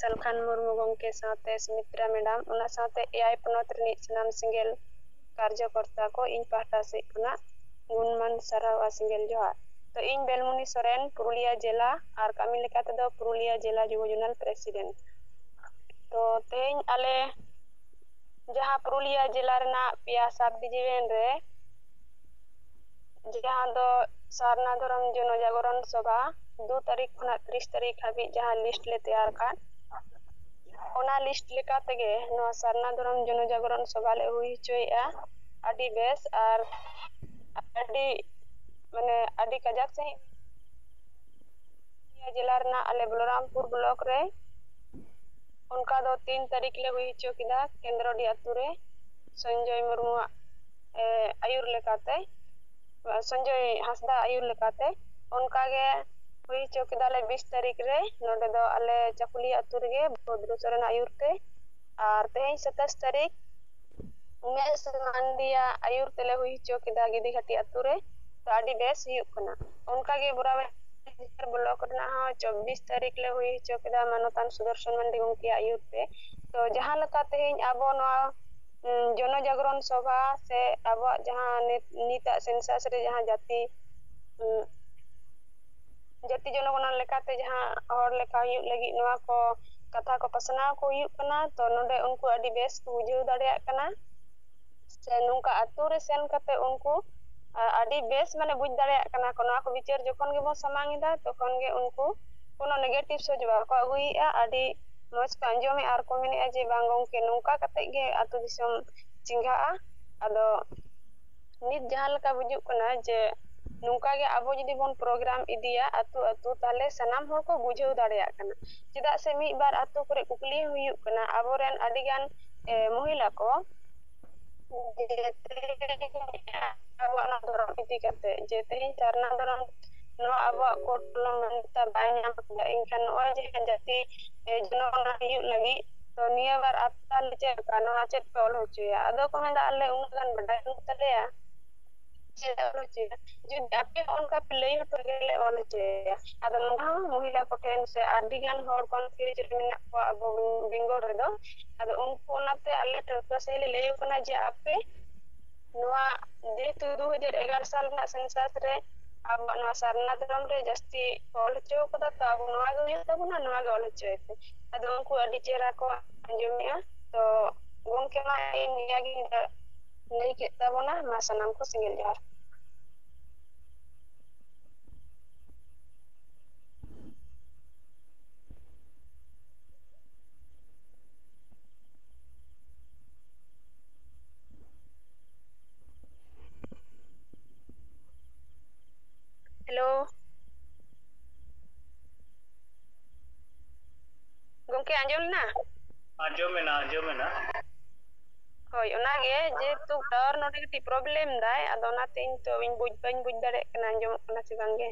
ᱥᱟᱞᱠᱷᱟᱱ ᱢᱩᱨᱢᱩ ᱜᱚᱢᱠᱮ ᱥᱟᱶᱛᱮ ᱥᱩᱢᱤᱛᱨᱟ ᱢᱮᱰᱟᱢ ᱚᱱᱟ ᱥᱟᱶᱛᱮ ᱮᱭᱟᱭ ᱯᱚᱱᱚᱛ ᱨᱤᱱᱤᱡ ᱥᱟᱱᱟᱢ ᱥᱮᱸᱜᱮᱞ ᱠᱟᱨᱡᱚ ᱠᱚᱨᱛᱟ ᱠᱚ ᱤᱧ ᱯᱟᱦᱴᱟ ᱥᱮᱫ ᱠᱷᱚᱱᱟᱜ ᱜᱩᱱ ᱢᱟᱱ ᱥᱟᱨᱦᱟᱣ ᱟᱨ ᱥᱮᱸᱜᱮᱞ ᱡᱚᱦᱟᱨ ᱛᱚ ᱤᱧ ᱵᱮᱞᱢᱩᱱᱤ ᱥᱚᱨᱮᱱ ᱯᱩᱨᱩᱞᱤᱭᱟᱹ ᱡᱮᱞᱟ ᱟᱨ ᱠᱟᱹᱢᱤ ᱞᱮᱠᱟ ᱛᱮᱫᱚ ᱯᱩᱨᱩᱞᱤᱭᱟᱹ ᱡᱮᱞᱟ ᱡᱩᱵᱚ ᱡᱚᱱᱟᱞ ᱯᱨᱮᱥᱤᱰᱮᱱᱴ ᱛᱚ ᱛᱮᱦᱮᱧ ᱟᱞᱮ ᱡᱟᱦᱟᱸ ᱯᱩᱨᱩᱞᱤᱭᱟᱹ ᱡᱮᱞᱟ ᱨᱮᱱᱟᱜ ᱯᱮᱭᱟ ᱥᱟᱵᱽ ᱰᱤᱵᱷᱤᱡᱮᱱ ᱨᱮ ᱡᱟᱦᱟᱸ ᱫᱚ ᱥᱟᱨᱱᱟ ᱫᱷᱚᱨᱚᱢ ᱡᱚᱱᱚ ᱡᱟᱜᱚᱨᱚᱱ ᱥᱚᱵᱷᱟ ᱫᱩ ᱛᱟᱹᱨᱤᱠᱷ ᱠᱷᱚᱱᱟᱜ ᱛᱤᱨᱤᱥ ᱛᱟᱹᱨᱤᱠᱷ ᱦᱟᱹᱵᱤᱡ ᱡᱟᱦᱟᱸ ᱞᱤᱥᱴ ᱞᱮ ᱛᱮᱭᱟᱨ ᱟᱠᱟᱫ ᱚᱱᱟ ᱞᱤᱥᱴ ᱞᱮᱠᱟ ᱛᱮᱜᱮ ᱱᱚᱣᱟ ᱥᱟᱨᱱᱟ ᱫᱷᱚᱨᱚᱢ ᱡᱚᱱᱚ ᱡᱟᱜᱚᱨᱚᱱ ᱥᱚᱵᱷᱟ ᱞᱮ ᱦᱩᱭ ᱦᱚᱪᱚᱭᱮᱫᱼᱟ ᱟᱹᱰᱤ ᱵᱮᱥ ᱟᱨ ᱟᱹᱰᱤ ᱢᱟᱱᱮ ᱟᱹᱰᱤ ᱠᱟᱡᱟᱠ ᱥᱟᱺᱦᱤᱡ ᱱᱤᱭᱟᱹ ᱡᱮᱞᱟ ᱨᱮᱱᱟᱜ ᱟᱞᱮ ᱵᱚᱞᱚᱨᱟᱢᱯᱩᱨ ᱵᱞᱚᱠ ᱨᱮ ᱚᱱᱠᱟ ᱫᱚ ᱛᱤᱱ ᱛᱟᱹᱨᱤᱠᱷ ᱞᱮ ᱦᱩᱭ ᱦᱚᱪᱚ ᱠᱮᱫᱟ ᱠᱮᱱᱫᱨᱚᱰᱤ ᱟᱹᱛᱩ ᱨᱮ ᱥᱚᱧᱡᱚᱭ ᱢᱩᱨᱢᱩᱣᱟᱜ ᱟᱹᱭᱩᱨ ᱞᱮᱠᱟᱛᱮ ᱥᱚᱧᱡᱚᱭ ᱦᱟᱸᱥᱫᱟ ᱟᱹᱭᱩᱨ ᱞᱮᱠᱟᱛᱮ ᱚᱱᱠᱟ ᱜᱮ ᱦᱩᱭ ᱦᱚᱪᱚ ᱠᱮᱫᱟᱞᱮ ᱵᱤᱥ ᱛᱟᱹᱨᱤᱠᱷ ᱨᱮ ᱱᱚᱰᱮ ᱫᱚ ᱟᱞᱮ ᱪᱟᱹᱠᱩᱞᱤᱭᱟᱹ ᱟᱹᱛᱩ ᱨᱮᱜᱮ ᱵᱷᱚᱫᱽᱨᱚ ᱥᱚᱨᱮᱱᱟᱜ ᱟᱹᱭᱩᱨ ᱛᱮ ᱟᱨ ᱛᱮᱦᱮᱧ ᱥᱟᱛᱟᱥ ᱛᱟᱹᱨᱤᱠᱷ ᱩᱢᱮᱥ ᱢᱟᱱᱰᱤᱭᱟᱜ ᱟᱹᱭᱩᱨ ᱛᱮᱞᱮ ᱦᱩᱭ ᱦᱚᱪᱚ ᱠᱮᱫᱟ ᱜᱤᱫᱤᱜᱷᱟᱴᱤ ᱟᱹᱛᱩ ᱨᱮ ᱛᱚ ᱟᱹᱰᱤ ᱵᱮᱥ ᱦᱩᱭᱩᱜ ᱠᱟᱱᱟ ᱚᱱᱠᱟ ᱜᱮ ᱵᱚᱨᱟᱵᱚᱨ ᱵᱞᱚᱠ ᱨᱮᱱᱟᱜ ᱦᱚᱸ ᱪᱚᱵᱵᱤᱥ ᱛᱟᱹᱨᱤᱠᱷ ᱞᱮ ᱦᱩᱭ ᱦᱚᱪᱚ ᱠᱮᱫᱟ ᱢᱟᱱᱚᱛᱟᱱ ᱥᱩᱫᱚᱨᱥᱚᱱ ᱢᱟᱱᱰᱤ ᱜᱚᱢᱠᱮᱭᱟᱜ ᱟᱹᱭᱩᱨ ᱛᱮ ᱛᱚ ᱡᱟᱦᱟᱸ ᱞᱮᱠᱟ ᱛᱮᱦᱮᱧ ᱟᱵᱚ ᱱᱚᱣᱟ ᱡᱚᱱᱚ ᱡᱟᱜᱽᱨᱚᱱ ᱥᱚᱵᱷᱟ ᱥᱮ ᱟᱵᱚᱣᱟᱜ ᱡᱟᱦᱟᱸ ᱱᱤᱛ ᱱᱤᱛᱟᱜ ᱥᱮᱱᱥᱟᱥ ᱨᱮ ᱡᱟᱦᱟᱸ ᱡᱟᱹᱛᱤ ᱡᱟᱹᱛᱤ ᱡᱚᱱᱚᱜᱚᱱᱟ ᱞᱮᱠᱟᱛᱮ ᱡᱟᱦᱟᱸ ᱦᱚᱲ ᱞᱮᱠᱟ ᱦᱩᱭᱩᱜ ᱞᱟᱹᱜᱤᱫ ᱱᱚᱣᱟ ᱠᱚ ᱠᱟᱛᱷᱟ ᱠᱚ ᱯᱟᱥᱱᱟᱣ ᱠᱚ ᱦᱩᱭᱩᱜ ᱠᱟᱱᱟ ᱛᱚ ᱱᱚᱰᱮ ᱩᱱᱠᱩ ᱟᱹᱰᱤ ᱵᱮᱥ ᱠᱚ ᱵᱩᱡᱷᱟᱹᱣ ᱫᱟᱲᱮᱭᱟᱜ ᱠᱟᱱᱟ ᱥᱮ ᱱᱚᱝᱠᱟ ᱟᱛᱳ ᱨᱮ ᱥᱮᱱ ᱠᱟᱛᱮ ᱩᱱᱠᱩ ᱟᱹᱰᱤ ᱵᱮᱥ ᱢᱟᱱᱮ ᱵᱩᱡᱽ ᱫᱟᱲᱮᱭᱟᱜ ᱠᱟᱱᱟ ᱠᱚ ᱱᱚᱣᱟ ᱠᱚ ᱵᱤᱪᱟᱹᱨ ᱡᱚᱠᱷᱚᱱ ᱜᱮᱵᱚᱱ ᱥᱟᱢᱟᱝ ᱮᱫᱟ ᱛᱚᱠᱷᱚᱱ ᱜᱮ ᱩᱱᱠᱩ ᱠᱳᱱᱳ ᱱᱮᱜᱮᱴᱤᱵᱷ ᱥᱚᱪ ᱵᱟᱠᱚ ᱟᱹᱜᱩᱭᱮᱫᱼᱟ ᱟᱹᱰᱤ ᱢᱚᱡᱽ ᱠᱚ ᱟᱸᱡᱚᱢᱮᱫᱼᱟ ᱟᱨ ᱠᱚ ᱢᱮᱱᱮᱫᱼᱟ ᱡᱮ ᱵᱟᱝ ᱜᱚᱢᱠᱮ ᱱᱚᱝᱠᱟ ᱠᱟᱛᱮᱫ ᱜᱮ ᱟᱹᱛᱩ ᱫᱤᱥᱚᱢ ᱪᱮᱸᱜᱷᱟᱜᱼᱟ ᱟᱫᱚ ᱱᱤᱛ ᱡᱟᱦᱟᱸ ᱞᱮᱠᱟ ᱵᱩᱡᱩᱜ ᱠᱟᱱᱟ ᱡᱮ ᱱᱚᱝᱠᱟ ᱜᱮ ᱟᱵᱚ ᱡᱩᱫᱤ ᱵᱚᱱ ᱯᱨᱳᱜᱨᱟᱢ ᱤᱫᱤᱭᱟ ᱟᱹᱛᱩ ᱟᱹᱛᱩ ᱛᱟᱦᱚᱞᱮ ᱥᱟᱱᱟᱢ ᱦᱚᱲ ᱠᱚ ᱵᱩᱡᱷᱟᱹᱣ ᱫᱟᱲᱮᱭᱟᱜ ᱠᱟᱱᱟ ᱪᱮᱫᱟᱜ ᱥᱮ ᱢᱤᱫ ᱵᱟᱨ ᱟᱹᱛᱩ ᱠᱚᱨᱮ ᱠᱩᱠᱞᱤ ᱦᱩᱭᱩᱜ ᱠᱟᱱᱟ ᱟᱵᱚᱨᱮᱱ ᱟᱹᱰᱤᱜᱟᱱ ᱢᱚᱦᱤᱞᱟ ᱠᱚ ᱟᱵᱚᱣᱟᱜ ᱱᱚᱣᱟ ᱫᱷᱚᱨᱚᱢ ᱤᱫᱤ ᱠᱟᱛᱮ ᱡᱮ ᱛᱮᱦᱮᱧ ᱥᱟᱨᱱᱟ ᱫᱷᱚᱨᱚᱢ ᱱᱚᱣᱟ ᱟᱵᱚᱣᱟᱜ ᱠᱳᱰ ᱠᱚᱞᱚᱢ ᱢᱟᱱᱟᱹᱛᱟᱢ ᱵᱟᱭ ᱧᱟᱢ ᱠᱮᱫᱟ ᱮᱱᱠᱷᱟᱱ ᱱᱚᱜᱼᱚᱭ ᱡᱮ ᱡᱟᱹᱛᱤ ᱦᱩᱭᱩᱜ ᱞᱟᱹᱜᱤᱫ ᱛᱚ ᱱᱤᱭᱟᱹ ᱵᱟᱨ ᱟᱯᱱᱟᱨ ᱞᱮ ᱪᱮᱫ ᱞᱮᱠᱟ ᱱᱚᱣᱟ ᱪᱮᱫ ᱯᱮ ᱚᱞ ᱦᱚᱪᱚᱭᱟ ᱟᱫᱚ ᱠᱚ ᱢᱮᱱᱫᱟ ᱟᱞᱮ ᱩᱱᱟᱹᱜ ᱜᱟᱱ ᱵᱟᱰᱟᱭ ᱵᱟᱹᱱᱩᱜ ᱛᱟᱞᱮᱭᱟ ᱡᱩᱫᱤ ᱟᱯᱮ ᱦᱚᱸ ᱚᱱᱠᱟ ᱯᱮ ᱞᱟᱹᱭ ᱦᱚᱴᱚ ᱟᱞᱮᱭᱟ ᱟᱞᱮ ᱚᱞ ᱦᱚᱪᱚᱭᱟ ᱟᱫᱚ ᱱᱚᱣᱟ ᱦᱚᱸ ᱢᱚᱦᱤᱞᱟ ᱠᱚ ᱴᱷᱮᱱ ᱥᱮ ᱟᱹᱰᱤ ᱜᱟᱱ ᱦᱚᱲ ᱠᱚ ᱯᱷᱤᱨᱤᱡ ᱨᱮ ᱢᱮᱱᱟᱜ ᱠᱚᱣᱟ ᱟᱵᱚ ᱵᱮᱝᱜᱚᱞ ᱨᱮᱫᱚ ᱟᱫᱚ ᱩᱱᱠᱩ ᱚᱱᱟᱛᱮ ᱟᱞᱮ ᱴᱚᱴᱷᱟ ᱥᱟᱹᱞᱤ ᱞᱟᱹᱭ ᱟᱠᱚ ᱠᱟᱱᱟ ᱡᱮ ᱟᱯᱮ ᱱᱚᱣᱟ ᱡᱮᱦᱮᱛᱩ ᱫᱩ ᱦᱟᱡᱟᱨ ᱮᱜᱟᱨᱚ ᱥᱟᱞ ᱨᱮᱱᱟᱜ ᱥᱮᱱᱥᱟᱥ ᱨᱮ ᱟᱵᱚᱣᱟᱜ ᱱᱚᱣᱟ ᱥᱟᱨᱱᱟ ᱫᱷᱚᱨᱚᱢ ᱨᱮ ᱡᱟᱹᱥᱛᱤ ᱚᱞ ᱦᱚᱪᱚ ᱟᱠᱟᱫᱟ ᱛᱚ ᱟᱵᱚ ᱱᱚᱣᱟ ᱜᱮ ᱦᱩᱭᱩᱜ ᱛᱟᱵᱚᱱᱟ ᱱᱚᱣᱟ ᱜᱮ ᱚᱞ ᱦᱚᱪᱚᱭ ᱯᱮ ᱟᱫᱚ ᱩᱱᱠᱩ ᱟᱹᱰᱤ ᱪᱮᱦᱨᱟ ᱠᱚ ᱟᱸᱡᱚᱢᱮᱫᱼᱟ ᱛᱚ ᱜᱚᱝᱠᱮ ᱢᱟ ᱤᱧ ᱱᱤᱭᱟᱹ ᱜᱤᱧ ᱞᱟᱹᱭ ᱠᱮᱫ ᱛᱟᱵᱚᱱᱟ ᱢᱟ ᱥᱟᱱᱟᱢ ᱠᱚ ᱥᱤᱸᱜᱮᱞ ᱡᱚᱦᱟᱨ ᱦᱮᱞᱳ ᱜᱚᱝᱠᱮ ᱟᱸᱡᱚᱢ ᱮᱱᱟ ᱟᱸᱡᱚᱢᱮᱱᱟ ᱟᱸᱡᱚᱢᱮᱱᱟ ᱦᱳᱭ ᱚᱱᱟᱜᱮ ᱡᱮᱦᱮᱛᱩ ᱴᱟᱣᱟᱨ ᱱᱚᱰᱮ ᱠᱟᱹᱴᱤᱡ ᱯᱨᱚᱵᱞᱮᱢ ᱫᱟᱭ ᱟᱫᱚ ᱚᱱᱟᱛᱮ ᱤᱧ ᱛᱚ ᱤᱧ ᱵᱩᱡᱽ ᱵᱟᱹᱧ ᱵᱩᱡᱽ ᱫᱟᱲᱮᱭᱟᱜ ᱠᱟᱱᱟ ᱟᱸᱡᱚᱢᱚᱜ ᱠᱟᱱᱟ ᱥᱮ ᱵᱟᱝᱜᱮ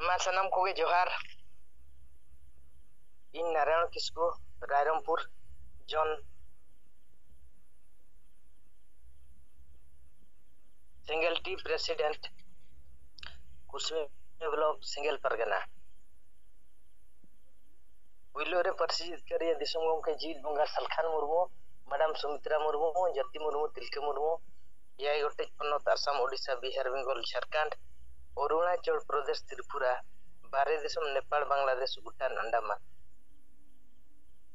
ᱢᱟ ᱥᱟᱱᱟᱢ ᱠᱚᱜᱮ ᱡᱚᱦᱟᱨ ᱤᱧ ᱱᱟᱨᱟᱭᱚᱱ ᱠᱤᱥᱠᱩ ᱨᱟᱭᱨᱚᱝᱯᱩᱨ ᱡᱚᱱ ᱥᱤᱝᱜᱮᱞ ᱴᱤ ᱯᱨᱮᱥᱤᱰᱮᱱᱴ ᱠᱩᱥᱢᱤ ᱵᱞᱚᱠ ᱥᱤᱝᱜᱮᱞ ᱯᱟᱨᱜᱟᱱᱟ ᱯᱩᱭᱞᱳ ᱨᱮ ᱯᱟᱹᱨᱥᱤ ᱡᱤᱛᱠᱟᱹᱨᱤᱭᱟᱹ ᱫᱤᱥᱚᱢ ᱜᱚᱢᱠᱮ ᱡᱤᱛ ᱵᱚᱸᱜᱟ ᱥᱟᱞᱠᱷᱟᱱ ᱢᱩᱨᱢᱩ ᱢᱮᱰᱟᱢ ᱥᱩᱢᱤᱛᱨᱟ ᱢᱩᱨᱢᱩ ᱡᱟᱹᱛᱤ ᱢᱩᱨᱢᱩ ᱛᱤᱞᱠᱟᱹ ᱢᱩᱨᱢᱩ ᱮᱭᱟᱭ ᱜᱚᱴᱮᱡ ᱯᱚᱱᱚᱛ ᱟᱥᱟᱢ ᱳᱰᱤᱥᱟ ᱵᱤᱦᱟᱨ ᱵᱮᱝᱜᱚᱞ ᱡᱷᱟᱲᱠᱷᱚᱸᱰ ᱚᱨᱩᱱᱟᱪᱚᱞ ᱯᱨᱚᱫᱮᱥ ᱛᱨᱤᱯᱩᱨᱟ ᱵᱟᱨᱦᱮ ᱫᱤᱥᱚᱢ ᱱᱮᱯᱟᱞ ᱵᱟᱝᱞᱟᱫᱮᱥ ᱵᱷᱩᱴᱟᱱ ᱟᱱᱰᱟᱢᱟᱱ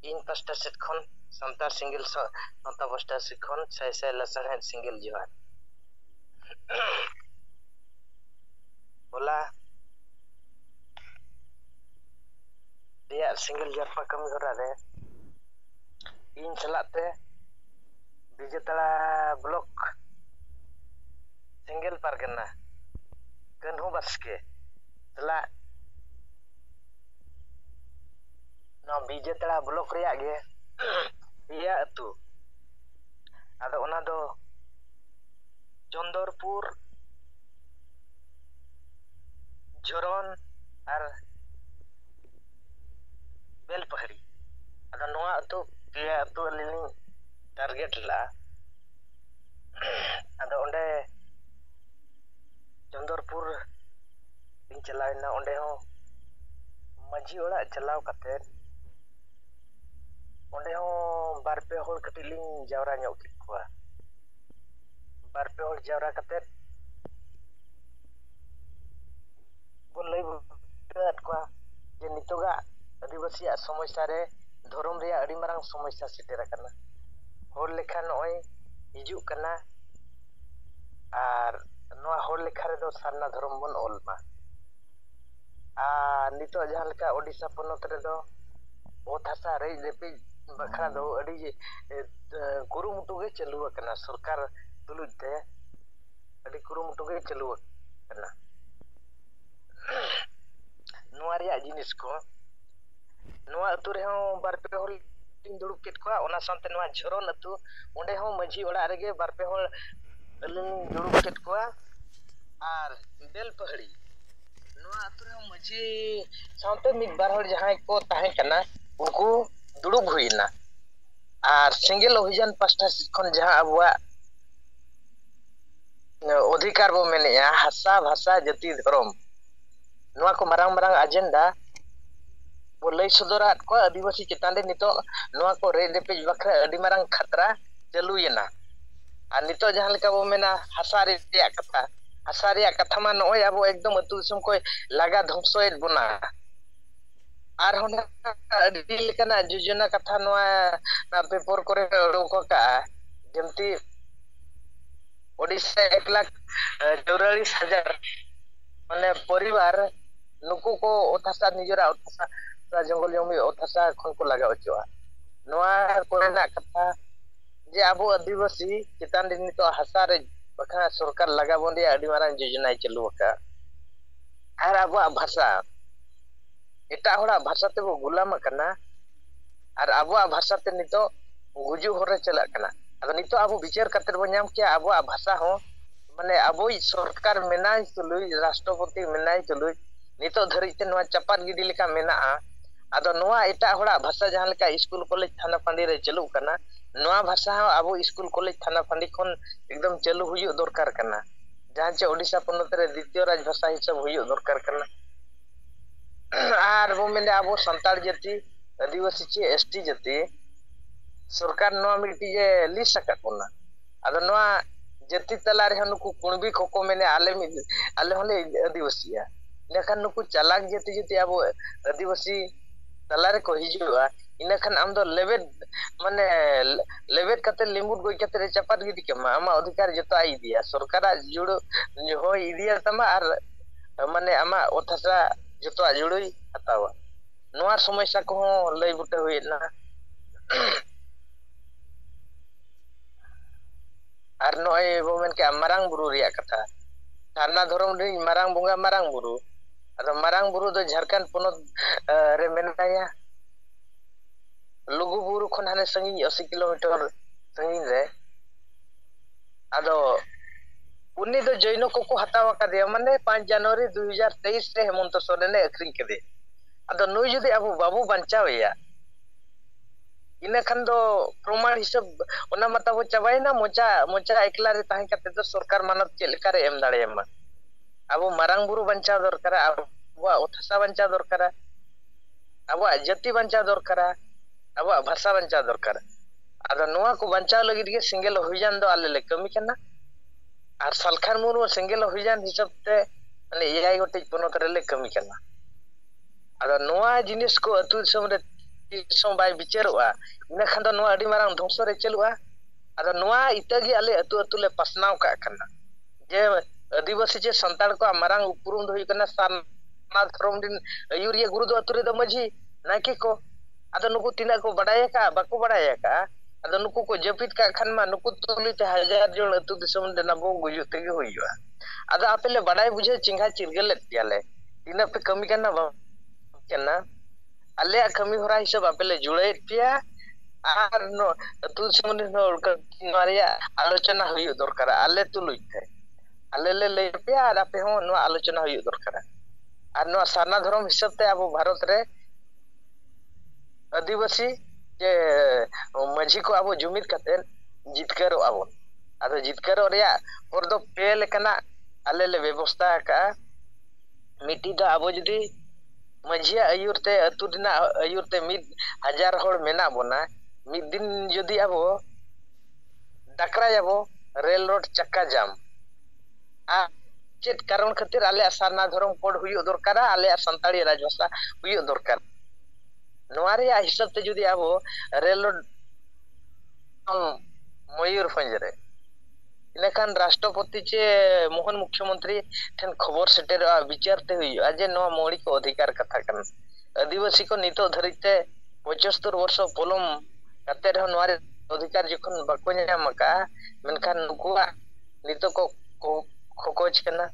ᱤᱧ ᱯᱟᱥᱴᱟ ᱥᱮᱫ ᱠᱷᱚᱱ ᱥᱟᱱᱛᱟᱲ ᱥᱤᱸᱜᱮᱞ ᱥᱟᱶᱛᱟ ᱯᱟᱥᱴᱟ ᱥᱮᱫ ᱠᱷᱚᱱ ᱥᱟᱭ ᱥᱟᱭ ᱞᱟᱥᱟᱲᱦᱮᱫ ᱥᱤᱸᱜᱮᱞ ᱡᱚᱦᱟᱨ ᱦᱚᱞᱟ ᱨᱮᱭᱟᱜ ᱥᱤᱸᱜᱮᱞ ᱡᱟᱨᱯᱟ ᱠᱟᱹᱢᱤ ᱦᱚᱨᱟ ᱨᱮ ᱤᱧ ᱥᱟᱞᱟᱜ ᱛᱮ ᱵᱤᱡᱮᱛᱟᱲᱟ ᱵᱞᱚᱠ ᱥᱤᱸᱜᱮᱞ ᱯᱟᱨᱜᱟᱱᱟ ᱠᱟᱹᱱᱦᱩ ᱵᱟᱥᱠᱮ ᱥᱟᱞᱟᱜ ᱱᱚᱣᱟ ᱵᱤᱡᱮᱛᱟᱲᱟ ᱵᱞᱚᱠ ᱨᱮᱭᱟᱜ ᱜᱮ ᱯᱮᱭᱟ ᱟᱹᱛᱩ ᱟᱫᱚ ᱚᱱᱟ ᱫᱚ ᱪᱚᱱᱫᱚᱨᱯᱩᱨ ᱡᱷᱚᱨᱚᱱ ᱟᱨ ᱵᱮᱞᱯᱟᱹᱦᱟᱹᱲᱤ ᱟᱫᱚ ᱱᱚᱣᱟ ᱟᱹᱛᱩ ᱯᱮᱭᱟ ᱟᱹᱛᱩ ᱟᱹᱞᱤᱧ ᱞᱤᱧ ᱴᱟᱨᱜᱮᱴ ᱞᱟᱜᱼᱟ ᱟᱫᱚ ᱚᱸᱰᱮ ᱪᱚᱱᱫᱚᱨᱯᱩᱨ ᱤᱧ ᱪᱟᱞᱟᱣ ᱮᱱᱟ ᱚᱸᱰᱮ ᱦᱚᱸ ᱢᱟᱺᱡᱷᱤ ᱚᱲᱟᱜ ᱪᱟᱞᱟᱣ ᱠᱟᱛᱮᱫ ᱚᱸᱰᱮ ᱦᱚᱸ ᱵᱟᱨ ᱯᱮ ᱦᱚᱲ ᱠᱟᱹᱴᱤᱡ ᱞᱤᱧ ᱡᱟᱣᱨᱟ ᱧᱚᱜ ᱠᱮᱫ ᱠᱚᱣᱟ ᱵᱟᱨ ᱯᱮ ᱦᱚᱲ ᱡᱟᱣᱨᱟ ᱠᱟᱛᱮᱫ ᱠᱚ ᱞᱟᱹᱭ ᱵᱩᱴᱟᱹᱣᱟᱫ ᱠᱚᱣᱟ ᱡᱮ ᱱᱤᱛᱚᱜᱟᱜ ᱟᱹᱫᱤᱵᱟᱹᱥᱤᱭᱟᱜ ᱥᱚᱢᱚᱥᱥᱟ ᱨᱮ ᱫᱷᱚᱨᱚᱢ ᱨᱮᱭᱟᱜ ᱟᱹᱰᱤ ᱢᱟᱨᱟᱝ ᱥᱚᱢᱚᱥᱥᱟ ᱥᱮᱴᱮᱨ ᱟᱠᱟᱱᱟ ᱦᱚᱲ ᱞᱮᱠᱷᱟ ᱱᱚᱜᱼᱚᱭ ᱦᱤᱡᱩᱜ ᱠᱟᱱᱟ ᱟᱨ ᱱᱚᱣᱟ ᱦᱚᱲ ᱞᱮᱠᱷᱟ ᱨᱮᱫᱚ ᱥᱟᱨᱱᱟ ᱫᱷᱚᱨᱚᱢ ᱵᱚᱱ ᱚᱞ ᱢᱟ ᱟᱨ ᱱᱤᱛᱚᱜ ᱡᱟᱦᱟᱸ ᱞᱮᱠᱟ ᱳᱰᱤᱥᱟ ᱯᱚᱱᱚᱛ ᱨᱮᱫᱚ ᱚᱛ ᱦᱟᱥᱟ ᱨᱮᱡ ᱨᱮᱯᱮᱡ ᱵᱟᱠᱷᱨᱟ ᱫᱚ ᱟᱹᱰᱤ ᱠᱩᱨᱩᱢᱩᱴᱩ ᱜᱮ ᱪᱟᱹᱞᱩ ᱟᱠᱟᱱᱟ ᱥᱚᱨᱠᱟᱨ ᱛᱩᱞᱩᱡ ᱛᱮ ᱟᱹᱰᱤ ᱠᱩᱨᱩᱢᱩᱴᱩ ᱜᱮ ᱪᱟᱹᱞᱩ ᱟᱠᱟᱱᱟ ᱱᱚᱣᱟ ᱨᱮᱭᱟᱜ ᱡᱤᱱᱤᱥ ᱠᱚ ᱱᱚᱣᱟ ᱟᱹᱛᱩ ᱨᱮᱦᱚᱸ ᱵᱟᱨ ᱯᱮ ᱦᱚᱲ ᱤᱧ ᱫᱩᱲᱩᱵ ᱠᱮᱫ ᱠᱚᱣᱟ ᱚᱱᱟ ᱥᱟᱶᱛᱮ ᱱᱚᱣᱟ ᱡᱷᱚᱨᱚᱱ ᱟᱹᱛᱩ ᱚᱸᱰᱮ ᱦᱚᱸ ᱢᱟᱺᱡᱷᱤ ᱚᱲᱟᱜ ᱨᱮᱜᱮ ᱵᱟᱨ ᱯᱮ ᱦᱚᱲ ᱟᱹᱞᱤᱧ ᱫᱩᱲᱩᱵ ᱠᱮᱫ ᱠᱚᱣᱟ ᱟᱨ ᱵᱮᱞᱯᱟᱹᱦᱲᱤ ᱱᱚᱣᱟ ᱟᱹᱛᱩ ᱨᱮᱦᱚᱸ ᱢᱟᱺᱡᱷᱤ ᱥᱟᱶᱛᱮ ᱢᱤᱫ ᱵᱟᱨ ᱦᱚᱲ ᱡᱟᱦᱟᱸᱭ ᱠᱚ ᱛᱟᱦᱮᱸ ᱠᱟᱱᱟ ᱩᱱᱠᱩ ᱫᱩᱲᱩᱵ ᱦᱩᱭ ᱮᱱᱟ ᱟᱨ ᱥᱮᱸᱜᱮᱞ ᱚᱵᱷᱤᱡᱟᱱ ᱯᱟᱥᱴᱟ ᱥᱮᱫ ᱠᱷᱚᱱ ᱡᱟᱦᱟᱸ ᱟᱵᱚᱣᱟᱜ ᱚᱫᱷᱤᱠᱟᱨ ᱵᱚᱱ ᱢᱮᱱᱮᱜᱼᱟ ᱦᱟᱥᱟ ᱵᱷᱟᱥᱟ ᱡᱟᱹᱛᱤ ᱫᱷᱚᱨᱚᱢ ᱱᱚᱣᱟ ᱠᱚ ᱢᱟᱨᱟᱝ ᱢᱟᱨᱟᱝ ᱟᱡᱮᱱᱰᱟ ᱵᱚ ᱞᱟᱹᱭ ᱥᱚᱫᱚᱨᱟᱫ ᱠᱚᱣᱟ ᱟᱹᱫᱤᱵᱟᱹᱥᱤ ᱪᱮᱛᱟᱱ ᱨᱮ ᱱᱤᱛᱚᱜ ᱱᱚᱣᱟ ᱠᱚ ᱨᱮᱡ ᱨᱮᱯᱮᱡ ᱵᱟᱠᱷᱨᱟ ᱟᱹᱰᱤ ᱢᱟᱨᱟᱝ ᱠᱷᱟᱛᱨᱟ ᱪᱟᱹᱞᱩᱭᱮᱱᱟ ᱟᱨ ᱱᱤᱛᱚᱜ ᱡᱟᱦᱟᱸ ᱞᱮᱠᱟ ᱵᱚ ᱢᱮᱱᱟ ᱦᱟᱥᱟ ᱨᱮᱭᱟᱜ ᱠᱟᱛᱷᱟ ᱦᱟᱥᱟ ᱨᱮᱭᱟᱜ ᱠᱟᱛᱷᱟ ᱢᱟ ᱱᱚᱜᱼᱚᱭ ᱟᱵᱚ ᱮᱠᱫᱚᱢ ᱟᱹᱛᱩ ᱫᱤᱥᱚᱢ ᱠᱚᱭ ᱞᱟᱜᱟ ᱫᱷᱚᱝᱥᱚᱭᱮᱫ ᱵᱚᱱᱟ ᱟᱨᱦᱚᱸ ᱱᱟᱜ ᱟᱹᱰᱤ ᱞᱮᱠᱟᱱᱟᱜ ᱡᱳᱡᱚᱱᱟ ᱠᱟᱛᱷᱟ ᱱᱚᱣᱟ ᱯᱮᱯᱚᱨ ᱠᱚᱨᱮ ᱚᱰᱚᱠ ᱟᱠᱟᱜᱼᱟ ᱡᱮᱢᱛᱤ ᱳᱰᱤᱥᱟ ᱮᱠ ᱞᱟᱠᱷ ᱪᱳᱨᱟᱞᱤᱥ ᱦᱟᱡᱟᱨ ᱢᱟᱱᱮ ᱯᱚᱨᱤᱵᱟᱨ ᱱᱩᱠᱩ ᱠᱚ ᱚᱛ ᱦᱟᱥᱟ ᱱᱤᱡᱮᱨᱟᱜ ᱚᱛ ᱦᱟᱥᱟ ᱡᱚᱝᱜᱚᱞ ᱡᱚᱢᱤ ᱚᱛ ᱦᱟᱥᱟ ᱠᱷᱚᱱ ᱠᱚ ᱞᱟᱜᱟᱣ ᱦᱚᱪᱚᱣᱟᱜᱼᱟ ᱱᱚᱣᱟ ᱠᱚᱨᱮᱱᱟᱜ ᱠᱟᱛᱷᱟ ᱡᱮ ᱟᱵᱚ ᱟᱹᱫᱤᱵᱟᱹᱥᱤ ᱪᱮᱛᱟᱱ ᱨᱮ ᱱᱤᱛᱚᱜ ᱦᱟᱥᱟ ᱨᱮ ᱵᱟᱠᱷᱟᱱ ᱥᱚᱨᱠᱟᱨ ᱞᱟᱜᱟ ᱵᱚᱱ ᱨᱮᱭᱟᱜ ᱟᱹᱰᱤ ᱢᱟᱨᱟᱝ ᱡᱳᱡᱚᱱᱟᱭ ᱪᱟᱹᱞᱩ ᱟᱠᱟᱫᱼᱟ ᱟᱨ ᱟᱵᱚᱣᱟᱜ ᱵᱷᱟᱥᱟ ᱮᱴᱟᱜ ᱦᱚᱲᱟᱜ ᱵᱷᱟᱥᱟ ᱛᱮᱵᱚ ᱜᱩᱞᱟᱢ ᱟᱠᱟᱱᱟ ᱟᱨ ᱟᱵᱚᱣᱟᱜ ᱵᱷᱟᱥᱟ ᱛᱮ ᱱᱤᱛᱚᱜ ᱜᱩᱡᱩᱜ ᱦᱚᱨ ᱨᱮ ᱪᱟᱞᱟᱜ ᱠᱟᱱᱟ ᱟᱫᱚ ᱱᱤᱛᱚᱜ ᱟᱵᱚ ᱵᱤᱪᱟᱹᱨ ᱠᱟᱛᱮᱫ ᱵᱚᱱ ᱧᱟᱢ ᱠᱮᱭᱟ ᱟᱵᱚᱣᱟᱜ ᱵᱷᱟᱥᱟ ᱦᱚᱸ ᱢᱟᱱᱮ ᱟᱵᱚᱭᱤᱡ ᱥᱚᱨᱠᱟᱨ ᱢᱮᱱᱟᱭ ᱛᱩᱞᱩᱡ ᱨᱟᱥᱴᱨᱚᱯᱚᱛᱤ ᱢᱮᱱᱟᱭ ᱛᱩᱞᱩᱡ ᱱᱤᱛᱚᱜ ᱫᱷᱟᱹᱨᱤᱡ ᱛᱮ ᱱᱚᱣᱟ ᱪᱟᱯᱟᱫ ᱜᱤᱰᱤ ᱞᱮᱠᱟ ᱢᱮᱱᱟᱜᱼᱟ ᱟᱫᱚ ᱱᱚᱣᱟ ᱮᱴᱟᱜ ᱦᱚᱲᱟᱜ ᱵᱷᱟᱥᱟ ᱡᱟᱦᱟᱸ ᱞᱮᱠᱟ ᱤᱥᱠᱩᱞ ᱠᱚᱞᱮᱡᱽ ᱛᱷᱟᱱᱟ ᱯᱷᱟᱺᱰᱤ ᱨᱮ ᱪᱟᱹᱞᱩᱜ ᱠᱟᱱᱟ ᱱᱚᱣᱟ ᱵᱷᱟᱥᱟ ᱦᱚᱸ ᱟᱵᱚ ᱤᱥᱠᱩᱞ ᱠᱚᱞᱮᱡᱽ ᱛᱷᱟᱱᱟ ᱯᱷᱟᱺᱰᱤ ᱠᱷᱚᱱ ᱮᱠᱫᱚᱢ ᱪᱟᱹᱞᱩ ᱦᱩᱭᱩᱜ ᱫᱚᱨᱠᱟᱨ ᱠᱟᱱᱟ ᱡᱟᱦᱟᱸ ᱪᱮ ᱳᱰᱤᱥᱟ ᱯᱚᱱᱚᱛ ᱨᱮ ᱫᱤᱛᱤᱭᱚ ᱨᱟᱡᱽ ᱵᱷᱟᱥᱟ ᱦᱤᱥᱟᱹᱵ ᱦᱩᱭᱩᱜ ᱫᱚᱨᱠᱟᱨ ᱠᱟᱱᱟ ᱟᱨ ᱵᱚᱱ ᱢᱮᱱᱟ ᱟᱵᱚ ᱥᱟᱱᱛᱟᱲ ᱡᱟᱹᱛᱤ ᱟᱹᱫᱤᱵᱟᱹᱥᱤ ᱪᱮ ᱮᱥ ᱴᱤ ᱡᱟᱹᱛᱤ ᱥᱚᱨᱠᱟᱨ ᱱᱚᱣᱟ ᱢᱤᱫᱴᱤᱡ ᱮ ᱞᱤᱥᱴ ᱟᱠᱟᱫ ᱵᱚᱱᱟ ᱟᱫᱚ ᱱᱚᱣᱟ ᱡᱟᱹᱛᱤ ᱛᱟᱞᱟ ᱨᱮᱦᱚᱸ ᱱᱩᱠᱩ ᱠᱩᱬᱵᱤ ᱠᱚᱠᱚ ᱢᱮᱱᱟ ᱟᱞᱮ ᱢᱤᱫ ᱟᱞᱮ ᱦᱚᱸᱞᱮ ᱟᱹᱫᱤᱵᱟᱹᱥᱤᱜᱼᱟ ᱤᱱᱟᱹᱠᱷᱟᱱ ᱱᱩᱠᱩ ᱪᱟᱞᱟᱠ ᱡᱟᱹᱛᱤ ᱡᱩᱫᱤ ᱟᱵᱚ ᱟᱹᱫᱤᱵᱟᱹᱥᱤ ᱛᱟᱞᱟ ᱨᱮᱠᱚ ᱦᱤᱡᱩᱜᱼᱟ ᱤᱱᱟᱹᱠᱷᱟᱱ ᱟᱢ ᱫᱚ ᱞᱮᱵᱮᱫ ᱢᱟᱱᱮ ᱞᱮᱵᱮᱫ ᱠᱟᱛᱮ ᱞᱤᱢᱵᱩᱫ ᱜᱚᱡ ᱠᱟᱛᱮ ᱮ ᱪᱟᱯᱟᱫ ᱜᱤᱰᱤ ᱠᱟᱢᱟ ᱟᱢᱟᱜ ᱚᱫᱷᱤᱠᱟᱨ ᱡᱚᱛᱚ ᱟᱡ ᱤᱫᱤᱭᱟ ᱥᱚᱨᱠᱟᱨᱟᱜ ᱡᱩᱲᱩ ᱦᱚᱭ ᱤᱫᱤᱭᱟ ᱛᱟᱢᱟ ᱟᱨ ᱢᱟᱱᱮ ᱟᱢᱟᱜ ᱚᱛ ᱦᱟᱥᱟ ᱡᱚᱛᱚᱣᱟᱜ ᱡᱩᱲᱩᱭ ᱦᱟᱛᱟᱣᱟ ᱱᱚᱣᱟ ᱥᱚᱢᱚᱥᱥᱟ ᱠᱚᱦᱚᱸ ᱞᱟᱹᱭ ᱵᱩᱴᱟᱹ ᱦᱩᱭᱮᱫ ᱞᱟᱝ-ᱟ ᱟᱨ ᱱᱚᱜᱼᱚᱭ ᱵᱚᱱ ᱢᱮᱱ ᱠᱮᱜᱼᱟ ᱢᱟᱨᱟᱝ ᱵᱩᱨᱩ ᱨᱮᱭᱟᱜ ᱠᱟᱛᱷᱟ ᱥᱟᱨᱱᱟ ᱫᱷᱚᱨᱚᱢ ᱨᱤᱱᱤᱡ ᱢᱟᱨᱟᱝ ᱵᱚᱸᱜᱟ ᱢᱟᱨᱟᱝ ᱵᱩᱨᱩ ᱟᱫᱚ ᱢᱟᱨᱟᱝ ᱵᱩᱨᱩ ᱫᱚ ᱡᱷᱟᱲᱠᱷᱚᱸᱰ ᱯᱚᱱᱚᱛ ᱨᱮ ᱢᱮᱱᱟᱭᱟ ᱞᱩᱜᱩ ᱵᱩᱨᱩ ᱠᱷᱚᱱ ᱦᱟᱱᱮ ᱥᱟᱺᱜᱤᱧ ᱚᱥᱤ ᱠᱤᱞᱳᱢᱤᱴᱚᱨ ᱥᱟᱺᱜᱤᱧ ᱨᱮ ᱟᱫᱚ ᱩᱱᱤ ᱫᱚ ᱡᱚᱭᱱᱚ ᱠᱚᱠᱚ ᱦᱟᱛᱟᱣ ᱟᱠᱟᱫᱮᱭᱟ ᱢᱟᱱᱮ ᱯᱟᱸᱪ ᱡᱟᱱᱩᱣᱟᱨᱤ ᱫᱩ ᱦᱟᱡᱟᱨ ᱛᱮᱭᱤᱥ ᱨᱮ ᱦᱮᱢᱚᱱᱛᱚ ᱥᱚᱨᱮᱱᱮ ᱟᱹᱠᱷᱨᱤᱧ ᱠᱮᱫᱮᱭᱟ ᱟᱫᱚ ᱱᱩᱭ ᱡᱩᱫᱤ ᱟᱵᱚ ᱵᱟᱵᱚ ᱵᱟᱧᱪᱟᱣ ᱮᱭᱟ ᱤᱱᱟᱹ ᱠᱷᱟᱱ ᱫᱚ ᱯᱨᱚᱢᱟᱬ ᱦᱤᱥᱟᱹᱵᱽ ᱚᱱᱟ ᱢᱟ ᱛᱟᱵᱚ ᱪᱟᱵᱟᱭᱮᱱᱟ ᱢᱚᱪᱟ ᱢᱚᱪᱟ ᱮᱠᱞᱟ ᱨᱮ ᱛᱟᱦᱮᱸ ᱠᱟᱛᱮ ᱫᱚ ᱥᱚᱨᱠᱟᱨ ᱢᱟᱱᱚᱛ ᱪᱮᱫ ᱞᱮᱠᱟ ᱨᱮ ᱮᱢ ᱫᱟᱲᱮᱭᱟᱢᱟ ᱟᱵᱚ ᱢᱟᱨᱟᱝ ᱵᱩᱨᱩ ᱵᱟᱧᱪᱟᱣ ᱫᱚᱨᱠᱟᱨᱟ ᱟᱵᱚᱣᱟᱜ ᱚᱛ ᱦᱟᱥᱟ ᱵᱟᱧᱪᱟᱣ ᱫᱚᱨᱠᱟᱨᱟ ᱟᱵᱚᱣᱟᱜ ᱡᱟᱹᱛᱤ ᱵᱟᱧᱪᱟᱣ ᱫᱚᱨᱠᱟᱨᱟ ᱟᱵᱚᱣᱟᱜ ᱵᱷᱟᱥᱟ ᱵᱟᱧᱪᱟᱣ ᱫᱚᱨᱠᱟᱨᱟ ᱟᱫᱚ ᱱᱚᱣᱟ ᱠᱚ ᱵᱟᱧᱪᱟᱣ ᱞᱟᱹᱜᱤᱫ ᱜᱮ ᱥᱮᱸᱜᱮᱞ ᱚᱵᱷᱤᱡᱟᱱ ᱫᱚ ᱟᱞᱮ ᱞᱮ ᱠᱟᱹᱢᱤ ᱠᱟᱱᱟ ᱟᱨ ᱥᱟᱞᱠᱷᱟᱱ ᱢᱩᱨᱢᱩ ᱥᱮᱸᱜᱮᱞ ᱚᱵᱷᱤᱡᱟᱱ ᱦᱤᱥᱟᱹᱵ ᱛᱮ ᱢᱟᱱᱮ ᱮᱭᱟᱭ ᱜᱚᱴᱮᱡ ᱯᱚᱱᱚᱛ ᱨᱮᱞᱮ ᱠᱟᱹᱢᱤ ᱠᱟᱱᱟ ᱟᱫᱚ ᱱᱚᱣᱟ ᱡᱤᱱᱤᱥ ᱠᱚ ᱟᱹᱛᱩ ᱫᱤᱥᱚᱢ ᱨᱮ ᱛᱤᱥ ᱦᱚᱸ ᱵᱟᱭ ᱵᱤᱪᱟᱹᱨᱚᱜᱼᱟ ᱤᱱᱟᱹᱠᱷᱟᱱ ᱫᱚ ᱱᱚᱣᱟ ᱟᱹᱰᱤ ᱢᱟᱨᱟᱝ ᱫᱷᱚᱝᱥᱚ ᱨᱮ ᱪᱟᱹᱞᱩᱜᱼᱟ ᱟᱫᱚ ᱱᱚᱣᱟ ᱤᱛᱟᱹ ᱜᱮ ᱟᱞᱮ ᱟᱹᱛᱩ ᱟᱹᱛᱩ ᱞᱮ ᱯᱟᱥᱱᱟᱣ ᱠᱟᱜ ᱠᱟᱱᱟ ᱡᱮ ᱟᱹᱫᱤᱵᱟᱹᱥᱤ ᱪᱮ ᱥᱟᱱᱛᱟᱲ ᱠᱚᱣᱟᱜ ᱢᱟᱨᱟᱝ ᱩᱯᱨᱩᱢ ᱫᱚ ᱦᱩᱭᱩᱜ ᱠᱟᱱᱟ ᱥᱟᱨᱱᱟ ᱫᱷᱚᱨᱚᱢ ᱨᱮᱱ ᱟᱹᱭᱩᱨᱤᱭᱟᱹ ᱜᱩᱨᱩ ᱫᱚ ᱟᱹᱛᱩ ᱨᱮᱫᱚ ᱢᱟᱹᱡᱷᱤ ᱱᱟᱭᱠᱮ ᱠᱚ ᱟᱫᱚ ᱱᱩᱠᱩ ᱛᱤᱱᱟᱹᱜ ᱠᱚ ᱵᱟᱰᱟᱭ ᱟᱠᱟᱜᱼᱟ ᱵᱟᱠᱚ ᱵᱟᱲᱟᱭ ᱟᱠᱟᱜᱼᱟ ᱟᱫᱚ ᱱᱩᱠᱩ ᱠᱚ ᱡᱟᱹᱯᱤᱫ ᱠᱟᱜ ᱠᱷᱟᱱ ᱢᱟ ᱱᱩᱠᱩ ᱛᱩᱞᱩᱡ ᱛᱮ ᱦᱟᱡᱟᱨ ᱡᱚᱱ ᱟᱹᱛᱩ ᱫᱤᱥᱚᱢ ᱨᱮᱱᱟᱜ ᱵᱚ ᱜᱩᱡᱩᱜ ᱛᱮᱜᱮ ᱦᱩᱭᱩᱜᱼᱟ ᱟᱫᱚ ᱟᱯᱮ ᱞᱮ ᱵᱟᱰᱟᱭ ᱵᱩᱡᱷᱟᱹᱣ ᱪᱮᱸᱜᱷᱟ ᱪᱤᱨᱜᱟᱹᱞ ᱞᱮᱫ ᱯᱮᱭᱟᱞᱮ ᱛᱤᱱᱟᱹᱜ ᱯᱮ ᱠᱟᱹᱢᱤ ᱠᱟᱱᱟ ᱵᱟᱝ ᱠᱟᱱᱟ ᱟᱞᱮᱭᱟᱜ ᱠᱟᱹᱢᱤ ᱦᱚᱨᱟ ᱦᱤᱥᱟᱹᱵ ᱟᱯᱮ ᱞᱮ ᱡᱩᱲᱟᱹᱭᱮᱫ ᱯᱮᱭᱟ ᱟᱨ ᱱᱚᱣᱟ ᱟᱹᱛᱩ ᱫᱤᱥᱚᱢ ᱨᱮᱱ ᱦᱚᱲ ᱱᱚᱣᱟ ᱨᱮᱭᱟᱜ ᱟᱞᱳᱪᱚᱱᱟ ᱦᱩᱭᱩᱜ ᱫᱚᱨᱠᱟᱨᱟ ᱟᱞᱮ ᱛᱩᱞᱩᱡ ᱛᱮ ᱟᱞᱮ ᱞᱮ ᱞᱟᱹᱭ ᱟᱯᱮᱭᱟ ᱟᱨ ᱟᱯᱮ ᱦᱚᱸ ᱱᱚᱣᱟ ᱟᱞᱳᱪᱚᱱᱟ ᱦᱩᱭᱩᱜ ᱫᱚᱨᱠᱟᱨᱟ ᱟᱨ ᱱᱚᱣᱟ ᱥᱟᱨᱱᱟ ᱫᱷᱚᱨᱚᱢ ᱦᱤᱥᱟᱹᱵ ᱛᱮ ᱟᱵᱚ ᱵᱷᱟᱨᱚᱛ ᱨᱮ ᱟᱹᱫᱤᱵᱟᱹᱥᱤ ᱡᱮ ᱢᱟᱹᱡᱷᱤ ᱠᱚ ᱟᱵᱚ ᱡᱩᱢᱤᱫ ᱠᱟᱛᱮᱫ ᱡᱤᱛᱠᱟᱹᱨᱚᱜᱼᱟ ᱵᱚᱱ ᱟᱫᱚ ᱡᱤᱛᱠᱟᱹᱨᱚᱜ ᱨᱮᱭᱟᱜ ᱦᱚᱨ ᱫᱚ ᱯᱮ ᱞᱮᱠᱟᱱᱟᱜ ᱟᱞᱮ ᱞᱮ ᱵᱮᱵᱚᱥᱛᱷᱟ ᱟᱠᱟᱜᱼᱟ ᱢᱤᱫᱴᱤᱡ ᱫᱚ ᱟᱵᱚ ᱡᱩᱫᱤ ᱢᱟᱹᱡᱷᱤᱭᱟᱜ ᱟᱹᱭᱩᱨ ᱛᱮ ᱟᱹᱛᱩ ᱨᱮᱱᱟᱜ ᱟᱹᱭᱩᱨ ᱛᱮ ᱢᱤᱫ ᱦᱟᱡᱟᱨ ᱦᱚᱲ ᱢᱮᱱᱟᱜ ᱵᱚᱱᱟ ᱢᱤᱫ ᱫᱤᱱ ᱡᱩᱫᱤ ᱟᱵᱚ ᱰᱟᱠᱨᱟᱭᱟᱵᱚ ᱨᱮᱞ ᱨᱳᱰ ᱪᱟᱠᱟ ᱡᱟᱢ ᱟᱨ ᱪᱮᱫ ᱠᱟᱨᱚᱱ ᱠᱷᱟᱹᱛᱤᱨ ᱟᱞᱮᱭᱟᱜ ᱥᱟᱨᱱᱟ ᱫᱷᱚᱨᱚᱢ ᱠᱳᱰ ᱦᱩᱭᱩᱜ ᱫᱚᱨᱠᱟᱨᱟ ᱟᱞᱮᱭᱟᱜ ᱥᱟᱱᱛᱟᱲᱤ ᱨᱟᱡᱽ ᱵᱷᱟᱥᱟ ᱦᱩᱭᱩᱜ ᱫᱚᱨᱠᱟᱨ ᱱᱚᱣᱟ ᱨᱮᱭᱟᱜ ᱦᱤᱥᱟᱹᱵ ᱛᱮ ᱡᱩᱫᱤ ᱟᱵᱚ ᱨᱮᱞ ᱢᱚᱭᱩᱨᱵᱷᱚᱸᱡᱽ ᱨᱮ ᱤᱱᱟᱹᱠᱷᱟᱱ ᱨᱟᱥᱴᱨᱚᱯᱚᱛᱤ ᱪᱮ ᱢᱳᱦᱚᱱ ᱢᱩᱠᱷᱭᱚ ᱢᱚᱱᱛᱨᱤ ᱴᱷᱮᱱ ᱠᱷᱚᱵᱚᱨ ᱥᱮᱴᱮᱨᱚᱜᱼᱟ ᱵᱤᱪᱟᱹᱨ ᱛᱮ ᱦᱩᱭᱩᱜᱼᱟ ᱡᱮ ᱱᱚᱣᱟ ᱢᱚᱣᱞᱤᱠ ᱚᱫᱷᱤᱠᱟᱨ ᱠᱟᱛᱷᱟ ᱠᱟᱱᱟ ᱟᱹᱫᱤᱵᱟᱹᱥᱤ ᱠᱚ ᱱᱤᱛᱚᱜ ᱫᱷᱟᱹᱨᱤᱡ ᱛᱮ ᱯᱚᱸᱪᱟᱥᱛᱳᱨ ᱵᱚᱨᱥᱚ ᱯᱚᱞᱚᱢ ᱠᱟᱛᱮ ᱨᱮᱦᱚᱸ ᱱᱚᱣᱟ ᱚᱫᱷᱤᱠᱟᱨ ᱡᱚᱠᱷᱚᱱ ᱵᱟᱠᱚ ᱧᱟᱢ ᱟᱠᱟᱫᱼᱟ ᱢᱮᱱᱠᱷᱟᱱ ᱱᱩᱠᱩᱣᱟᱜ ᱱᱤᱛᱚᱜ ᱠᱚ ᱠᱚ ᱠᱷᱚᱠᱚᱡ ᱠᱟᱱᱟ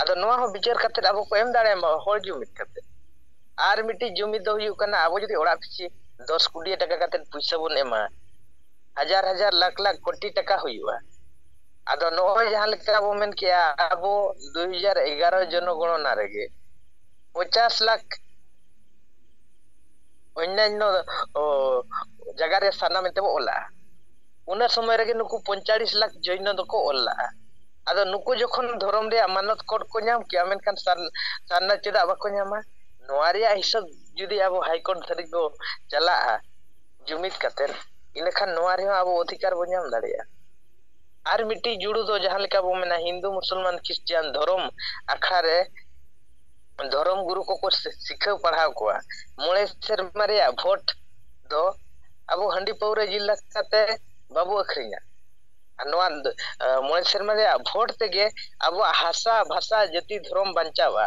ᱟᱫᱚ ᱱᱚᱣᱟ ᱦᱚᱸ ᱵᱤᱪᱟᱹᱨ ᱠᱟᱛᱮᱫ ᱟᱵᱚ ᱠᱚ ᱮᱢ ᱫᱟᱲᱮᱭᱟᱢᱟ ᱦᱚᱲ ᱡᱩᱢᱤᱫ ᱠᱟᱛᱮᱫ ᱟᱨ ᱢᱤᱫᱴᱤᱡ ᱡᱩᱢᱤᱫ ᱫᱚ ᱦᱩᱭᱩᱜ ᱠᱟᱱᱟ ᱟᱵᱚ ᱡᱩᱫᱤ ᱚᱲᱟᱜ ᱯᱤᱪᱷᱤ ᱫᱚᱥ ᱠᱩᱰᱤᱭᱟᱹ ᱴᱟᱠᱟ ᱠᱟᱛᱮᱫ ᱯᱩᱭᱥᱟᱹ ᱵᱚᱱ ᱮᱢᱟ ᱦᱟᱡᱟᱨ ᱦᱟᱡᱟᱨ ᱞᱟᱠᱷ ᱞᱟᱠᱷ ᱠᱳᱴᱤ ᱴᱟᱠᱟ ᱦᱩᱭᱩᱜᱼᱟ ᱟᱫᱚ ᱱᱚᱜᱼᱚᱭ ᱡᱟᱦᱟᱸ ᱞᱮᱠᱟ ᱵᱚ ᱢᱮᱱ ᱠᱮᱜᱼᱟ ᱟᱵᱚ ᱫᱩᱭ ᱦᱟᱡᱟᱨ ᱮᱜᱟᱨᱚ ᱡᱚᱱᱚᱜᱚᱬᱚᱱᱟ ᱨᱮᱜᱮ ᱯᱚᱪᱟᱥ ᱞᱟᱠᱷ ᱚᱱᱱᱟᱱᱱᱚ ᱚ ᱡᱟᱭᱜᱟ ᱨᱮ ᱥᱟᱨᱱᱟ ᱢᱮᱱᱛᱮ ᱵᱚ ᱚᱞᱟᱜᱼᱟ ᱩᱱᱟᱹ ᱥᱚᱢᱚᱭ ᱨᱮᱜᱮ ᱱᱩᱠᱩ ᱯᱚᱧᱪᱟᱲᱤᱥ ᱞᱟᱠᱷ ᱡᱚᱭᱱᱚ ᱫᱚᱠᱚ ᱚᱞ ᱞᱟᱜᱼᱟ᱾ ᱟᱫᱚ ᱱᱩᱠᱩ ᱡᱚᱠᱷᱚᱱ ᱫᱷᱚᱨᱚᱢ ᱨᱮᱭᱟᱜ ᱢᱟᱱᱚᱛ ᱠᱚᱰ ᱠᱚ ᱧᱟᱢ ᱠᱮᱭᱟ ᱢᱮᱱᱠᱷᱟᱱ ᱥᱟᱨᱱᱟ ᱪᱮᱫᱟᱜ ᱵᱟᱠᱚ ᱧᱟᱢᱟ? ᱱᱚᱣᱟ ᱨᱮᱭᱟᱜ ᱦᱤᱥᱟᱹᱵ ᱡᱩᱫᱤ ᱟᱵᱚ ᱦᱟᱭᱠᱳᱨᱴ ᱫᱷᱟᱹᱨᱤᱡ ᱵᱚ ᱪᱟᱞᱟᱜᱼᱟ ᱡᱩᱢᱤᱫ ᱠᱟᱛᱮ ᱤᱱᱟᱹᱠᱷᱟᱱ ᱱᱚᱣᱟ ᱨᱮᱦᱚᱸ ᱟᱵᱚ ᱚᱫᱷᱤᱠᱟᱨ ᱵᱚ ᱧᱟᱢ ᱫᱟᱲᱮᱭᱟᱜᱼᱟ᱾ ᱟᱨ ᱢᱤᱫᱴᱤᱡ ᱡᱩᱲᱩ ᱫᱚ ᱡᱟᱦᱟᱸ ᱞᱮᱠᱟ ᱵᱚ ᱢᱮᱱᱟ ᱦᱤᱱᱫᱩ ᱢᱩᱥᱚᱞᱢᱟᱱ ᱠᱷᱨᱤᱥᱴᱤᱭᱟᱱ ᱫᱷᱚᱨᱚᱢ ᱟᱠᱷᱲᱟ ᱨᱮ ᱫᱷᱚᱨᱚᱢ ᱜᱩᱨᱩ ᱠᱚᱠᱚ ᱥᱤᱠᱷᱟᱹᱣ ᱯᱟᱲᱦᱟᱣ ᱠᱚᱣᱟ ᱢᱚᱬᱮ ᱥᱮᱨᱢᱟ ᱨᱮᱭᱟᱜ ᱵᱷᱳᱴ ᱫᱚ ᱟᱵᱚ ᱦᱟᱺᱰᱤ ᱯᱟᱹᱣᱨᱟᱹ ᱡᱤᱞ ᱫᱟᱠᱟ ᱛᱮ ᱵᱟᱵᱚ ᱟᱹᱠᱷᱨᱤᱧᱟ ᱟᱨ ᱱᱚᱣᱟ ᱢᱚᱬᱮ ᱥᱮᱨᱢᱟ ᱨᱮᱭᱟᱜ ᱵᱷᱳᱴ ᱛᱮᱜᱮ ᱟᱵᱚᱣᱟᱜ ᱦᱟᱥᱟ ᱵᱷᱟᱥᱟ ᱡᱟᱹᱛᱤ ᱫᱷᱚᱨᱚᱢ ᱵᱟᱧᱪᱟᱣᱼᱟ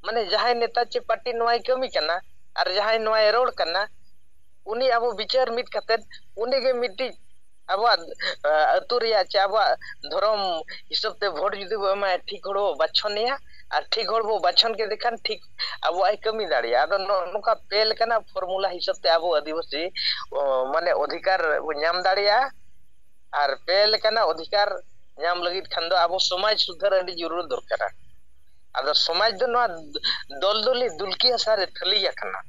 ᱢᱟᱱᱮ ᱡᱟᱦᱟᱸᱭ ᱱᱮᱛᱟ ᱪᱮ ᱯᱟᱨᱴᱤ ᱱᱚᱣᱟᱭ ᱠᱟᱹᱢᱤ ᱠᱟᱱᱟ ᱟᱨ ᱡᱟᱦᱟᱸᱭ ᱱᱚᱣᱟᱭ ᱨᱚᱲ ᱠᱟᱱᱟ ᱩᱱᱤ ᱟᱵᱚ ᱵᱤᱪᱟᱹᱨ ᱢᱤᱫ ᱠᱟᱛᱮᱫ ᱩᱱᱤᱜᱮ ᱢᱤᱫᱴᱤᱡ ᱟᱵᱚᱣᱟᱜ ᱟᱹᱛᱩ ᱨᱮᱭᱟᱜ ᱪᱮ ᱟᱵᱚᱣᱟᱜ ᱫᱷᱚᱨᱚᱢ ᱦᱤᱥᱟᱹᱵ ᱛᱮ ᱵᱷᱳᱴ ᱡᱩᱫᱤ ᱵᱚ ᱮᱢᱟᱭᱟ ᱴᱷᱤᱠ ᱦᱚᱲ ᱵᱚ ᱵᱟᱪᱷᱚᱱᱮᱭᱟ ᱟᱨ ᱴᱷᱤᱠ ᱦᱚᱲ ᱵᱚ ᱵᱟᱪᱷᱚᱱ ᱠᱮᱫᱮ ᱠᱷᱟᱱ ᱴᱷᱤᱠ ᱟᱵᱚᱣᱟᱜ ᱮ ᱠᱟᱹᱢᱤ ᱫᱟᱲᱮᱭᱟᱜᱼᱟ ᱟᱫᱚ ᱱᱚᱜᱼᱚ ᱱᱚᱝᱠᱟ ᱯᱮ ᱞᱮᱠᱟᱱᱟᱜ ᱯᱷᱚᱨᱢᱩᱞᱟ ᱦᱤᱥᱟᱹᱵ ᱛᱮ ᱟᱵᱚ ᱟᱹᱫᱤᱵᱟᱹᱥᱤ ᱚ ᱢᱟᱱᱮ ᱚᱫᱷᱤᱠᱟᱨ ᱵᱚ ᱧᱟᱢ ᱫᱟᱲᱮᱭᱟᱜᱼᱟ ᱟᱨ ᱯᱮ ᱞᱮᱠᱟᱱᱟᱜ ᱚᱫᱷᱤᱠᱟᱨ ᱧᱟᱢ ᱞᱟᱹᱜᱤᱫ ᱠᱷᱟᱱ ᱫᱚ ᱟᱵᱚ ᱥᱚᱢᱟᱡᱽ ᱥᱩᱫᱷᱟᱹᱨ ᱟᱹᱰᱤ ᱡᱚᱨᱩᱨ ᱫᱚᱨᱠᱟᱨᱟ ᱟᱫᱚ ᱥᱚᱢᱟᱡᱽ ᱫᱚ ᱱᱚᱣᱟ ᱫᱚᱞ ᱫᱚᱞᱤ ᱫᱩᱞᱠᱤ ᱦᱟᱥᱟ ᱨᱮ ᱛᱷᱟᱹᱞᱤ ᱟᱠᱟᱱᱟ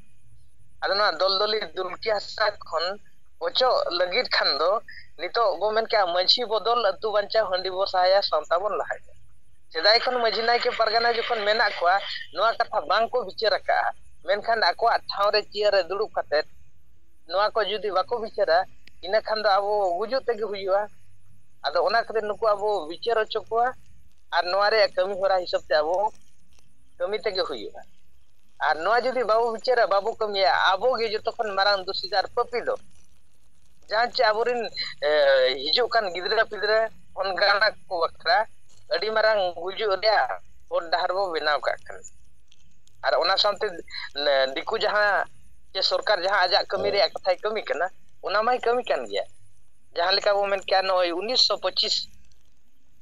ᱟᱫᱚ ᱱᱚᱣᱟ ᱫᱚᱞ ᱫᱚᱞᱤ ᱫᱩᱞᱠᱤ ᱦᱟᱥᱟ ᱠᱷᱚᱱ ᱚᱪᱚᱜ ᱞᱟᱹᱜᱤᱫ ᱠᱷᱟᱱ ᱫᱚ ᱱᱤᱛᱚᱜ ᱵᱚ ᱢᱮᱱ ᱠᱮᱜᱼᱟ ᱢᱟᱺᱡᱷᱤ ᱵᱚᱫᱚᱞ ᱟᱹᱛᱩ ᱵᱟᱧᱪᱟᱣ ᱦᱟᱺᱰᱤ ᱵᱚ ᱥᱟᱦᱟᱭᱟ ᱥᱟᱶᱛᱟ ᱵᱚᱱ ᱞᱟᱦᱟᱭᱟ᱾ ᱥᱮᱫᱟᱭ ᱠᱷᱚᱱ ᱢᱟᱺᱡᱷᱤ ᱱᱟᱭᱠᱮ ᱯᱟᱨᱜᱟᱱᱟ ᱡᱚᱠᱷᱚᱱ ᱢᱮᱱᱟᱜ ᱠᱚᱣᱟ ᱱᱚᱣᱟ ᱠᱟᱛᱷᱟ ᱵᱟᱝ ᱠᱚ ᱵᱤᱪᱟᱹᱨ ᱟᱠᱟᱜᱼᱟ, ᱢᱮᱱᱠᱷᱟᱱ ᱟᱠᱚᱣᱟᱜ ᱴᱷᱟᱶ ᱨᱮ ᱪᱮᱭᱟᱨ ᱨᱮ ᱫᱩᱲᱩᱵ ᱠᱟᱛᱮ ᱱᱚᱣᱟ ᱠᱚ ᱡᱩᱫᱤ ᱵᱟᱠᱚ ᱵᱤᱪᱟᱹᱨᱟ ᱤᱱᱟᱹ ᱠᱷᱟᱱ ᱫᱚ ᱟᱵᱚ ᱜᱩᱡᱩᱜ ᱛᱮᱜᱮ ᱦᱩᱭᱩᱜᱼᱟ᱾ ᱟᱫᱚ ᱚᱱᱟ ᱠᱷᱟᱹᱛᱤᱨ ᱱᱩᱠᱩ ᱟᱵᱚ ᱵᱤᱪᱟᱹᱨ ᱚᱪᱚ ᱠᱚᱣᱟ ᱟᱨ ᱱᱚᱣᱟ ᱨᱮᱭᱟᱜ ᱠᱟᱹᱢᱤ ᱦᱚᱨᱟ ᱦᱤᱥᱟᱹᱵ ᱛᱮ ᱟᱵᱚ ᱠᱟᱹᱢᱤ ᱛᱮᱜᱮ ᱦᱩᱭᱩᱜᱼᱟ᱾ ᱟᱨ ᱱᱚᱣᱟ ᱡᱩᱫᱤ ᱵᱟᱵᱚ ᱵᱤᱪᱟᱹᱨᱟ ᱵᱟᱵᱚ ᱠᱟᱹᱢᱤᱭᱟ ᱟᱵᱚ ᱜᱮ ᱡᱚᱛᱚ ᱠᱷᱚᱱ ᱢᱟᱨᱟᱝ ᱫᱩᱥᱤ ᱫᱚ ᱟᱨ ᱯᱟᱯᱤ ᱫᱚ ᱡᱟᱦᱟᱸ ᱪᱮ ᱟᱵᱚᱨᱮᱱ ᱦᱤᱡᱩᱜ ᱠᱟᱱ ᱜᱤᱫᱽᱨᱟᱹ ᱯᱤᱫᱽᱨᱟᱹ ᱚᱱᱠᱟᱱᱟᱜ ᱠᱚ ᱵᱟᱠᱷᱨᱟ ᱟᱹᱰᱤ ᱢᱟᱨᱟᱝ ᱜᱩᱡᱩᱜ ᱨᱮᱭᱟᱜ ᱦᱚᱨ ᱰᱟᱦᱟᱨ ᱵᱚ ᱵᱮᱱᱟᱣ ᱠᱟᱜ ᱠᱟᱱᱟ ᱟᱨ ᱚᱱᱟ ᱥᱟᱶᱛᱮ ᱫᱤᱠᱩ ᱡᱟᱦᱟᱸ ᱥᱮ ᱥᱚᱨᱠᱟᱨ ᱡᱟᱦᱟᱸ ᱟᱡᱟᱜ ᱠᱟᱹᱢᱤ ᱨᱮᱭᱟᱜ ᱠᱟᱛᱷᱟᱭ ᱠᱟᱹᱢᱤ ᱠᱟᱱᱟ ᱚᱱᱟ ᱢᱟᱭ ᱠᱟᱹᱢᱤ ᱠᱟᱱ ᱜᱮᱭᱟ ᱡᱟᱦᱟᱸ ᱞᱮᱠᱟ ᱵᱚᱱ ᱢᱮᱱ ᱠᱮᱭᱟ ᱱᱚᱜᱼᱚᱭ ᱩᱱᱤᱥᱥᱚ ᱯᱚᱸᱪᱤᱥ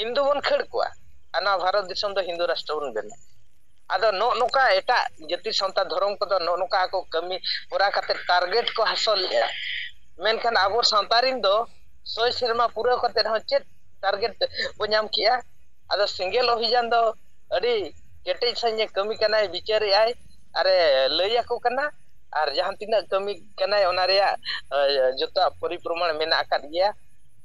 ᱦᱤᱱᱫᱩ ᱵᱚᱱ ᱠᱷᱟᱹᱲ ᱠᱚᱣᱟ ᱟᱨ ᱱᱚᱣᱟ ᱵᱷᱟᱨᱚᱛ ᱫᱤᱥᱚᱢ ᱫᱚ ᱦᱤᱱᱫᱩ ᱨᱟᱥᱴᱨᱚ ᱵᱚᱱ ᱵᱮᱱᱟᱣᱟ ᱟᱫᱚ ᱱᱚᱜᱼᱚ ᱱᱚᱝᱠᱟ ᱮᱴᱟᱜ ᱡᱟᱹᱛᱤ ᱥᱟᱶᱛᱟ ᱫᱷᱚᱨᱚᱢ ᱠᱚᱫᱚ ᱱᱚᱜᱼᱚ ᱱᱚᱝᱠᱟ ᱟᱠᱚ ᱠᱟᱹᱢᱤ ᱦᱚᱨᱟ ᱠᱟᱛᱮ ᱴᱟᱨᱜᱮᱴ ᱠᱚ ᱦᱟᱥᱚᱞᱮᱜᱼᱟ ᱢᱮᱱᱠᱷᱟᱱ ᱟᱵᱚ ᱥᱟᱶᱛᱟ ᱨᱮᱱ ᱫᱚ ᱥᱚᱭ ᱥᱮᱨᱢᱟ ᱯᱩᱨᱟᱹᱣ ᱠᱟᱛᱮ ᱦᱚᱸ ᱪᱮᱫ ᱴᱟᱨᱜᱮᱴ ᱵᱚ ᱧᱟᱢ ᱠᱮᱜᱼᱟ ᱟᱫᱚ ᱥᱮᱸᱜᱮᱞ ᱚᱵᱷᱤᱡᱟᱱ ᱫᱚ ᱟᱹᱰᱤ ᱠᱮᱴᱮᱡ ᱥᱟᱺᱦᱤᱡ ᱮ ᱠᱟᱹᱢᱤ ᱠᱟᱱᱟᱭ ᱵᱤᱪᱟᱹᱨᱮᱜᱼᱟᱭ ᱟᱨᱮ ᱞᱟᱹᱭ ᱟᱠᱚ ᱠᱟᱱᱟ ᱟᱨ ᱡᱟᱦᱟᱸ ᱛᱤᱱᱟᱹᱜ ᱠᱟᱹᱢᱤ ᱠᱟᱱᱟᱭ ᱚᱱᱟ ᱨᱮᱭᱟᱜ ᱡᱚᱛᱚᱣᱟᱜ ᱯᱚᱨᱤᱯᱨᱚᱢᱟᱱ ᱢᱮᱱᱟᱜ ᱟᱠᱟᱫ ᱜᱮᱭᱟ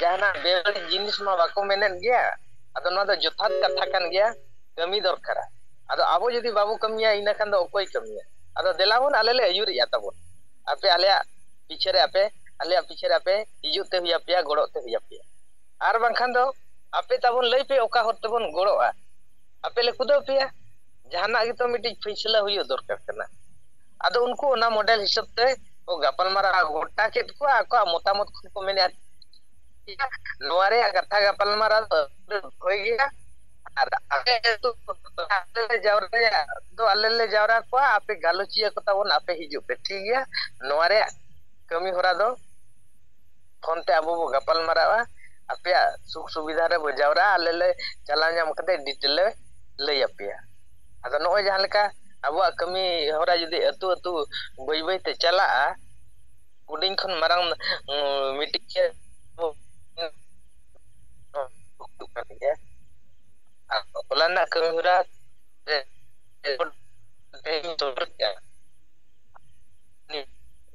ᱡᱟᱦᱟᱱᱟᱜ ᱵᱮᱵᱟᱹᱲᱤᱡ ᱡᱤᱱᱤᱥ ᱢᱟ ᱵᱟᱠᱚ ᱢᱮᱱᱮᱫ ᱜᱮᱭᱟ ᱟᱫᱚ ᱱᱚᱣᱟ ᱫᱚ ᱡᱚᱛᱷᱟᱛ ᱠᱟᱛᱷᱟ ᱠᱟᱱ ᱜᱮᱭᱟ ᱠᱟᱹᱢᱤ ᱫᱚᱨᱠᱟᱨᱟ ᱟᱫᱚ ᱟᱵᱚ ᱡᱩᱫᱤ ᱵᱟᱵᱚ ᱠᱟᱹᱢᱤᱭᱟ ᱤᱱᱟᱹ ᱠᱷᱟᱱ ᱫᱚ ᱚᱠᱚᱭ ᱠᱟᱹᱢᱤᱭᱟ ᱟᱫᱚ ᱫᱮᱞᱟᱵᱚᱱ ᱟᱞᱮ ᱞᱮ ᱟᱹᱭᱩᱨᱮᱜᱼᱟ ᱛᱟᱵᱚᱱ ᱟᱯᱮ ᱟᱞᱮᱭᱟᱜ ᱯᱤᱪᱷᱟᱹ ᱨᱮ ᱟᱯᱮ ᱟᱞᱮᱭᱟᱜ ᱯᱤᱪᱷᱟᱹ ᱨᱮ ᱟᱯᱮ ᱦᱤᱡᱩᱜ ᱛᱮ ᱦᱩᱭ ᱟᱯᱮᱭᱟ ᱜᱚᱲᱚᱜ ᱛᱮ ᱦᱩᱭ ᱟᱯᱮᱭᱟ ᱟᱨ ᱵᱟᱝᱠᱷᱟᱱ ᱫᱚ ᱟᱯᱮ ᱛᱟᱵᱚᱱ ᱞᱟᱹᱭ ᱯᱮ ᱚᱠᱟ ᱦᱚᱨ ᱛᱮᱵᱚᱱ ᱜᱚᱲᱚᱜᱼᱟ ᱟᱯᱮ ᱞᱮ ᱠᱩᱫᱟᱹᱣ ᱯᱮᱭᱟ ᱡᱟᱦᱟᱱᱟᱜ ᱜᱮᱛᱚ ᱢᱤᱫᱴᱤᱡ ᱯᱷᱟᱹᱭᱥᱟᱹᱞᱟ ᱦᱩᱭᱩᱜ ᱫᱚᱨᱠᱟᱨ ᱠᱟᱱᱟ ᱟᱫᱚ ᱩᱱᱠᱩ ᱚᱱᱟ ᱢᱚᱰᱮᱞ ᱦᱤᱥᱟᱹᱵ ᱛᱮ ᱠᱚ ᱜᱟᱯᱟᱞᱢᱟᱨᱟᱣ ᱜᱚᱴᱟ ᱠᱮᱫ ᱠᱚᱣᱟ ᱟᱠᱚᱣᱟᱜ ᱢᱚᱛᱟᱢᱚᱛ ᱠᱷᱚᱱ ᱠᱚ ᱢᱮᱱᱮᱫᱼᱟ ᱱᱚᱣᱟ ᱨᱮᱭᱟᱜ ᱠᱟᱛᱷᱟ ᱜᱟᱯᱟᱞᱢᱟᱨᱟᱣ ᱫᱚ ᱦᱩᱭ ᱜᱮᱭᱟ ᱟᱨ ᱟᱞᱮ ᱟᱹᱛᱩ ᱟᱞᱮ ᱞᱮ ᱡᱟᱣᱨᱟᱭᱟ ᱫᱚ ᱟᱞᱮ ᱞᱮ ᱡᱟᱣᱨᱟ ᱠᱚᱣᱟ ᱟᱯᱮ ᱜᱟᱞᱚᱪᱤᱭᱟᱹ ᱠᱚ ᱛᱟᱵᱚᱱ ᱟᱯᱮ ᱦᱤᱡᱩᱜ ᱯᱮ ᱴᱷᱤᱠ ᱜᱮᱭᱟ ᱱᱚᱣᱟ ᱨᱮᱭᱟᱜ ᱠᱟᱹᱢᱤ ᱦᱚᱨᱟ ᱫᱚ ᱯᱷᱳᱱ ᱛᱮ ᱟᱵᱚ ᱵᱚ ᱜᱟᱯᱟᱞ ᱢᱟᱨᱟᱜᱼᱟ ᱟᱯᱮᱭᱟᱜ ᱥᱩᱠ ᱥᱩᱵᱤᱫᱷᱟ ᱨᱮᱵᱚ ᱡᱟᱣᱨᱟᱜᱼᱟ ᱟᱞᱮ ᱞᱮ ᱪᱟᱞᱟᱣ ᱧᱟᱢ ᱠᱟᱛᱮ ᱰᱤᱴᱮᱞ ᱞᱮ ᱞᱟᱹᱭ ᱟᱯᱮᱭᱟ ᱟᱫᱚ ᱱᱚᱜᱼᱚᱭ ᱡᱟᱦᱟᱸ ᱞᱮᱠᱟ ᱟᱵᱚᱣᱟᱜ ᱠᱟᱹᱢᱤ ᱦᱚᱨᱟ ᱡᱩᱫᱤ ᱟᱹᱛᱩ ᱟᱹᱛᱩ ᱵᱟᱹᱭ ᱵᱟᱹᱭ ᱛᱮ ᱪᱟᱞᱟᱜᱼᱟ ᱦᱩᱰᱤᱧ ᱠᱷᱚᱱ ᱢᱟᱨᱟᱝ ᱢᱤᱫᱴᱤᱡ ᱜᱮ ᱦᱚᱞᱟ ᱨᱮᱱᱟᱜ ᱠᱟᱹᱢᱤ ᱦᱚᱨᱟ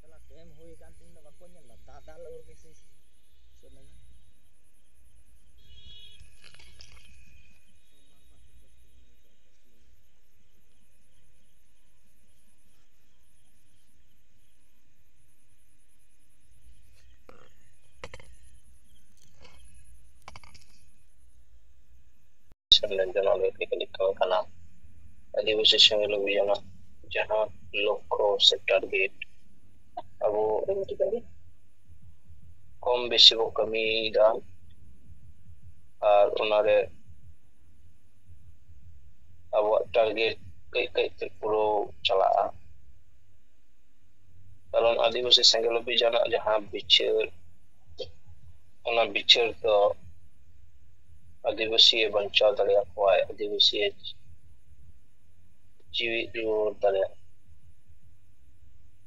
ᱪᱟᱞᱟ ᱴᱮᱢ ᱦᱩᱭ ᱠᱟᱱ ᱛᱤᱧ ᱫᱚ ᱵᱟᱠᱚ ᱧᱮᱞ ᱫᱟ ᱫᱟᱫᱟ ᱞᱚᱜᱚᱨ ᱜᱮ ᱥᱮ ᱪᱮᱫ ᱞᱮᱱᱟ ᱥᱮᱢᱞᱮᱱ ᱡᱟᱦᱟᱸ ᱞᱟᱹᱭ ᱛᱮᱜᱮ ᱞᱮᱠᱷᱟ ᱟᱠᱟᱱᱟ ᱟᱹᱫᱤᱵᱟᱹᱥᱤ ᱥᱮᱢᱞᱮᱫ ᱦᱩᱭᱱᱟ ᱡᱟᱦᱟᱸ ᱞᱚᱠᱠᱷᱚ ᱥᱮ ᱴᱟᱨᱜᱮᱴ ᱟᱵᱚ ᱠᱚᱢ ᱵᱮᱥᱤ ᱵᱚ ᱠᱟᱹᱢᱤᱭᱮᱫᱟ ᱟᱨ ᱚᱱᱟᱨᱮ ᱟᱵᱚᱣᱟᱜ ᱴᱟᱨᱜᱮᱴ ᱠᱟᱹᱡ ᱠᱟᱹᱡ ᱛᱮ ᱯᱩᱨᱟᱹᱣ ᱪᱟᱞᱟᱜᱼᱟ ᱠᱟᱨᱚᱱ ᱟᱹᱫᱤᱵᱟᱹᱥᱤ ᱥᱮᱸᱜᱮᱞ ᱚᱵᱷᱤᱡᱟᱱᱟᱜ ᱡᱟᱦᱟᱸ ᱵᱤᱪᱟᱹᱨ ᱚᱱᱟ ᱵᱤᱪᱟᱹᱨ ᱫᱚ ᱟᱹᱫᱤᱵᱟᱹᱥᱤᱭ ᱵᱟᱧᱪᱟᱣ ᱫᱟᱲᱮᱭᱟ ᱠᱚᱣᱟᱭ ᱟᱹᱫᱤᱵᱟᱹᱥᱤ ᱡᱤᱣᱤ ᱨᱩᱣᱟᱹᱲ ᱫᱟᱲᱮᱭᱟᱜ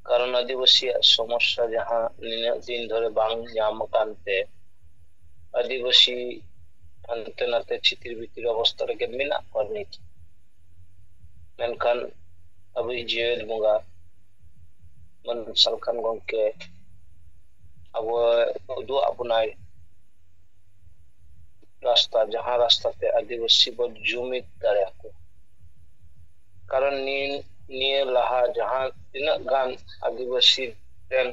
ᱠᱟᱨᱚᱱ ᱟᱹᱫᱤᱵᱟᱹᱥᱤᱭᱟᱜ ᱥᱚᱢᱚᱥᱥᱟ ᱡᱟᱦᱟᱸ ᱱᱤᱱᱟᱹᱜ ᱫᱤᱱ ᱫᱷᱚᱨᱮ ᱵᱟᱝ ᱧᱟᱢ ᱟᱠᱟᱱ ᱛᱮ ᱟᱹᱫᱤᱵᱟᱹᱥᱤ ᱦᱟᱱᱛᱮ ᱱᱟᱛᱮ ᱪᱷᱤᱛᱤᱨ ᱵᱤᱛᱤᱨ ᱚᱵᱚᱥᱛᱟ ᱨᱮᱜᱮ ᱢᱮᱱᱟᱜ ᱠᱚᱣᱟ ᱱᱤᱛ ᱢᱮᱱᱠᱷᱟᱱ ᱟᱵᱚᱭᱤᱡ ᱡᱤᱭᱟᱹᱲ ᱵᱚᱸᱜᱟ ᱢᱟᱱ ᱥᱟᱞᱠᱷᱟᱱ ᱜᱚᱝᱠᱮ ᱟᱵᱚᱭ ᱩᱫᱩᱜ ᱟᱜ ᱵᱚᱱᱟᱭ ᱨᱟᱥᱛᱟ ᱡᱟᱦᱟᱸ ᱨᱟᱥᱛᱟ ᱛᱮ ᱟᱹᱫᱤᱵᱟᱹᱥᱤ ᱵᱚᱱ ᱡᱩᱢᱤᱫ ᱫᱟᱲᱮᱭᱟᱠᱚ ᱠᱟᱨᱚᱱ ᱱᱤᱭᱟᱹ ᱞᱟᱦᱟ ᱡᱟᱦᱟᱸ ᱛᱤᱱᱟᱹᱜ ᱜᱟᱱ ᱟᱹᱫᱤᱵᱟᱹᱥᱤ ᱨᱮᱱ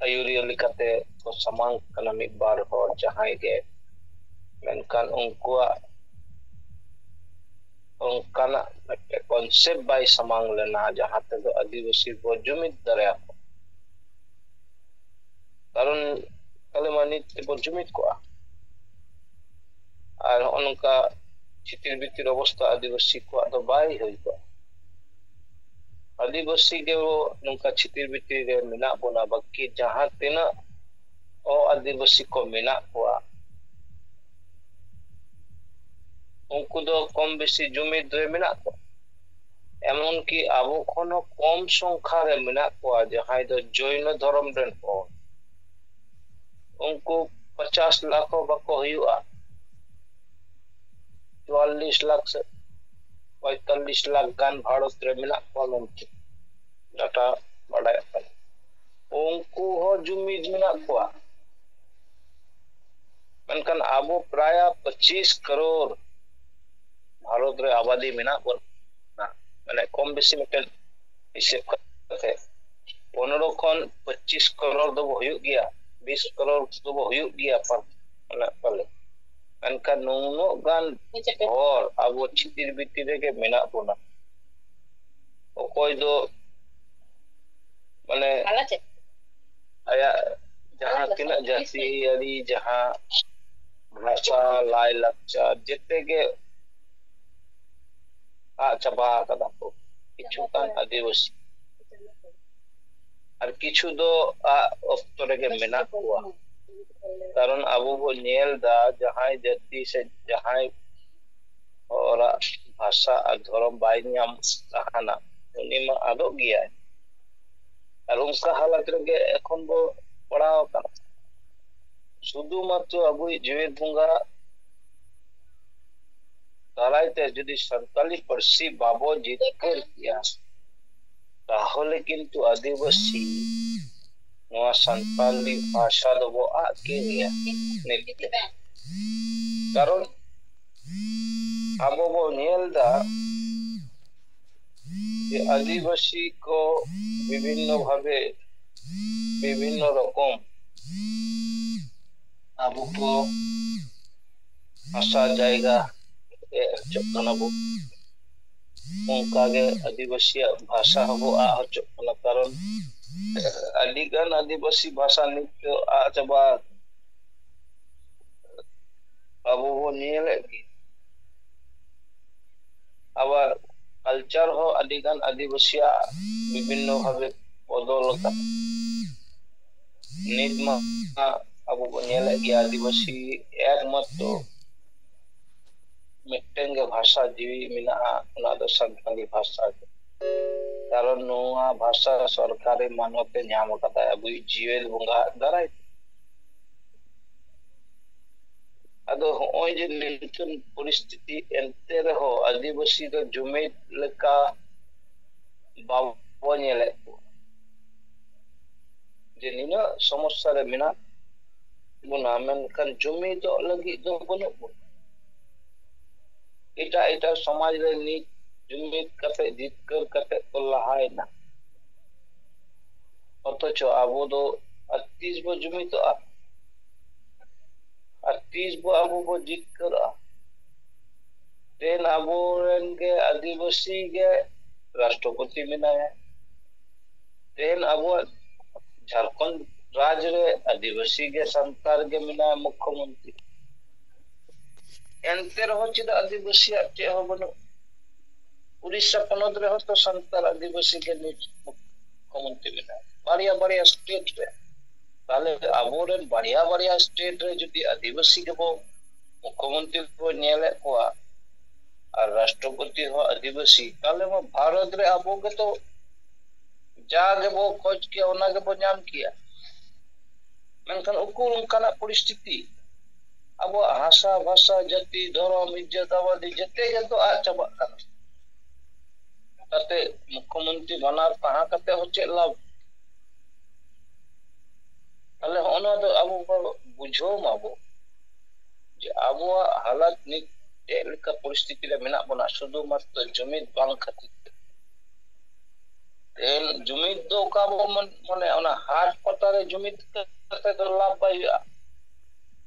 ᱟᱹᱭᱩᱨᱤᱭᱟᱹ ᱞᱮᱠᱟᱛᱮ ᱠᱚ ᱥᱟᱢᱟᱝ ᱠᱟᱱᱟ ᱢᱤᱫ ᱵᱟᱨ ᱦᱚᱲ ᱡᱟᱦᱟᱸᱭ ᱜᱮ ᱢᱮᱱᱠᱷᱟᱱ ᱩᱱᱠᱩᱣᱟᱜ ᱚᱱᱠᱟᱱᱟᱜ ᱢᱤᱫᱴᱮᱱ ᱠᱚᱱᱥᱮᱯᱴ ᱵᱟᱭ ᱥᱟᱢᱟᱝ ᱞᱮᱱᱟ ᱡᱟᱦᱟᱸ ᱛᱮᱫᱚ ᱟᱹᱫᱤᱵᱟᱹᱥᱤ ᱵᱚᱱ ᱡᱩᱢᱤᱫ ᱫᱟᱲᱮᱭᱟᱠᱚ ᱠᱟᱨᱚᱱ ᱟᱞᱮ ᱢᱟ ᱱᱤᱛ ᱛᱮᱵᱚᱱ ᱡᱩᱢᱤᱫ ᱠᱚᱜᱼᱟ ᱟᱨ ᱱᱚᱜᱼᱚ ᱱᱚᱝᱠᱟ ᱪᱷᱤᱛᱤᱨ ᱵᱤᱛᱤᱨ ᱚᱵᱚᱥᱛᱟ ᱟᱹᱫᱤᱵᱟᱹᱥᱤ ᱠᱚᱣᱟᱜ ᱫᱚ ᱵᱟᱭ ᱦᱩᱭ ᱠᱚᱜᱼᱟ ᱟᱹᱫᱤᱵᱟᱹᱥᱤ ᱜᱮ ᱱᱚᱝᱠᱟ ᱪᱷᱤᱛᱤᱨ ᱵᱤᱛᱤᱨ ᱨᱮ ᱢᱮᱱᱟᱜ ᱵᱚᱱᱟ ᱵᱟᱹᱠᱤ ᱡᱟᱦᱟᱸ ᱛᱤᱱᱟᱹᱜ ᱚ ᱟᱹᱫᱤᱵᱟᱹᱥᱤ ᱠᱚ ᱢᱮᱱᱟᱜ ᱠᱚᱣᱟ ᱩᱱᱠᱩ ᱫᱚ ᱠᱚᱢ ᱵᱮᱥᱤ ᱡᱩᱢᱤᱫ ᱨᱮ ᱢᱮᱱᱟᱜ ᱠᱚᱣᱟ ᱮᱢᱚᱱᱠᱤ ᱟᱵᱚ ᱠᱷᱚᱱ ᱦᱚᱸ ᱠᱚᱢ ᱥᱚᱝᱠᱷᱟ ᱨᱮ ᱢᱮᱱᱟᱜ ᱠᱚᱣᱟ ᱡᱟᱦᱟᱸᱭ ᱫᱚ ᱡᱚᱭᱱᱚ ᱫᱷᱚᱨᱚᱢ ᱨᱮᱱ ᱦᱚᱲ ᱩᱱᱠᱩ ᱯᱚᱪᱟᱥ ᱞᱟᱠᱷ ᱦᱚᱸ ᱵᱟᱠᱚ ᱦᱩᱭᱩᱜᱼᱟ ᱪᱩᱣᱟᱞᱞᱤᱥ ᱞᱟᱠᱷ ᱥᱮ ᱯᱚᱸᱭᱛᱟᱞᱞᱤᱥ ᱞᱟᱠᱷ ᱜᱟᱱ ᱵᱷᱟᱨᱚᱛ ᱨᱮ ᱢᱮᱱᱟᱜ ᱠᱚᱣᱟ ᱢᱮᱱᱛᱮ ᱰᱟᱴᱟ ᱵᱟᱰᱟᱭᱚᱜ ᱠᱟᱱᱟ ᱩᱱᱠᱩ ᱦᱚᱸ ᱡᱩᱢᱤᱫ ᱢᱮᱱᱟᱜ ᱠᱚᱣᱟ ᱢᱮᱱᱠᱷᱟᱱ ᱟᱵᱚ ᱯᱨᱟᱭ ᱯᱚᱸᱪᱤᱥ ᱠᱟᱨᱳᱲ ᱵᱷᱟᱨᱚᱛ ᱨᱮ ᱟᱵᱟᱫᱤ ᱢᱮᱱᱟᱜ ᱵᱚᱱᱟ ᱢᱟᱱᱮ ᱠᱚᱢ ᱵᱮᱥᱤ ᱢᱤᱫᱴᱮᱱ ᱦᱤᱥᱟᱹᱵ ᱠᱟᱛᱮ ᱯᱚᱱᱨᱚ ᱠᱷᱚᱱ ᱯᱚᱸᱪᱤᱥ ᱠᱨᱚᱨ ᱫᱚᱵᱚ ᱦᱩᱭᱩᱜ ᱜᱮᱭᱟ ᱵᱤᱥ ᱠᱨᱚᱨ ᱫᱚᱵᱚ ᱦᱩᱭᱩᱜ ᱜᱮᱭᱟ ᱢᱮᱱᱟᱜ ᱯᱟᱞᱮ ᱢᱮᱱᱠᱷᱟᱱ ᱱᱩᱱᱟᱹᱜ ᱜᱟᱱ ᱦᱚᱲ ᱟᱵᱚ ᱪᱷᱤᱛᱤᱨ ᱵᱤᱛᱤᱨ ᱨᱮᱜᱮ ᱢᱮᱱᱟᱜ ᱵᱚᱱᱟ ᱚᱠᱚᱭ ᱫᱚ ᱢᱟᱱᱮ ᱟᱭᱟᱜ ᱡᱟᱦᱟᱸ ᱛᱤᱱᱟᱹᱜ ᱡᱟᱹᱛᱤᱭᱟᱹᱨᱤ ᱡᱟᱦᱟᱸ ᱵᱷᱟᱥᱟ ᱞᱟᱭ ᱞᱟᱠᱪᱟᱨ ᱡᱮᱛᱮ ᱜᱮ ᱟᱫ ᱪᱟᱵᱟ ᱟᱠᱟᱫᱟ ᱠᱚ ᱠᱤᱪᱷᱩ ᱜᱟᱱ ᱟᱹᱫᱤᱵᱟᱹᱥᱤ ᱟᱨ ᱠᱤᱪᱷᱩ ᱫᱚ ᱟᱜ ᱚᱠᱛᱚ ᱨᱮᱜᱮ ᱢᱮᱱᱟᱜ ᱠᱚᱣᱟ ᱠᱟᱨᱚᱱ ᱟᱵᱚ ᱵᱚ ᱧᱮᱞ ᱫᱟ ᱡᱟᱦᱟᱸᱭ ᱡᱟᱹᱛᱤ ᱥᱮ ᱡᱟᱦᱟᱸᱭ ᱦᱚᱲᱟᱜ ᱵᱷᱟᱥᱟ ᱟᱨ ᱫᱷᱚᱨᱚᱢ ᱵᱟᱭ ᱧᱟᱢ ᱛᱟᱦᱮᱱᱟ ᱩᱱᱤ ᱢᱟ ᱟᱫᱚᱜ ᱜᱮᱭᱟᱭ ᱟᱨ ᱚᱱᱠᱟ ᱦᱟᱞᱟᱛ ᱨᱮᱜᱮ ᱮᱠᱷᱚᱱ ᱵᱚ ᱯᱟᱲᱟᱣ ᱟᱠᱟᱱᱟ ᱥᱩᱫᱷᱩ ᱢᱟᱛᱨᱚ ᱟᱵᱚᱭᱤᱡ ᱡᱮᱣᱮᱫ ᱵᱚᱸᱜᱟ ᱫᱟᱨᱟᱭ ᱛᱮ ᱡᱩᱫᱤ ᱥᱟᱱᱛᱟᱞᱤ ᱯᱟᱹᱨᱥᱤ ᱵᱟᱵᱚ ᱡᱤᱛᱠᱟᱹᱨ ᱠᱮᱭᱟ ᱛᱟᱦᱚᱞᱮ ᱠᱤᱱᱛᱩ ᱟᱹᱫᱤᱵᱟᱹᱥᱤ ᱱᱚᱣᱟ ᱥᱟᱱᱛᱟᱞᱤ ᱵᱷᱟᱥᱟ ᱫᱚᱵᱚ ᱟᱫ ᱠᱮᱭᱟ ᱠᱟᱨᱚᱱ ᱟᱵᱚ ᱵᱚ ᱧᱮᱞ ᱮᱫᱟ ᱡᱮ ᱟᱹᱫᱤᱵᱟᱹᱥᱤ ᱠᱚ ᱵᱤᱵᱷᱤᱱᱱᱚ ᱵᱷᱟᱵᱮ ᱵᱤᱵᱷᱤᱱᱱᱚ ᱨᱚᱠᱚᱢ ᱟᱵᱚ ᱠᱚ ᱦᱟᱥᱟ ᱡᱟᱭᱜᱟ ᱨᱮᱡ ᱦᱚᱪᱚᱜ ᱠᱟᱱᱟ ᱵᱚ ᱚᱱᱠᱟᱜᱮ ᱟᱹᱫᱤᱵᱟᱹᱥᱤᱭᱟᱜ ᱵᱷᱟᱥᱟ ᱦᱚᱸᱵᱚ ᱟᱜ ᱦᱚᱪᱚᱜ ᱠᱟᱱᱟ ᱠᱟᱨᱚᱱ ᱟᱹᱰᱤ ᱜᱟᱱ ᱟᱹᱫᱤᱵᱟᱹᱥᱤ ᱵᱷᱟᱥᱟ ᱱᱤᱛ ᱫᱚ ᱟᱜ ᱪᱟᱵᱟ ᱟᱵᱚ ᱵᱚᱱ ᱧᱮᱞᱮᱫ ᱜᱮ ᱟᱵᱟᱨ ᱠᱟᱞᱪᱟᱨ ᱦᱚᱸ ᱟᱹᱰᱤ ᱜᱟᱱ ᱟᱹᱫᱤᱵᱟᱹᱥᱤᱭᱟᱜ ᱵᱤᱵᱷᱤᱱᱱᱚ ᱵᱷᱟᱵᱮ ᱵᱚᱫᱚᱞ ᱟᱠᱟᱱᱟ ᱱᱤᱛ ᱢᱟ ᱟᱵᱚ ᱵᱚᱱ ᱧᱮᱞᱮᱫ ᱜᱮᱭᱟ ᱟᱹᱫᱤᱵᱟᱹᱥᱤ ᱮᱠᱢᱟᱛᱨᱚ ᱢᱤᱫᱴᱮᱱ ᱜᱮ ᱵᱷᱟᱥᱟ ᱡᱤᱣᱤ ᱢᱮᱱᱟᱜᱼᱟ ᱚᱱᱟ ᱫᱚ ᱥᱟᱱᱛᱟᱲᱤ ᱵᱷᱟᱥᱟ ᱜᱮ ᱠᱟᱨᱚᱱ ᱱᱚᱣᱟ ᱵᱷᱟᱥᱟ ᱥᱚᱨᱠᱟᱨᱤ ᱢᱟᱱᱚᱛ ᱮ ᱧᱟᱢ ᱟᱠᱟᱫᱟ ᱟᱵᱚᱭᱤᱡ ᱡᱤᱭᱟᱹᱞ ᱵᱚᱸᱜᱟ ᱟᱜ ᱫᱟᱨᱟᱭ ᱛᱮ ᱟᱫᱚ ᱦᱚᱸᱜᱼᱚᱭ ᱡᱮ ᱱᱤᱝᱠᱟᱹᱱ ᱯᱚᱨᱤᱥᱛᱷᱤᱛᱤ ᱮᱱᱛᱮ ᱨᱮᱦᱚᱸ ᱟᱹᱫᱤᱵᱟᱹᱥᱤ ᱫᱚ ᱡᱩᱢᱤᱫ ᱞᱮᱠᱟ ᱵᱟᱵᱚ ᱧᱮᱞᱮᱫ ᱠᱚᱣᱟ ᱡᱮ ᱱᱤᱱᱟᱹᱜ ᱥᱚᱢᱚᱥᱥᱟ ᱨᱮ ᱢᱮᱱᱟᱜ ᱵᱚᱱᱟ ᱢᱮᱱᱠᱷᱟᱱ ᱡᱩᱢᱤᱫᱚᱜ ᱞᱟᱹᱜᱤᱫ ᱫᱚ ᱵᱟᱹᱱᱩᱜ ᱵᱚᱱᱟ ᱮᱴᱟᱜ ᱮᱴᱟᱜ ᱥᱚᱢᱟᱡᱽ ᱨᱮ ᱱᱤᱛ ᱡᱩᱢᱤᱫ ᱠᱟᱛᱮ ᱡᱤᱛᱠᱟᱹᱨ ᱠᱟᱛᱮ ᱠᱚ ᱞᱟᱦᱟᱭᱮᱱᱟ ᱚᱛᱷᱚᱪᱚ ᱟᱵᱚ ᱫᱚ ᱟᱨ ᱛᱤᱥ ᱵᱚ ᱡᱩᱢᱤᱫᱚᱜᱼᱟ ᱟᱨ ᱛᱤᱥ ᱵᱚ ᱟᱵᱚ ᱵᱚ ᱡᱤᱛᱠᱟᱹᱨᱚᱜᱼᱟ ᱛᱮᱱ ᱟᱵᱚ ᱨᱮᱱ ᱜᱮ ᱟᱹᱫᱤᱵᱟᱹᱥᱤ ᱜᱮ ᱨᱟᱥᱴᱨᱚᱯᱚᱛᱤ ᱢᱮᱱᱟᱭᱟ ᱛᱮᱱ ᱟᱵᱚᱣᱟᱜ ᱡᱷᱟᱲᱠᱷᱚᱸᱰ ᱨᱟᱡᱽ ᱨᱮ ᱟᱹᱫᱤᱵᱟᱹᱥᱤ ᱜᱮ ᱥᱟᱱᱛᱟᱲ ᱜᱮ ᱢᱮᱱᱟᱭᱟ ᱢᱩᱠᱠᱷᱚ ᱢᱚᱱᱛᱨᱤ ᱮᱱᱛᱮ ᱨᱮᱦᱚᱸ ᱪᱮᱫᱟᱜ ᱟᱹᱫᱤᱵᱟᱹᱥᱤᱭᱟᱜ ᱪᱮᱫ ᱦᱚᱸ ᱵᱟᱹᱱᱩᱜ ᱩᱲᱤᱥᱥᱟ ᱯᱚᱱᱚᱛ ᱨᱮᱦᱚᱸ ᱛᱚ ᱥᱟᱱᱛᱟᱲ ᱟᱹᱫᱤᱵᱟᱹᱥᱤ ᱜᱮ ᱱᱤᱛ ᱢᱩᱠᱠᱷᱚ ᱢᱚᱱᱛᱨᱤ ᱢᱮᱱᱟᱭᱟ ᱵᱟᱨᱭᱟ ᱵᱟᱨᱭᱟ ᱥᱴᱮᱴ ᱨᱮ ᱛᱟᱦᱚᱞᱮ ᱟᱵᱚᱨᱮᱱ ᱵᱟᱨᱭᱟ ᱵᱟᱨᱭᱟ ᱥᱴᱮᱴ ᱨᱮ ᱡᱩᱫᱤ ᱟᱹᱫᱤᱵᱟᱹᱥᱤ ᱜᱮᱵᱚ ᱢᱩᱠᱷᱚ ᱢᱚᱱᱛᱨᱤ ᱠᱚ ᱧᱮᱞᱮᱫ ᱠᱚᱣᱟ ᱟᱨ ᱨᱟᱥᱴᱨᱚᱯᱚᱛᱤ ᱦᱚᱸ ᱟᱹᱫᱤᱵᱟᱹᱥᱤ ᱛᱟᱦᱚᱞᱮ ᱢᱟ ᱵᱷᱟᱨᱚᱛ ᱨᱮ ᱟᱵᱚ ᱜᱮᱛᱚ ᱡᱟ ᱜᱮᱵᱚ ᱠᱷᱚᱡ ᱠᱮᱭᱟ ᱚᱱᱟ ᱜᱮᱵᱚ ᱧᱟᱢ ᱠᱮᱭᱟ ᱢᱮᱱᱠᱷᱟᱱ ᱩᱠᱩᱨ ᱚᱱᱠᱟᱱᱟᱜ ᱯᱚᱨᱤᱥᱛᱷᱤᱛᱤ ᱟᱵᱚᱣᱟᱜ ᱦᱟᱥᱟ ᱵᱷᱟᱥᱟ ᱡᱟᱹᱛᱤ ᱫᱷᱚᱨᱚᱢ ᱤᱡᱡᱟᱹᱛ ᱟᱵᱟᱫᱤ ᱡᱮᱛᱮ ᱜᱮᱛᱚ ᱟᱫ ᱪᱟᱵᱟᱜ ᱠᱟᱱᱟ ᱠᱟᱛᱮ ᱢᱩᱠᱷᱚ ᱢᱚᱱᱛᱨᱤ ᱵᱟᱱᱟᱨ ᱛᱟᱦᱮᱸ ᱠᱟᱛᱮ ᱦᱚᱸ ᱪᱮᱫ ᱞᱟᱵᱷ ᱛᱟᱦᱚᱞᱮ ᱦᱚᱸᱜᱼᱚ ᱱᱚᱣᱟ ᱫᱚ ᱟᱵᱚ ᱵᱚ ᱵᱩᱡᱷᱟᱹᱣ ᱢᱟᱵᱚ ᱡᱮ ᱟᱵᱚᱣᱟᱜ ᱦᱟᱞᱚᱛ ᱱᱤᱛ ᱪᱮᱫ ᱞᱮᱠᱟ ᱯᱚᱨᱤᱥᱛᱷᱤᱛᱤ ᱨᱮ ᱢᱮᱱᱟᱜ ᱵᱚᱱᱟ ᱥᱩᱫᱷᱩ ᱢᱟᱛᱨᱚ ᱡᱩᱢᱤᱫ ᱵᱟᱝ ᱠᱷᱟᱹᱛᱤᱨ ᱛᱮ ᱛᱮᱦᱮᱧ ᱡᱩᱢᱤᱫ ᱫᱚ ᱚᱠᱟ ᱵᱚ ᱢᱚᱱᱮ ᱚᱱᱟ ᱦᱟᱴ ᱯᱟᱛᱟ ᱨᱮ ᱡᱩᱢᱤᱫ ᱠᱟᱛᱮ ᱫᱚ ᱞᱟᱵᱷ ᱵᱟᱭ ᱦᱩᱭᱩᱜᱼᱟ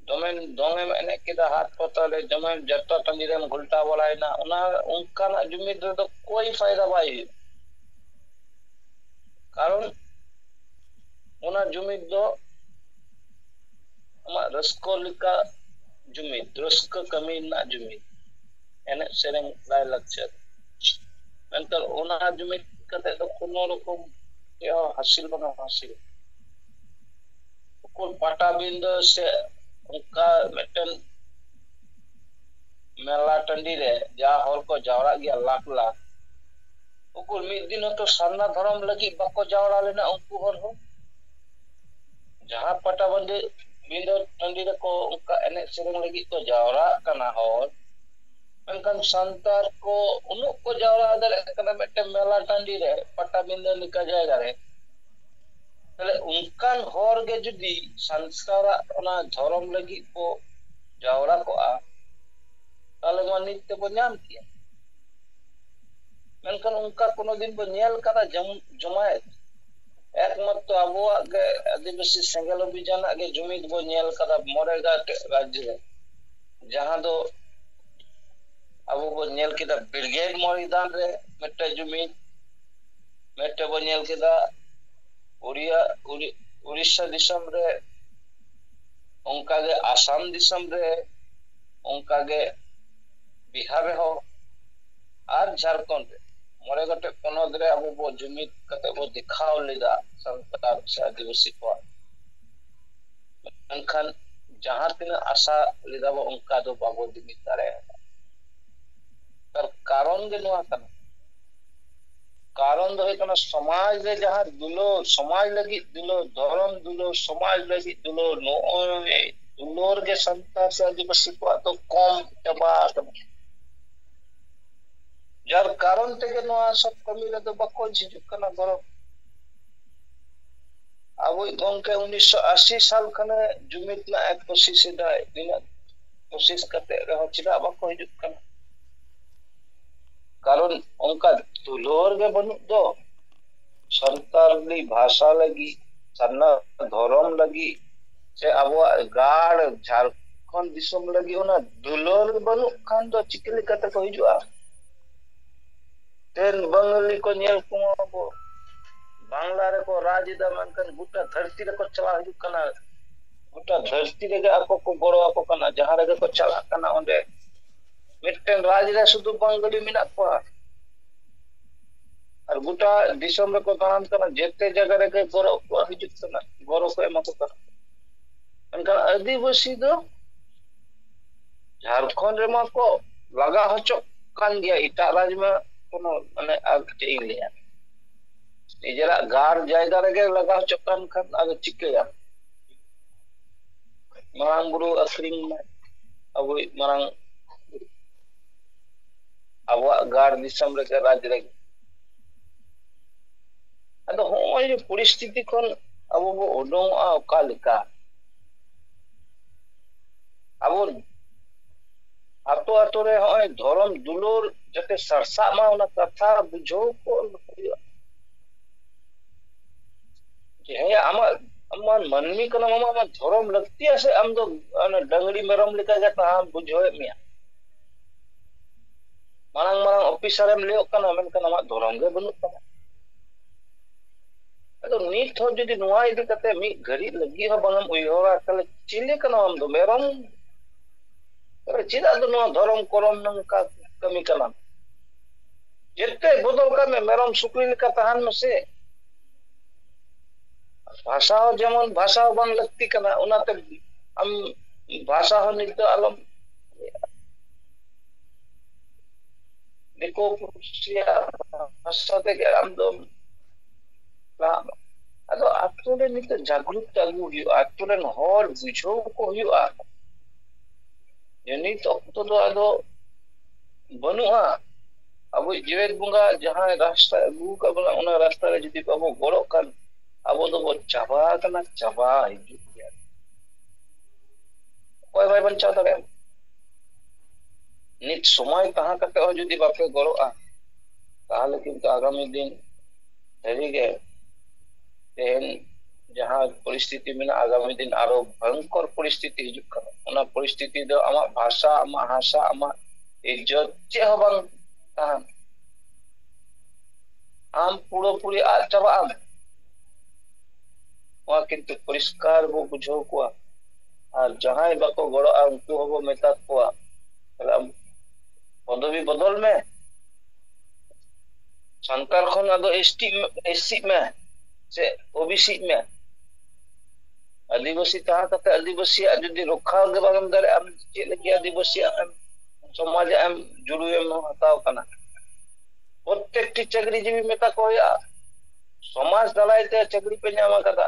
ᱫᱚᱢᱮ ᱫᱚᱝ ᱮᱢ ᱮᱱᱮᱡ ᱠᱮᱫᱟ ᱦᱟᱴ ᱯᱟᱛᱟ ᱨᱮ ᱫᱚᱢᱮ ᱡᱟᱛᱨᱟ ᱴᱟᱺᱰᱤ ᱨᱮᱢ ᱜᱷᱚᱞᱴᱟᱣ ᱵᱟᱲᱟᱭᱮᱱᱟ ᱚᱱᱟ ᱚᱱᱠᱟᱱᱟᱜ ᱡᱩᱢᱤᱫ ᱨᱮᱫᱚ ᱠᱳᱭ ᱯᱷᱟᱭᱫᱟ ᱵᱟᱭ ᱦᱩᱭᱩᱜᱼᱟ ᱠᱟᱨᱚᱱ ᱚᱱᱟ ᱡᱩᱢᱤᱫ ᱫᱚ ᱟᱢᱟᱜ ᱨᱟᱹᱥᱠᱟᱹ ᱞᱮᱠᱟ ᱡᱩᱢᱤᱫ ᱨᱟᱹᱥᱠᱟᱹ ᱠᱟᱹᱢᱤ ᱨᱮᱱᱟᱜ ᱡᱩᱢᱤᱫ ᱮᱱᱮᱡ ᱥᱮᱨᱮᱧ ᱞᱟᱭᱼᱞᱟᱠᱪᱟᱨ ᱢᱮᱱᱠᱷᱟᱱ ᱚᱱᱟ ᱡᱩᱢᱤᱫ ᱠᱟᱛᱮ ᱫᱚ ᱠᱳᱱᱳ ᱨᱚᱠᱚᱢ ᱪᱮᱫ ᱦᱚᱸ ᱦᱟᱹᱥᱤᱞ ᱵᱟᱝ ᱦᱟᱹᱥᱤᱞ ᱩᱠᱩᱨ ᱯᱟᱴᱟᱵᱤᱸᱫᱟᱹ ᱥᱮ ᱚᱱᱠᱟ ᱢᱤᱫᱴᱮᱱ ᱢᱮᱞᱟ ᱴᱟᱺᱰᱤ ᱨᱮ ᱡᱟ ᱦᱚᱲ ᱠᱚ ᱡᱟᱣᱨᱟᱜ ᱜᱮᱭᱟ ᱞᱟᱠᱷ ᱞᱟᱠᱷ ᱩᱠᱩᱨ ᱢᱤᱫ ᱫᱤᱱ ᱦᱚᱸᱛᱚ ᱥᱟᱨᱱᱟ ᱫᱷᱚᱨᱚᱢ ᱞᱟᱹᱜᱤᱫ ᱵᱟᱠᱚ ᱡᱟᱣᱨᱟ ᱞᱮᱱᱟ ᱩᱱᱠᱩ ᱦᱚᱲ ᱦᱚᱸ ᱡᱟᱦᱟᱸ ᱯᱟᱴᱟᱵᱟᱹᱱᱫᱟᱹ ᱵᱤᱸᱫᱟᱹ ᱴᱟᱺᱰᱤ ᱨᱮᱠᱚ ᱚᱱᱠᱟ ᱮᱱᱮᱡ ᱥᱮᱨᱮᱧ ᱞᱟᱹᱜᱤᱫ ᱠᱚ ᱡᱟᱣᱨᱟᱜ ᱠᱟᱱᱟ ᱦᱚᱲ ᱢᱮᱱᱠᱷᱟᱱ ᱥᱟᱱᱛᱟᱲ ᱠᱚ ᱩᱱᱟᱹᱜ ᱠᱚ ᱡᱟᱣᱨᱟ ᱫᱟᱲᱮᱭᱟᱜ ᱠᱟᱱᱟ ᱢᱤᱫᱴᱮᱱ ᱢᱮᱞᱟ ᱴᱟᱺᱰᱤ ᱨᱮ ᱯᱟᱴᱟᱵᱤᱸᱫᱟᱹ ᱞᱮᱠᱟ ᱡᱟᱭᱜᱟ ᱨᱮ ᱛᱟᱦᱞᱮ ᱚᱱᱠᱟᱱ ᱦᱚᱲ ᱜᱮ ᱡᱩᱫᱤ ᱥᱟᱱᱛᱟᱲᱟᱜ ᱚᱱᱟ ᱫᱷᱚᱨᱚᱢ ᱞᱟᱹᱜᱤᱫ ᱠᱚ ᱡᱟᱣᱨᱟ ᱠᱚᱜᱼᱟ ᱛᱟᱦᱞᱮ ᱢᱟ ᱱᱤᱛ ᱛᱮᱵᱚ ᱧᱟᱢ ᱠᱮᱭᱟ ᱢᱮᱱᱠᱷᱟᱱ ᱚᱱᱠᱟ ᱠᱳᱱᱳ ᱫᱤᱱ ᱵᱚᱱ ᱧᱮᱞ ᱠᱟᱫᱟ ᱡᱚᱢ ᱡᱚᱢᱟᱭᱮᱛ ᱮᱠᱢᱟᱛᱨᱚ ᱟᱵᱚᱣᱟᱜ ᱜᱮ ᱟᱹᱫᱤᱵᱟᱹᱥᱤ ᱥᱮᱸᱜᱮᱞ ᱚᱵᱷᱤᱡᱟᱱᱟᱜ ᱜᱮ ᱡᱩᱢᱤᱫ ᱵᱚᱱ ᱧᱮᱞ ᱠᱟᱫᱟ ᱢᱚᱬᱮ ᱜᱟᱴ ᱨᱟᱡᱽᱡᱚ ᱨᱮ ᱡᱟᱦᱟᱸ ᱫᱚ ᱟᱵᱚ ᱵᱚᱱ ᱧᱮᱞ ᱠᱮᱫᱟ ᱵᱨᱤᱜᱮᱰ ᱢᱚᱭᱫᱟᱱ ᱨᱮ ᱢᱤᱫᱴᱮᱱ ᱡᱩᱢᱤᱫ ᱢᱤᱫᱴᱮᱱ ᱵᱚᱱ ᱧᱮᱞ ᱠᱮᱫᱟ ᱩᱲᱤᱭᱟ ᱩᱲᱤ ᱩᱲᱤᱥᱥᱟ ᱫᱤᱥᱚᱢ ᱨᱮ ᱚᱱᱠᱟᱜᱮ ᱟᱥᱟᱢ ᱫᱤᱥᱚᱢ ᱨᱮ ᱚᱱᱠᱟᱜᱮ ᱵᱤᱦᱟᱨ ᱨᱮᱦᱚᱸ ᱟᱨ ᱡᱷᱟᱨᱠᱷᱚᱸᱰ ᱨᱮ ᱢᱚᱬᱮ ᱜᱚᱴᱮᱡ ᱯᱚᱱᱚᱛ ᱨᱮ ᱟᱵᱚ ᱵᱚ ᱡᱩᱢᱤᱫ ᱠᱟᱛᱮ ᱵᱚ ᱫᱮᱠᱷᱟᱣ ᱞᱮᱫᱟ ᱥᱟᱱᱛᱟᱲ ᱥᱮ ᱟᱹᱫᱤᱵᱟᱹᱥᱤ ᱠᱚᱣᱟᱜ ᱢᱮᱱᱠᱷᱟᱱ ᱡᱟᱦᱟᱸ ᱛᱤᱱᱟᱹᱜ ᱟᱥᱟ ᱞᱮᱫᱟ ᱵᱚ ᱚᱱᱠᱟ ᱫᱚ ᱵᱟᱵᱚ ᱡᱩᱢᱤᱫ ᱫᱟᱲᱮᱭᱟᱫᱟ ᱛᱟᱨ ᱠᱟᱨᱚᱱ ᱜᱮ ᱱᱚᱣᱟ ᱠᱟᱱᱟ ᱠᱟᱨᱚᱱ ᱫᱚ ᱦᱩᱭᱩᱜ ᱠᱟᱱᱟ ᱥᱚᱢᱟᱡᱽ ᱨᱮ ᱡᱟᱦᱟᱸ ᱫᱩᱞᱟᱹᱲ ᱥᱚᱢᱟᱡᱽ ᱞᱟᱹᱜᱤᱫ ᱫᱩᱞᱟᱹᱲ ᱫᱷᱚᱨᱚᱢ ᱫᱩᱞᱟᱹᱲ ᱥᱚᱢᱟᱡᱽ ᱞᱟᱹᱜᱤᱫ ᱫᱩᱞᱟᱹᱲ ᱱᱚᱜᱼᱚᱭ ᱫᱩᱞᱟᱹᱲ ᱜᱮ ᱥᱟᱱᱛᱟᱲ ᱥᱮ ᱟᱹᱫᱤᱵᱟᱹᱥᱤ ᱠᱚᱣᱟᱜ ᱫᱚ ᱠᱚᱢ ᱪᱟᱵᱟ ᱟᱠᱟᱱᱟ ᱡᱟᱨ ᱠᱟᱨᱚᱱ ᱛᱮᱜᱮ ᱱᱚᱣᱟ ᱥᱚᱵ ᱠᱟᱹᱢᱤ ᱨᱮᱫᱚ ᱵᱟᱠᱚ ᱡᱷᱤᱡᱩᱜ ᱠᱟᱱᱟ ᱜᱚᱨᱚᱵ ᱟᱵᱚᱭᱤᱡ ᱜᱚᱝᱠᱮ ᱩᱱᱤᱥᱥᱚ ᱟᱥᱤ ᱥᱟᱞ ᱠᱷᱚᱱᱮ ᱡᱩᱢᱤᱫ ᱨᱮᱱᱟᱜ ᱮ ᱠᱳᱥᱤᱥ ᱮᱫᱟᱭ ᱛᱤᱱᱟᱹᱜ ᱠᱳᱥᱤᱥ ᱠᱟᱛᱮ ᱨᱮᱦᱚᱸ ᱪᱮᱫᱟᱜ ᱵᱟᱠᱚ ᱦᱤᱡᱩᱜ ᱠᱟᱱᱟ ᱠᱟᱨᱚᱱ ᱚᱱᱠᱟ ᱫᱩᱞᱟᱹᱲ ᱜᱮ ᱵᱟᱹᱱᱩᱜ ᱫᱚ ᱥᱟᱱᱛᱟᱞᱤ ᱵᱷᱟᱥᱟ ᱞᱟᱹᱜᱤᱫ ᱥᱟᱨᱱᱟ ᱫᱷᱚᱨᱚᱢ ᱞᱟᱹᱜᱤᱫ ᱥᱮ ᱟᱵᱚᱣᱟᱜ ᱜᱟᱲ ᱡᱷᱟᱲᱠᱷᱚᱸᱰ ᱫᱤᱥᱚᱢ ᱞᱟᱹᱜᱤᱫ ᱚᱱᱟ ᱫᱩᱞᱟᱹᱲ ᱵᱟᱹᱱᱩᱜ ᱠᱷᱟᱱ ᱫᱚ ᱪᱤᱠᱟᱹ ᱞᱮᱠᱟ ᱛᱮᱠᱚ ᱦᱤᱡᱩᱜᱼᱟ ᱛᱮᱱ ᱵᱟᱝᱜᱟᱹᱞᱤ ᱠᱚ ᱧᱮᱞ ᱠᱚᱣᱟ ᱵᱚ ᱵᱟᱝᱞᱟ ᱨᱮᱠᱚ ᱨᱟᱡᱽ ᱮᱫᱟ ᱢᱮᱱᱠᱷᱟᱱ ᱜᱚᱴᱟ ᱫᱷᱟᱹᱨᱛᱤ ᱨᱮᱠᱚ ᱪᱟᱞᱟᱣ ᱦᱤᱡᱩᱜ ᱠᱟᱱᱟ ᱜᱚᱴᱟ ᱫᱷᱟᱹᱨᱛᱤ ᱨᱮᱜᱮ ᱟᱠᱚ ᱠᱚ ᱜᱚᱲᱚ ᱟᱠᱚ ᱠᱟᱱᱟ ᱡᱟᱦᱟᱸ ᱨᱮᱜᱮ ᱠᱚ ᱪᱟᱞᱟᱜ ᱠᱟᱱᱟ ᱚᱸᱰᱮ ᱢᱤᱫᱴᱮᱱ ᱨᱟᱡᱽ ᱨᱮ ᱥᱩᱫᱷᱩ ᱵᱟᱝᱜᱟᱹᱞᱤ ᱢᱮᱱᱟᱜ ᱠᱚᱣᱟ ᱟᱨ ᱜᱚᱴᱟ ᱫᱤᱥᱚᱢ ᱨᱮᱠᱚ ᱫᱟᱬᱟᱱ ᱠᱟᱱᱟ ᱡᱮᱛᱮ ᱡᱟᱭᱜᱟ ᱨᱮᱜᱮ ᱜᱚᱨᱚ ᱠᱚ ᱦᱤᱡᱩᱜ ᱠᱟᱱᱟ ᱜᱚᱨᱚ ᱠᱚ ᱮᱢᱟ ᱠᱚ ᱠᱟᱱᱟ ᱢᱮᱱᱠᱷᱟᱱ ᱟᱹᱫᱤᱵᱟᱹᱥᱤ ᱫᱚ ᱡᱷᱟᱲᱠᱷᱚᱸᱰ ᱨᱮᱢᱟ ᱠᱚ ᱞᱟᱜᱟ ᱦᱚᱪᱚᱜ ᱠᱟᱱ ᱜᱮᱭᱟ ᱮᱴᱟᱜ ᱨᱟᱡᱽ ᱢᱟ ᱠᱳᱱᱳ ᱢᱟᱱᱮ ᱟᱨ ᱪᱮᱫ ᱤᱧ ᱞᱟᱹᱭᱟ ᱱᱤᱡᱮᱨᱟᱜ ᱜᱟᱲ ᱡᱟᱭᱜᱟ ᱨᱮᱜᱮ ᱞᱟᱜᱟ ᱦᱚᱪᱚᱜ ᱠᱟᱱ ᱠᱷᱟᱱ ᱟᱫᱚ ᱪᱤᱠᱟᱹᱭᱟᱢ ᱢᱟᱨᱟᱝ ᱵᱩᱨᱩ ᱟᱹᱥᱨᱤᱧ ᱢᱮ ᱟᱵᱚᱭᱤᱡ ᱢᱟᱨᱟᱝ ᱟᱵᱚᱣᱟᱜ ᱜᱟᱲ ᱫᱤᱥᱚᱢ ᱨᱮᱜᱮ ᱨᱟᱡᱽ ᱨᱮᱜᱮ ᱟᱫᱚ ᱦᱚᱸᱜᱼᱚᱭ ᱡᱮ ᱯᱚᱨᱤᱥᱛᱷᱤᱛᱤ ᱠᱷᱚᱱ ᱟᱵᱚ ᱵᱚ ᱩᱰᱩᱝᱚᱜᱼᱟ ᱚᱠᱟ ᱞᱮᱠᱟ ᱟᱵᱚ ᱟᱛᱳ ᱟᱛᱳ ᱨᱮ ᱦᱚᱸᱜᱼᱚᱭ ᱫᱷᱚᱨᱚᱢ ᱫᱩᱞᱟᱹᱲ ᱡᱟᱛᱮ ᱥᱟᱨᱥᱟᱜ ᱢᱟ ᱚᱱᱟ ᱠᱟᱛᱷᱟ ᱵᱩᱡᱷᱟᱹᱣ ᱠᱚ ᱦᱩᱭᱩᱜᱼᱟ ᱡᱮ ᱦᱮᱸ ᱟᱢᱟᱜ ᱟᱢᱟᱜ ᱢᱟᱹᱱᱢᱤ ᱠᱟᱱᱟᱢ ᱟᱢᱟᱜ ᱟᱢᱟᱜ ᱫᱷᱚᱨᱚᱢ ᱞᱟᱹᱠᱛᱤᱭᱟ ᱥᱮ ᱟᱢ ᱫᱚ ᱰᱟᱹᱝᱨᱤ ᱢᱮᱨᱚᱢ ᱞᱮᱠᱟᱜᱮ ᱛᱟᱦᱮᱸ ᱵᱩᱡᱷᱟᱹᱣᱮᱫ ᱢᱮᱭᱟ ᱢᱟᱨᱟᱝ ᱢᱟᱨᱟᱝ ᱚᱯᱷᱤᱥᱟᱨᱮᱢ ᱞᱟᱹᱭᱚᱜ ᱠᱟᱱᱟ ᱢᱮᱱᱠᱷᱟᱱ ᱟᱢᱟᱜ ᱫᱷᱚᱨᱚᱢ ᱜᱮ ᱵᱟᱹᱱᱩᱜ ᱛᱟᱢᱟ ᱟᱫᱚ ᱱᱤᱛ ᱦᱚᱸ ᱡᱩᱫᱤ ᱱᱚᱣᱟ ᱤᱫᱤ ᱠᱟᱛᱮ ᱢᱤᱫ ᱜᱷᱟᱹᱲᱤᱡ ᱞᱟᱹᱜᱤᱫ ᱦᱚᱸ ᱵᱟᱝᱮᱢ ᱩᱭᱦᱟᱹᱨᱟ ᱛᱟᱦᱚᱞᱮ ᱪᱤᱞᱤ ᱠᱟᱱᱟᱢ ᱟᱢ ᱫᱚ ᱢᱮᱨᱚᱢ ᱪᱮᱫᱟᱜ ᱫᱚ ᱱᱚᱣᱟ ᱫᱷᱚᱨᱚᱢ ᱠᱚᱨᱚᱢ ᱱᱚᱝᱠᱟ ᱠᱟᱹᱢᱤ ᱠᱟᱱᱟᱢ ᱡᱮᱛᱮ ᱵᱚᱫᱚᱞ ᱠᱟᱜ ᱢᱮ ᱢᱮᱨᱚᱢ ᱥᱩᱠᱨᱤ ᱞᱮᱠᱟ ᱛᱟᱦᱮᱱ ᱢᱮᱥᱮ ᱵᱷᱟᱥᱟ ᱦᱚᱸ ᱡᱮᱢᱚᱱ ᱵᱷᱟᱥᱟ ᱦᱚᱸ ᱵᱟᱝ ᱞᱟᱹᱠᱛᱤ ᱠᱟᱱᱟ ᱚᱱᱟᱛᱮ ᱟᱢ ᱵᱷᱟᱥᱟ ᱦᱚᱸ ᱱᱤᱛᱚᱜ ᱟᱞᱚᱢ ᱫᱤᱠᱩ ᱯᱩᱥᱤᱭᱟᱜ ᱵᱷᱟᱥᱟ ᱛᱮᱜᱮ ᱟᱢ ᱫᱚᱢ ᱞᱟᱦᱟᱜ ᱢᱟ ᱟᱫᱚ ᱟᱛᱳ ᱨᱮ ᱱᱤᱛᱚᱜ ᱡᱟᱜᱽᱨᱩᱠᱛᱟ ᱟᱹᱜᱩ ᱦᱩᱭᱩᱜᱼᱟ ᱟᱛᱳ ᱨᱮᱱ ᱦᱚᱲ ᱵᱩᱡᱷᱟᱹᱣ ᱠᱚ ᱦᱩᱭᱩᱜᱼᱟ ᱡᱮ ᱱᱤᱛ ᱚᱠᱛᱚ ᱫᱚ ᱟᱫᱚ ᱵᱟᱹᱱᱩᱜᱼᱟ ᱟᱵᱚᱭᱤᱡ ᱡᱮᱣᱮᱫ ᱵᱚᱸᱜᱟ ᱡᱟᱦᱟᱸᱭ ᱨᱟᱥᱛᱟ ᱟᱹᱜᱩ ᱟᱠᱟᱫ ᱵᱚᱱᱟ ᱚᱱᱟ ᱨᱟᱥᱛᱟ ᱨᱮ ᱡᱩᱫᱤ ᱵᱟᱵᱚ ᱜᱚᱲᱚᱜ ᱠᱷᱟᱱ ᱟᱵᱚ ᱫᱚᱵᱚ ᱪᱟᱵᱟ ᱟᱠᱟᱱᱟ ᱪᱟᱵᱟ ᱦᱤᱡᱩᱜ ᱜᱮᱭᱟ ᱚᱠᱚᱭ ᱵᱟᱭ ᱵᱟᱧᱪᱟᱣ ᱫᱟᱲᱮᱭᱟᱜᱼᱟ ᱱᱤᱛ ᱥᱚᱢᱚᱭ ᱛᱟᱦᱮᱸ ᱠᱟᱛᱮ ᱦᱚᱸ ᱡᱩᱫᱤ ᱵᱟᱯᱮ ᱜᱚᱲᱚᱜᱼᱟ ᱛᱟᱦᱚᱞᱮ ᱠᱤᱱᱛᱩ ᱟᱜᱟᱢᱤ ᱫᱤᱱ ᱥᱟᱹᱨᱤ ᱜᱮ ᱛᱮᱦᱮᱧ ᱡᱟᱦᱟᱸ ᱯᱚᱨᱤᱥᱛᱷᱤᱛᱤ ᱢᱮᱱᱟᱜᱼᱟ ᱟᱜᱟᱢᱤ ᱫᱤᱱ ᱟᱨᱚ ᱵᱷᱚᱭᱚᱝᱠᱚᱨ ᱯᱚᱨᱤᱥᱛᱷᱤᱛᱤ ᱦᱤᱡᱩᱜ ᱠᱟᱱᱟ ᱚᱱᱟ ᱯᱚᱨᱤᱥᱛᱷᱤᱛᱤ ᱫᱚ ᱟᱢᱟᱜ ᱵᱷᱟᱥᱟ ᱟᱢᱟᱜ ᱦᱟᱥᱟ ᱟᱢᱟᱜ ᱤᱡᱽᱡᱚᱛ ᱪᱮᱫ ᱦᱚᱸ ᱵᱟᱝ ᱛᱟᱦᱮᱱ ᱟᱢ ᱯᱩᱨᱟᱹ ᱯᱩᱨᱤ ᱟᱫ ᱪᱟᱵᱟᱜ ᱟᱢ ᱱᱚᱣᱟ ᱠᱤᱱᱛᱩ ᱯᱚᱨᱤᱥᱠᱟᱨ ᱵᱚ ᱵᱩᱡᱷᱟᱹᱣ ᱠᱚᱣᱟ ᱟᱨ ᱡᱟᱦᱟᱸᱭ ᱵᱟᱠᱚ ᱜᱚᱲᱚᱜᱼᱟ ᱩᱱᱠᱩ ᱦᱚᱸᱵᱚ ᱢᱮᱛᱟ ᱠᱚᱣᱟ ᱛᱟᱦᱞᱮ ᱟᱢ ᱯᱚᱫᱚᱵᱤ ᱵᱚᱫᱚᱞ ᱢᱮ ᱥᱟᱱᱛᱟᱲ ᱠᱷᱚᱱ ᱟᱫᱚ ᱮᱥ ᱴᱤ ᱮᱥᱥᱤᱜ ᱢᱮ ᱥᱮ ᱳ ᱵᱤ ᱥᱤᱜ ᱢᱮ ᱟᱹᱫᱤᱵᱟᱹᱥᱤ ᱛᱟᱦᱮᱸ ᱠᱟᱛᱮ ᱟᱹᱫᱤᱵᱟᱹᱥᱤᱭᱟᱜ ᱡᱩᱫᱤ ᱨᱚᱠᱠᱷᱟ ᱜᱮ ᱵᱟᱢ ᱮᱢ ᱫᱟᱲᱮᱭᱟᱜᱼᱟ ᱟᱢ ᱪᱮᱫ ᱞᱟᱹᱜᱤᱫ ᱟᱹᱫᱤᱵᱟᱹᱥᱤᱭᱟᱜ ᱮᱢ ᱥᱚᱢᱟᱡ ᱟᱜ ᱮᱢ ᱡᱩᱲᱩᱭ ᱮᱢ ᱦᱟᱛᱟᱣ ᱠᱟᱱᱟ ᱯᱨᱚᱛᱮᱠᱴᱤ ᱪᱟᱹᱠᱨᱤ ᱡᱤᱵᱤ ᱢᱮᱛᱟ ᱠᱚ ᱦᱩᱭᱩᱜᱼᱟ ᱥᱚᱢᱟᱡᱽ ᱫᱟᱨᱟᱭ ᱛᱮ ᱪᱟᱹᱠᱨᱤ ᱯᱮ ᱧᱟᱢ ᱟᱠᱟᱫᱟ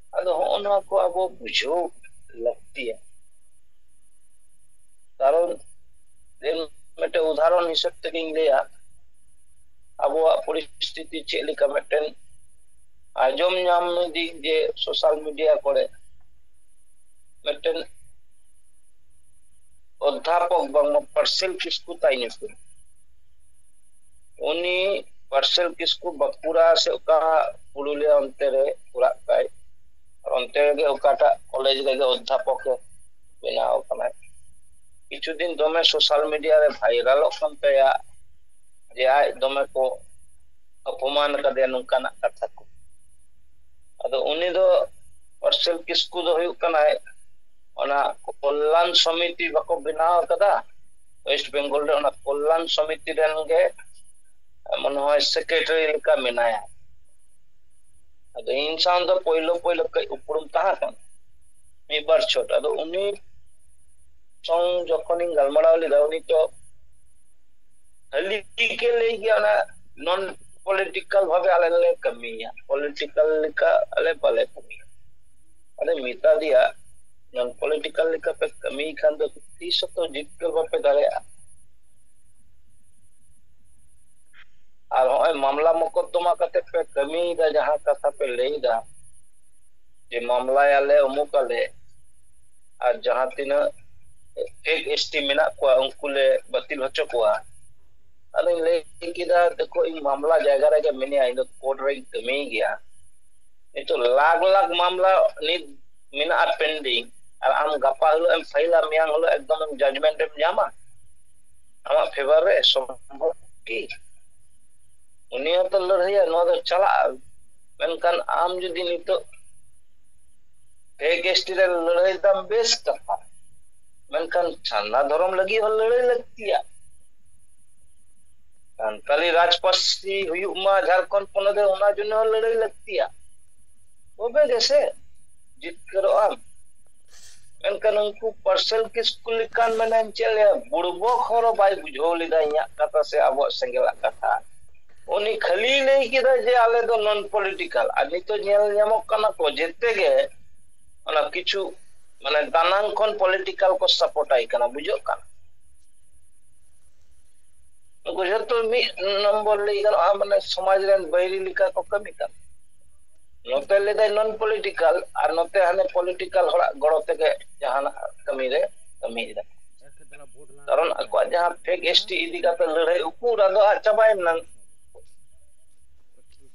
ᱟᱫᱚ ᱦᱚᱸᱜᱼᱚ ᱱᱚᱣᱟ ᱠᱚ ᱟᱵᱚ ᱵᱩᱡᱷᱟᱹᱣ ᱞᱟᱹᱠᱛᱤᱭᱟ ᱠᱟᱨᱚᱱ ᱤᱧ ᱢᱤᱫᱴᱮᱱ ᱩᱫᱟᱦᱚᱨᱚᱱ ᱦᱤᱥᱟᱹᱵ ᱛᱮᱜᱤᱧ ᱞᱟᱹᱭᱟ ᱟᱵᱚᱣᱟᱜ ᱯᱚᱨᱤᱥᱛᱷᱤᱛᱤ ᱪᱮᱫ ᱞᱮᱠᱟ ᱢᱤᱫᱴᱮᱱ ᱟᱸᱡᱚᱢ ᱧᱟᱢ ᱫᱤᱧ ᱡᱮ ᱥᱳᱥᱟᱞ ᱢᱤᱰᱤᱭᱟ ᱠᱚᱨᱮ ᱢᱤᱫᱴᱮᱱ ᱚᱫᱷᱟᱯᱚᱠ ᱵᱟᱝᱢᱟ ᱯᱟᱨᱥᱮᱞ ᱯᱷᱤᱥ ᱠᱚ ᱛᱟᱭ ᱧᱩᱛᱩᱢ ᱩᱱᱤ ᱯᱟᱨᱥᱮᱞ ᱠᱤᱥᱠᱩ ᱵᱟᱸᱠᱩᱲᱟ ᱥᱮ ᱚᱠᱟ ᱯᱩᱨᱩᱞᱤᱭᱟ ᱚᱱᱛᱮ ᱨᱮ ᱚᱲᱟᱜ ᱛᱟᱭ ᱚᱱᱛᱮ ᱨᱮᱜᱮ ᱚᱠᱟᱴᱟᱜ ᱠᱚᱞᱮᱡᱽ ᱨᱮᱜᱮ ᱚᱫᱽᱫᱷᱟᱯᱚᱠ ᱮ ᱵᱮᱱᱟᱣ ᱠᱟᱱᱟᱭ ᱠᱤᱪᱷᱩ ᱫᱤᱱ ᱫᱚᱢᱮ ᱥᱳᱥᱟᱞ ᱢᱤᱰᱤᱭᱟ ᱨᱮ ᱵᱷᱟᱭᱨᱟᱞᱚᱜ ᱠᱟᱱ ᱛᱟᱭᱟ ᱡᱮ ᱟᱡ ᱫᱚᱢᱮ ᱠᱚ ᱚᱯᱚᱢᱟᱱ ᱠᱟᱫᱮᱭᱟ ᱱᱚᱝᱠᱟᱱᱟᱜ ᱠᱟᱛᱷᱟ ᱠᱚ ᱟᱫᱚ ᱩᱱᱤ ᱫᱚ ᱯᱟᱨᱥᱮᱞ ᱠᱤᱥᱠᱩ ᱫᱚ ᱦᱩᱭᱩᱜ ᱠᱟᱱᱟᱭ ᱚᱱᱟ ᱠᱚᱞᱞᱟᱱ ᱥᱚᱢᱤᱛᱤ ᱵᱟᱠᱚ ᱵᱮᱱᱟᱣ ᱠᱟᱫᱟ ᱳᱭᱮᱥᱴ ᱵᱮᱝᱜᱚᱞ ᱨᱮ ᱚᱱᱟ ᱠᱚᱞᱞᱟᱱ ᱥᱚᱢᱤᱛᱤ ᱨᱮᱱ ᱜᱮ ᱢᱚᱱᱮ ᱦᱚᱭ ᱥᱮᱠᱨᱮᱴᱟᱨᱤ ᱞᱮᱠᱟ ᱢᱮᱱᱟᱭᱟ ᱟᱫᱚ ᱤᱧ ᱥᱟᱶ ᱫᱚ ᱯᱳᱭᱞᱳ ᱯᱳᱭᱞᱳ ᱠᱟᱹᱡ ᱩᱯᱨᱩᱢ ᱛᱟᱦᱮᱸ ᱠᱟᱱᱟ ᱢᱤᱫ ᱵᱟᱨ ᱪᱷᱚᱴ ᱟᱫᱚ ᱩᱱᱤ ᱥᱚᱝ ᱡᱚᱠᱷᱚᱱᱤᱧ ᱜᱟᱞᱢᱟᱨᱟᱣ ᱞᱮᱫᱟ ᱩᱱᱤ ᱫᱚ ᱦᱟᱹᱞᱤ ᱜᱮ ᱞᱟᱹᱭ ᱜᱮᱭᱟ ᱚᱱᱟ ᱱᱚᱱ ᱯᱚᱞᱤᱴᱤᱠᱟᱞ ᱵᱷᱟᱵᱮ ᱟᱞᱮ ᱞᱮ ᱠᱟᱹᱢᱤᱭᱟ ᱯᱚᱞᱤᱴᱤᱠᱟᱞ ᱞᱮᱠᱟ ᱟᱞᱮ ᱵᱟᱞᱮ ᱠᱟᱹᱢᱤᱭᱟ ᱟᱫᱚ ᱢᱮᱛᱟ ᱫᱮᱭᱟ ᱱᱚᱱ ᱯᱚᱞᱤᱴᱤᱠᱟᱞ ᱞᱮᱠᱟ ᱯᱮ ᱠᱟᱹᱢᱤ ᱠᱷᱟᱱ ᱫᱚ ᱛᱤᱥ ᱦᱚᱸᱛᱚ ᱡᱤᱛᱠᱟᱹᱨ ᱵᱟᱯᱮ ᱫᱟᱲᱮᱭᱟᱜᱼᱟ ᱟᱨ ᱱᱚᱜᱼᱚᱭ ᱢᱟᱢᱞᱟ ᱢᱚᱠᱚᱫᱫᱚᱢᱟ ᱠᱟᱛᱮ ᱯᱮ ᱠᱟᱹᱢᱤᱭᱮᱫᱟ ᱡᱟᱦᱟᱸ ᱠᱟᱛᱷᱟ ᱯᱮ ᱞᱟᱹᱭᱮᱫᱟ ᱡᱮ ᱢᱟᱢᱞᱟᱭᱟᱞᱮ ᱩᱢᱩᱠ ᱟᱞᱮ ᱟᱨ ᱡᱟᱦᱟᱸ ᱛᱤᱱᱟᱹᱜ ᱯᱷᱮᱠ ᱮᱥ ᱴᱤ ᱢᱮᱱᱟᱜ ᱠᱚᱣᱟ ᱩᱱᱠᱩ ᱞᱮ ᱵᱟᱹᱛᱤᱞ ᱦᱚᱪᱚ ᱠᱚᱣᱟ ᱟᱫᱚᱧ ᱞᱟᱹᱭ ᱠᱮᱫᱟ ᱫᱮᱠᱷᱳ ᱤᱧ ᱢᱟᱢᱞᱟ ᱡᱟᱭᱜᱟ ᱨᱮᱜᱮ ᱢᱤᱱᱟᱹᱧᱟ ᱤᱧ ᱫᱚ ᱠᱳᱨᱴ ᱨᱮᱧ ᱠᱟᱹᱢᱤᱭ ᱜᱮᱭᱟ ᱱᱤᱛᱚᱜ ᱞᱟᱠᱷ ᱞᱟᱠᱷ ᱢᱟᱢᱞᱟ ᱱᱤᱛ ᱢᱮᱱᱟᱜᱼᱟ ᱯᱮᱱᱰᱤᱝ ᱟᱨ ᱟᱢ ᱜᱟᱯᱟ ᱦᱤᱞᱳᱜ ᱮᱢ ᱯᱷᱟᱭᱤᱞᱟ ᱢᱮᱭᱟᱝ ᱦᱤᱞᱳᱜ ᱮᱠᱫᱚᱢ ᱡᱟᱡᱽᱢᱮᱱᱴ ᱮᱢ ᱧᱟᱢᱟ ᱟᱢᱟᱜ ᱯᱷᱮᱵᱟᱨ ᱨᱮ ᱥᱚᱢᱵᱷᱚᱵ ᱠᱤ ᱩᱱᱤ ᱦᱚᱸᱛᱚ ᱞᱟᱹᱲᱦᱟᱹᱭᱟ ᱱᱚᱣᱟ ᱫᱚ ᱪᱟᱞᱟᱜᱼᱟ ᱢᱮᱱᱠᱷᱟᱱ ᱟᱢ ᱡᱩᱫᱤ ᱱᱤᱛᱚᱜ ᱯᱷᱮᱠ ᱮᱥᱴᱤ ᱨᱮ ᱞᱟᱹᱲᱦᱟᱹᱭ ᱫᱟᱢ ᱵᱮᱥ ᱠᱟᱛᱷᱟ ᱢᱮᱱᱠᱷᱟᱱ ᱪᱷᱟᱱᱟ ᱫᱷᱚᱨᱚᱢ ᱞᱟᱹᱜᱤᱫ ᱦᱚᱸ ᱞᱟᱹᱲᱦᱟᱹᱭ ᱞᱟᱹᱠᱛᱤᱭᱟ ᱥᱟᱱᱛᱟᱞᱤ ᱨᱟᱡᱽ ᱯᱟᱹᱨᱥᱤ ᱦᱩᱭᱩᱜ ᱢᱟ ᱡᱷᱟᱲᱠᱷᱚᱸᱰ ᱯᱚᱱᱚᱛ ᱨᱮ ᱚᱱᱟ ᱡᱚᱱᱱᱚ ᱦᱚᱸ ᱞᱟᱹᱲᱦᱟᱹᱭ ᱞᱟᱹᱠᱛᱤᱭᱟ ᱛᱚᱵᱮ ᱜᱮᱥᱮ ᱡᱤᱛᱠᱟᱹᱨᱚᱜ ᱟᱢ ᱢᱮᱱᱠᱷᱟᱱ ᱩᱱᱠᱩ ᱯᱟᱨᱥᱮᱞ ᱠᱤᱥᱠᱩ ᱞᱮᱠᱟᱱ ᱢᱟᱱᱮ ᱪᱮᱫ ᱞᱟᱹᱭᱟ ᱵᱩᱲᱵᱚᱠ ᱦᱚᱲ ᱵᱟᱭ ᱵᱩᱡᱷᱟᱹᱣ ᱞᱮᱫᱟ ᱤᱧᱟᱹᱜ ᱠᱟᱛᱷᱟ ᱥᱮ ᱟᱵᱚᱣᱟᱜ ᱥᱮᱸᱜᱮᱞᱟᱜ ᱠᱟᱛᱷᱟ ᱩᱱᱤ ᱠᱷᱟᱹᱞᱤ ᱞᱟᱹᱭ ᱠᱮᱫᱟ ᱡᱮ ᱟᱞᱮ ᱫᱚ ᱱᱚᱱ ᱯᱚᱞᱤᱴᱤᱠᱟᱞ ᱟᱨ ᱱᱤᱛᱚᱜ ᱧᱮᱞ ᱧᱟᱢᱚᱜ ᱠᱟᱱᱟ ᱠᱚ ᱡᱮᱛᱮ ᱜᱮ ᱚᱱᱟ ᱠᱤᱪᱷᱩ ᱢᱟᱱᱮ ᱫᱟᱱᱟᱝ ᱠᱷᱚᱱ ᱯᱚᱞᱤᱴᱤᱠᱟᱞ ᱠᱚ ᱥᱟᱯᱳᱨᱴ ᱟᱭ ᱠᱟᱱᱟ ᱵᱩᱡᱷᱟᱹᱜ ᱠᱟᱱᱟ ᱱᱩᱠᱩ ᱡᱷᱚᱛᱚ ᱢᱤᱫ ᱱᱚᱢᱵᱚᱨ ᱞᱟᱹᱭ ᱜᱟᱱᱚᱜᱼᱟ ᱢᱟᱱᱮ ᱥᱚᱢᱟᱡᱽ ᱨᱮᱱ ᱵᱟᱹᱭᱨᱤ ᱞᱮᱠᱟ ᱠᱚ ᱠᱟᱹᱢᱤ ᱠᱟᱱ ᱱᱚᱛᱮ ᱞᱟᱹᱭᱫᱟᱭ ᱱᱚᱱ ᱯᱚᱞᱤᱴᱤᱠᱟᱞ ᱟᱨ ᱱᱚᱛᱮ ᱦᱟᱱᱮ ᱯᱚᱞᱤᱴᱤᱠᱟᱞ ᱦᱚᱲᱟᱜ ᱜᱚᱲᱚ ᱛᱮᱜᱮ ᱡᱟᱦᱟᱱᱟᱜ ᱠᱟᱹᱢᱤ ᱨᱮ ᱠᱟᱹᱢᱤᱭ ᱫᱟ ᱠᱟᱨᱚᱱ ᱟᱠᱚᱣᱟᱜ ᱡᱟᱦᱟᱸ ᱯᱷᱮᱠ ᱮᱥ ᱴᱤ ᱤᱫᱤ ᱠᱟᱛᱮ ᱞᱟᱹᱲᱦᱟᱹᱭ ᱩᱠᱩᱨ ᱟᱫᱚ ᱟᱫ ᱪᱟᱵᱟᱭᱮᱱᱟ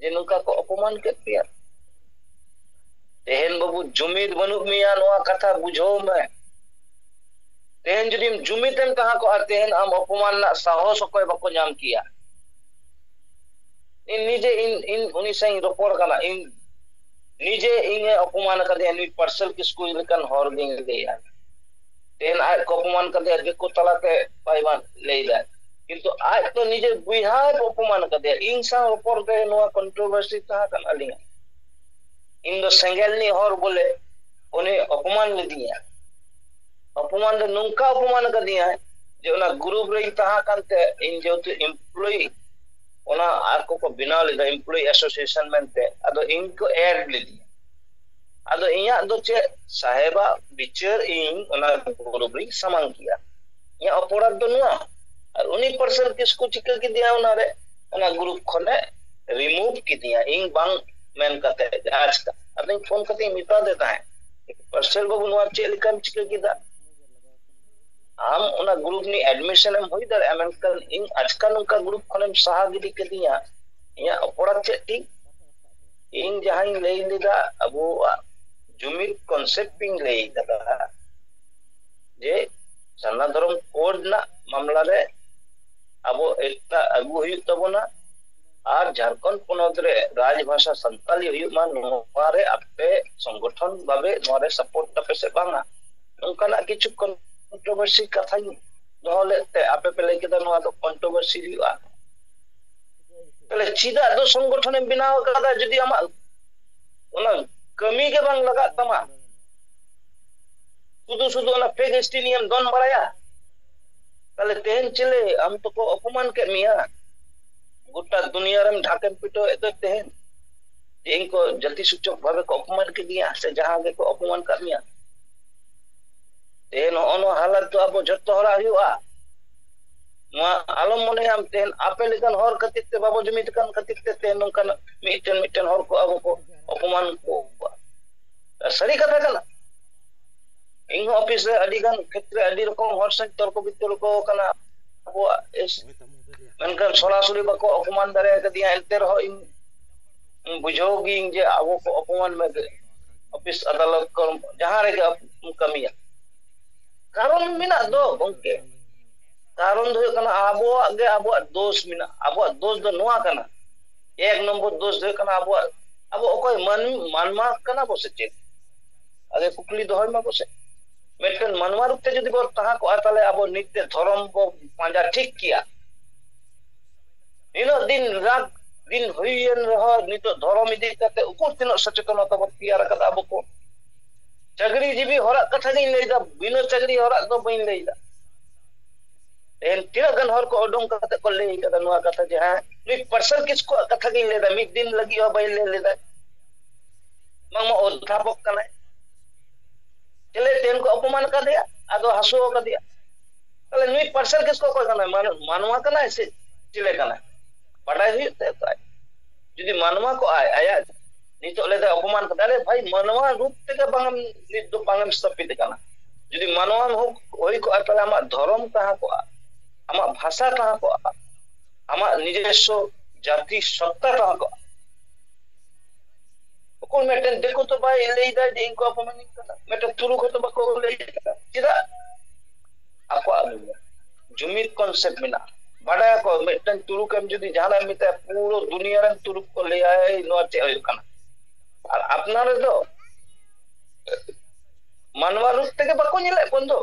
ᱡᱮ ᱱᱚᱝᱠᱟ ᱠᱚ ᱚᱯᱚᱢᱟᱱ ᱠᱮᱫ ᱯᱮᱭᱟ ᱛᱮᱦᱮᱧ ᱵᱟᱹᱵᱩ ᱡᱩᱢᱤᱫ ᱵᱟᱹᱱᱩᱜ ᱢᱮᱭᱟ ᱱᱚᱣᱟ ᱠᱟᱛᱷᱟ ᱵᱩᱡᱷᱟᱹᱣ ᱢᱮ ᱛᱮᱦᱮᱧ ᱡᱩᱫᱤᱢ ᱡᱩᱢᱤᱫ ᱮᱢ ᱛᱟᱦᱮᱸ ᱠᱚᱜᱼᱟ ᱛᱮᱦᱮᱧ ᱟᱢ ᱚᱯᱚᱢᱟᱱ ᱨᱮᱱᱟᱜ ᱥᱟᱦᱚᱥ ᱚᱠᱚᱭ ᱵᱟᱠᱚ ᱧᱟᱢ ᱠᱮᱭᱟ ᱤᱧ ᱱᱤᱡᱮ ᱤᱧ ᱤᱧ ᱩᱱᱤ ᱥᱟᱶ ᱤᱧ ᱨᱚᱯᱚᱲ ᱠᱟᱱᱟ ᱤᱧ ᱱᱤᱡᱮ ᱤᱧᱮ ᱚᱯᱚᱢᱟᱱ ᱟᱠᱟᱫᱤᱧᱟ ᱱᱩᱭ ᱯᱟᱨᱥᱮᱞ ᱠᱤᱥᱠᱩ ᱞᱮᱠᱟᱱ ᱦᱚᱲ ᱜᱤᱧ ᱞᱟᱹᱭᱟ ᱛᱮᱦᱮᱧ ᱟᱡ ᱠᱚ ᱚᱯᱚᱢᱟᱱ ᱠᱟᱫᱮᱭᱟ ᱫᱤᱠᱩ ᱛᱟᱞᱟᱛᱮ ᱵᱟᱭ ᱞᱟᱹᱭᱫᱟ ᱠᱤᱱᱛᱩ ᱟᱡ ᱫᱚ ᱱᱤᱡᱮ ᱵᱚᱭᱦᱟ ᱠᱚ ᱚᱯᱚᱢᱟᱱ ᱠᱟᱫᱮᱭᱟ ᱤᱧ ᱥᱟᱶ ᱨᱚᱯᱚᱲ ᱨᱮ ᱱᱚᱣᱟ ᱠᱚᱱᱴᱨᱳᱵᱷᱟᱨᱥᱤ ᱛᱟᱦᱮᱸ ᱠᱟᱱᱟ ᱟᱹᱞᱤᱧᱟᱜ ᱤᱧ ᱫᱚ ᱥᱮᱸᱜᱮᱞ ᱨᱤᱱᱤᱡ ᱦᱚᱲ ᱵᱚᱞᱮ ᱩᱱᱤ ᱚᱯᱚᱢᱟᱱ ᱞᱤᱫᱤᱧᱟ ᱚᱯᱚᱢᱟᱱ ᱫᱚ ᱱᱚᱝᱠᱟ ᱚᱯᱚᱢᱟᱱ ᱠᱟᱫᱤᱧᱟ ᱡᱮ ᱚᱱᱟ ᱜᱨᱩᱯ ᱨᱮᱧ ᱛᱟᱦᱮᱸ ᱠᱟᱱᱛᱮ ᱤᱧ ᱡᱮᱦᱮᱛᱩ ᱮᱢᱯᱞᱚᱭᱤ ᱚᱱᱟ ᱟᱨ ᱠᱚᱠᱚ ᱵᱮᱱᱟᱣ ᱞᱮᱫᱟ ᱮᱢᱯᱞᱚᱭᱤ ᱮᱥᱳᱥᱤᱭᱮᱥᱚᱱ ᱢᱮᱱᱛᱮ ᱟᱫᱚ ᱤᱧ ᱠᱚ ᱮᱰ ᱞᱤᱫᱤᱧᱟ ᱟᱫᱚ ᱤᱧᱟᱹᱜ ᱫᱚ ᱪᱮᱫ ᱥᱟᱦᱮᱵᱟᱜ ᱵᱤᱪᱟᱹᱨ ᱤᱧ ᱚᱱᱟ ᱜᱩᱨᱩᱯ ᱨᱤᱧ ᱥᱟᱢᱟᱝ ᱠᱮᱜᱼᱟ ᱤᱧᱟᱹᱜ ᱚᱯᱚᱨᱟᱫᱷ ᱫᱚ ᱱᱚᱣᱟ ᱟᱨ ᱩᱱᱤ ᱯᱟᱨᱥᱮᱞ ᱠᱤᱥᱠᱩ ᱪᱤᱠᱟᱹ ᱠᱮᱫᱮᱭᱟ ᱚᱱᱟᱨᱮ ᱚᱱᱟ ᱜᱩᱨᱩᱯ ᱠᱷᱚᱱᱮ ᱨᱤᱢᱩᱵᱷ ᱠᱮᱫᱤᱧᱟ ᱤᱧ ᱵᱟᱝ ᱢᱮᱱ ᱠᱟᱛᱮ ᱡᱟᱦᱟᱸ ᱪᱮᱠᱟ ᱟᱫᱚᱧ ᱯᱷᱳᱱ ᱠᱟᱛᱮ ᱤᱧ ᱢᱮᱛᱟᱫᱮ ᱛᱟᱦᱮᱸᱫ ᱯᱟᱨᱥᱮᱞ ᱵᱟᱹᱵᱩ ᱱᱚᱣᱟ ᱪᱮᱫ ᱞᱮᱠᱟᱢ ᱪᱤᱠᱟᱹ ᱠᱮᱫᱟ ᱟᱢ ᱚᱱᱟ ᱜᱩᱨᱩᱯ ᱨᱤᱱᱤᱡ ᱮᱰᱢᱤᱥᱚᱱ ᱮᱢ ᱦᱩᱭ ᱫᱟᱲᱮᱭᱟᱜᱼᱟ ᱢᱮᱱᱠᱷᱟᱱ ᱤᱧ ᱟᱪᱠᱟ ᱱᱚᱝᱠᱟ ᱜᱩᱨᱩᱯ ᱠᱷᱚᱱᱮᱢ ᱥᱟᱦᱟ ᱜᱤᱰᱤ ᱠᱮᱫᱤᱧᱟ ᱤᱧᱟᱹᱜ ᱚᱯᱚᱨᱟᱫᱷ ᱪᱮᱫ ᱛᱤᱧ ᱤᱧ ᱡᱟᱦᱟᱸᱧ ᱞᱟᱹᱭ ᱞᱮᱫᱟ ᱟᱵᱚᱣᱟᱜ ᱡᱩᱢᱤᱫ ᱠᱚᱱᱥᱮᱯᱴ ᱤᱧ ᱞᱟᱹᱭ ᱠᱟᱫᱟ ᱡᱮ ᱥᱟᱨᱱᱟ ᱫᱷᱚᱨᱚᱢ ᱠᱳᱰ ᱨᱮᱱᱟᱜ ᱢᱟᱢᱞᱟ ᱨᱮ ᱟᱵᱚ ᱮᱠᱛᱟ ᱟᱹᱜᱩ ᱦᱩᱭᱩᱜ ᱛᱟᱵᱚᱱᱟ ᱟᱨ ᱡᱷᱟᱲᱠᱷᱚᱸᱰ ᱯᱚᱱᱚᱛ ᱨᱮ ᱨᱟᱡᱽ ᱵᱷᱟᱥᱟ ᱥᱟᱱᱛᱟᱞᱤ ᱦᱩᱭᱩᱜ ᱢᱟ ᱱᱚᱣᱟ ᱨᱮ ᱟᱯᱮ ᱥᱚᱝᱜᱚᱴᱷᱚᱱ ᱵᱷᱟᱵᱮ ᱱᱚᱣᱟ ᱨᱮ ᱥᱟᱯᱳᱨᱴ ᱛᱟᱯᱮ ᱥᱮ ᱵᱟᱝᱟ ᱱᱚᱝᱠᱟᱱᱟᱜ ᱠᱤᱪᱷᱩ ᱠᱚᱱᱴᱨᱳᱵᱷᱟᱨᱥᱤ ᱠᱟᱛᱷᱟᱧ ᱫᱚᱦᱚ ᱞᱮᱫ ᱛᱮ ᱟᱯᱮ ᱯᱮ ᱞᱟᱹᱭ ᱠᱮᱫᱟ ᱱᱚᱣᱟ ᱫᱚ ᱠᱚᱱᱴᱨᱳᱵᱷᱟᱨᱥᱤ ᱦᱩᱭᱩᱜᱼᱟ ᱛᱟᱦᱚᱞᱮ ᱪᱮᱫᱟᱜ ᱫᱚ ᱥᱚᱝᱜᱚᱴᱷᱚᱱᱮᱢ ᱵᱮᱱᱟᱣ ᱟᱠᱟᱫᱟ ᱡᱩᱫᱤ ᱟᱢᱟᱜ ᱚᱱᱟ ᱠᱟᱹᱢᱤ ᱜᱮ ᱵᱟᱝ ᱞᱟᱜᱟᱜ ᱛᱟᱢᱟ ᱥᱩᱫᱷᱩ ᱥᱩᱫᱷᱩ ᱚᱱᱟ ᱯᱷᱮᱠ ᱮᱥᱴᱤ ᱱᱤᱭᱮᱢ ᱫᱚᱱ ᱵᱟᱲᱟᱭᱟ ᱛᱟᱦᱚᱞᱮ ᱛᱮᱦᱮᱧ ᱪᱮᱞᱮ ᱟᱢ ᱛᱚᱠᱚ ᱚᱯᱚᱢᱟᱱ ᱠᱮᱫ ᱢᱮᱭᱟ ᱜᱚᱴᱟ ᱫᱩᱱᱤᱭᱟᱹ ᱨᱮᱢ ᱰᱷᱟᱠᱮᱢ ᱯᱤᱴᱟᱹᱣᱮᱫ ᱫᱚ ᱛᱮᱦᱮᱧ ᱡᱮ ᱤᱧ ᱠᱚ ᱡᱟᱹᱛᱤ ᱥᱩᱪᱚᱠ ᱵᱷᱟᱵᱮ ᱠᱚ ᱚᱯᱚᱢᱟᱱ ᱠᱮᱫᱤᱧᱟ ᱥᱮ ᱡᱟᱦᱟᱸ ᱜᱮᱠᱚ ᱚᱯᱚᱢᱟᱱ ᱠᱟᱫ ᱢᱮᱭᱟ ᱛᱮᱦᱮᱧ ᱱᱚᱜᱼᱚ ᱱᱚᱣᱟ ᱦᱟᱞᱟᱛ ᱫᱚ ᱟᱵᱚ ᱡᱷᱚᱛᱚ ᱦᱚᱲᱟᱜ ᱦᱩᱭᱩᱜᱼᱟ ᱱᱚᱣᱟ ᱟᱞᱚᱢ ᱢᱚᱱᱮᱭᱟ ᱟᱢ ᱛᱮᱦᱮᱧ ᱟᱯᱮ ᱞᱮᱠᱟᱱ ᱦᱚᱲ ᱠᱷᱟᱹᱛᱤᱨ ᱛᱮ ᱵᱟᱵᱚ ᱡᱩᱢᱤᱫ ᱠᱟᱱ ᱠᱷᱟᱹᱛᱤᱨ ᱛᱮ ᱛᱮᱦᱮᱧ ᱱᱚᱝᱠᱟᱱᱟᱜ ᱢᱤᱫᱴᱮᱱ ᱢᱤᱫᱴᱮᱱ ᱦᱚᱲ ᱠᱚ ᱟᱵᱚ ᱠᱚ ᱚᱯᱚᱢᱟᱱ ᱠᱚ ᱥᱟᱹᱨᱤ ᱠᱟᱛᱷᱟ ᱠᱟᱱᱟ ᱤᱧ ᱦᱚᱸ ᱚᱯᱷᱤᱥ ᱨᱮ ᱟᱹᱰᱤ ᱜᱟᱱ ᱠᱷᱮᱛᱨᱮ ᱟᱹᱰᱤ ᱨᱚᱠᱚᱢ ᱦᱚᱲ ᱥᱟᱶ ᱛᱚᱨᱠᱚ ᱵᱤᱛᱚᱨᱠᱚ ᱠᱟᱱᱟ ᱟᱵᱚᱣᱟᱜ ᱢᱮᱱᱠᱷᱟᱱ ᱥᱚᱨᱟᱥᱚᱨᱤ ᱵᱟᱠᱚ ᱚᱯᱚᱢᱟᱱ ᱫᱟᱲᱮ ᱟᱠᱟᱫᱤᱧᱟ ᱮᱱᱛᱮ ᱨᱮᱦᱚᱸ ᱤᱧ ᱵᱩᱡᱷᱟᱹᱣ ᱜᱤᱭᱟᱹᱧ ᱡᱮ ᱟᱵᱚ ᱠᱚ ᱚᱯᱚᱢᱟᱱ ᱢᱮᱱᱛᱮ ᱚᱯᱷᱤᱥ ᱟᱫᱟᱞᱚᱛ ᱠᱚ ᱡᱟᱦᱟᱸ ᱨᱮᱜᱮ ᱠᱟᱹᱢᱤᱭᱟ ᱠᱟᱨᱚᱱ ᱟᱫᱚ ᱢᱮᱱᱟᱜ ᱫᱚ ᱠᱟᱨᱚᱱ ᱫᱚ ᱪᱮᱫᱟᱜ ᱜᱚᱝᱠᱮ ᱠᱟᱱ ᱫᱚ ᱠᱟᱨᱚᱱ ᱫᱚ ᱦᱩᱭᱩᱜ ᱠᱟᱱᱟ ᱟᱵᱚᱣᱟᱜ ᱜᱮ ᱟᱵᱚᱣᱟᱜ ᱫᱳᱥ ᱢᱮᱱᱟᱜᱼᱟ ᱟᱵᱚᱣᱟᱜ ᱫᱳᱥ ᱫᱚ ᱱᱚᱣᱟ ᱠᱟᱱᱟ ᱮᱠ ᱱᱚᱢᱵᱚᱨ ᱫᱳᱥ ᱫᱚ ᱦᱩᱭᱩᱜ ᱠᱟᱱᱟ ᱟᱵᱚᱣᱟᱜ ᱟᱵᱚ ᱚᱠᱚᱭ ᱢᱟᱹᱱ ᱢᱟᱱᱢᱟ ᱠᱟᱱᱟ ᱵᱚ ᱥᱮ ᱪᱮᱫ ᱟᱜᱮ ᱠᱩᱠᱞᱤ ᱫᱚᱦᱚᱭ ᱢᱟ ᱵᱚᱥᱮ ᱢᱤᱫᱴᱮᱱ ᱢᱟᱱᱣᱟ ᱨᱩᱯ ᱛᱮ ᱡᱩᱫᱤ ᱵᱚᱱ ᱛᱟᱦᱮᱸ ᱠᱚᱜᱼᱟ ᱛᱟᱦᱚᱞᱮ ᱟᱵᱚ ᱱᱤᱛ ᱛᱮ ᱫᱷᱚᱨᱚᱢ ᱵᱚ ᱯᱟᱸᱡᱟ ᱴᱷᱤᱠ ᱠᱮᱭᱟ ᱱᱤᱱᱟᱹᱜ ᱫᱤᱱ ᱨᱟᱛ ᱫᱤᱱ ᱦᱩᱭᱮᱱ ᱨᱮᱦᱚᱸ ᱱᱤᱛᱚᱜ ᱫᱷᱚᱨᱚᱢ ᱤᱫᱤ ᱠᱟᱛᱮ ᱩᱠᱩᱨ ᱛᱤᱱᱟᱹᱜ ᱥᱚᱪᱮᱛᱚᱱᱚᱛᱟ ᱵᱚᱱ ᱛᱮᱭᱟᱨ ᱟᱠᱟᱫᱟ ᱟᱵᱚ ᱠᱚ ᱪᱟᱹᱠᱨᱤ ᱡᱤᱵᱤ ᱦᱚᱲᱟᱜ ᱠᱟᱛᱷᱟ ᱜᱤᱧ ᱞᱟᱹᱭᱫᱟ ᱵᱤᱱᱟᱹ ᱪᱟᱹᱠᱨᱤ ᱦᱚᱲᱟᱜ ᱫᱚ ᱵᱟᱹᱧ ᱞᱟᱹᱭᱫᱟ ᱛᱮᱦᱮᱧ ᱛᱤᱱᱟᱹᱜ ᱜᱟᱱ ᱦᱚᱲ ᱠᱚ ᱩᱰᱩᱝ ᱠᱟᱛᱮ ᱠᱚ ᱞᱟᱹᱭ ᱠᱟᱫᱟ ᱱᱚᱣᱟ ᱠᱟᱛᱷᱟ ᱡᱮ ᱦᱮᱸ ᱢᱤᱫ ᱯᱟᱨᱥᱮᱱ ᱠᱤᱥᱠᱩᱣᱟᱜ ᱠᱟᱛᱷᱟ ᱜᱤᱧ ᱞᱟᱹᱭᱫᱟ ᱢᱤᱫ ᱫᱤᱱ ᱞᱟᱹᱜᱤᱫ ᱦᱚᱸ ᱵᱟᱹᱧ ᱞᱟᱹᱭ ᱞᱮᱫᱟ ᱵᱟᱝᱢᱟ ᱚᱫᱷᱟᱯᱚᱠ ᱠᱟᱱᱟᱭ ᱪᱮᱞᱮ ᱛᱮᱦᱮᱧ ᱠᱚ ᱚᱯᱚᱢᱟᱱ ᱠᱟᱫᱮᱭᱟ ᱟᱫᱚ ᱦᱟᱹᱥᱩ ᱠᱟᱫᱮᱭᱟ ᱛᱟᱦᱚᱞᱮ ᱱᱩᱭ ᱯᱟᱨᱥᱮᱞ ᱠᱮᱥ ᱠᱚ ᱚᱠᱚᱭ ᱠᱟᱱᱟᱭ ᱢᱟᱱᱣᱟ ᱠᱟᱱᱟᱭ ᱥᱮ ᱪᱮᱞᱮ ᱠᱟᱱᱟᱭ ᱵᱟᱰᱟᱭ ᱦᱩᱭᱩᱜ ᱛᱟᱭᱟ ᱛᱚ ᱟᱡ ᱡᱩᱫᱤ ᱢᱟᱱᱣᱟ ᱠᱚᱜᱼᱟᱭ ᱟᱭᱟᱜ ᱱᱤᱛᱚᱜ ᱞᱮᱫᱟ ᱚᱯᱚᱢᱟᱱ ᱠᱟᱫᱟ ᱟᱨᱮ ᱵᱷᱟᱭ ᱢᱟᱱᱣᱟ ᱨᱩᱯ ᱛᱮᱜᱮ ᱵᱟᱝ ᱱᱤᱛ ᱫᱚ ᱵᱟᱝ ᱥᱛᱟᱯᱤᱛ ᱠᱟᱱᱟ ᱡᱩᱫᱤ ᱢᱟᱱᱣᱟ ᱦᱚᱸ ᱦᱩᱭ ᱠᱚᱜᱼᱟ ᱛᱟᱦᱞᱮ ᱟᱢᱟᱜ ᱫᱷᱚᱨᱚᱢ ᱛᱟᱦᱮᱸ ᱠᱚᱜᱼᱟ ᱟᱢᱟᱜ ᱵᱷᱟᱥᱟ ᱛᱟᱦᱮᱸ ᱠᱚᱜᱼᱟ ᱟᱢᱟᱜ ᱱᱤᱡᱮᱥᱥᱚ ᱡᱟᱹᱛᱤ ᱥᱚᱛᱛᱟ ᱛᱟᱦᱮᱸ ᱠᱚᱜᱼᱟ ᱚᱠᱚᱭ ᱢᱤᱫᱴᱮᱱ ᱫᱤᱠᱩ ᱛᱚ ᱵᱟᱭ ᱞᱟᱹᱭᱫᱟ ᱡᱮ ᱤᱧ ᱠᱚ ᱚᱯᱚᱢᱟᱱᱤᱧ ᱠᱟᱱᱟ ᱢᱤᱫᱴᱮᱱ ᱛᱩᱨᱩᱠ ᱦᱚᱸᱛᱚ ᱵᱟᱠᱚ ᱞᱟᱹᱭ ᱠᱟᱫᱟ ᱪᱮᱫᱟᱜ ᱟᱠᱚᱣᱟᱜ ᱟᱹᱞᱩ ᱡᱩᱢᱤᱫ ᱠᱚᱱᱥᱮᱯᱴ ᱢᱮᱱᱟᱜᱼᱟ ᱵᱟᱰᱟᱭᱟᱠᱚ ᱢᱤᱫᱴᱟᱝ ᱛᱩᱲᱩᱠ ᱮᱢ ᱡᱩᱫᱤ ᱡᱟᱦᱟᱱᱟᱜ ᱮᱢ ᱢᱮᱛᱟᱭᱟ ᱯᱩᱨᱟᱹ ᱫᱩᱱᱤᱭᱟᱹ ᱨᱮᱱ ᱛᱩᱲᱩᱠ ᱠᱚ ᱞᱟᱹᱭᱟ ᱱᱚᱣᱟ ᱪᱮᱫ ᱦᱩᱭᱩᱜ ᱠᱟᱱᱟ ᱟᱨ ᱟᱯᱱᱟᱨ ᱨᱮᱫᱚ ᱢᱟᱱᱣᱟ ᱨᱩᱯ ᱛᱮᱜᱮ ᱵᱟᱠᱚ ᱧᱮᱞᱮᱫ ᱵᱚᱱ ᱫᱚ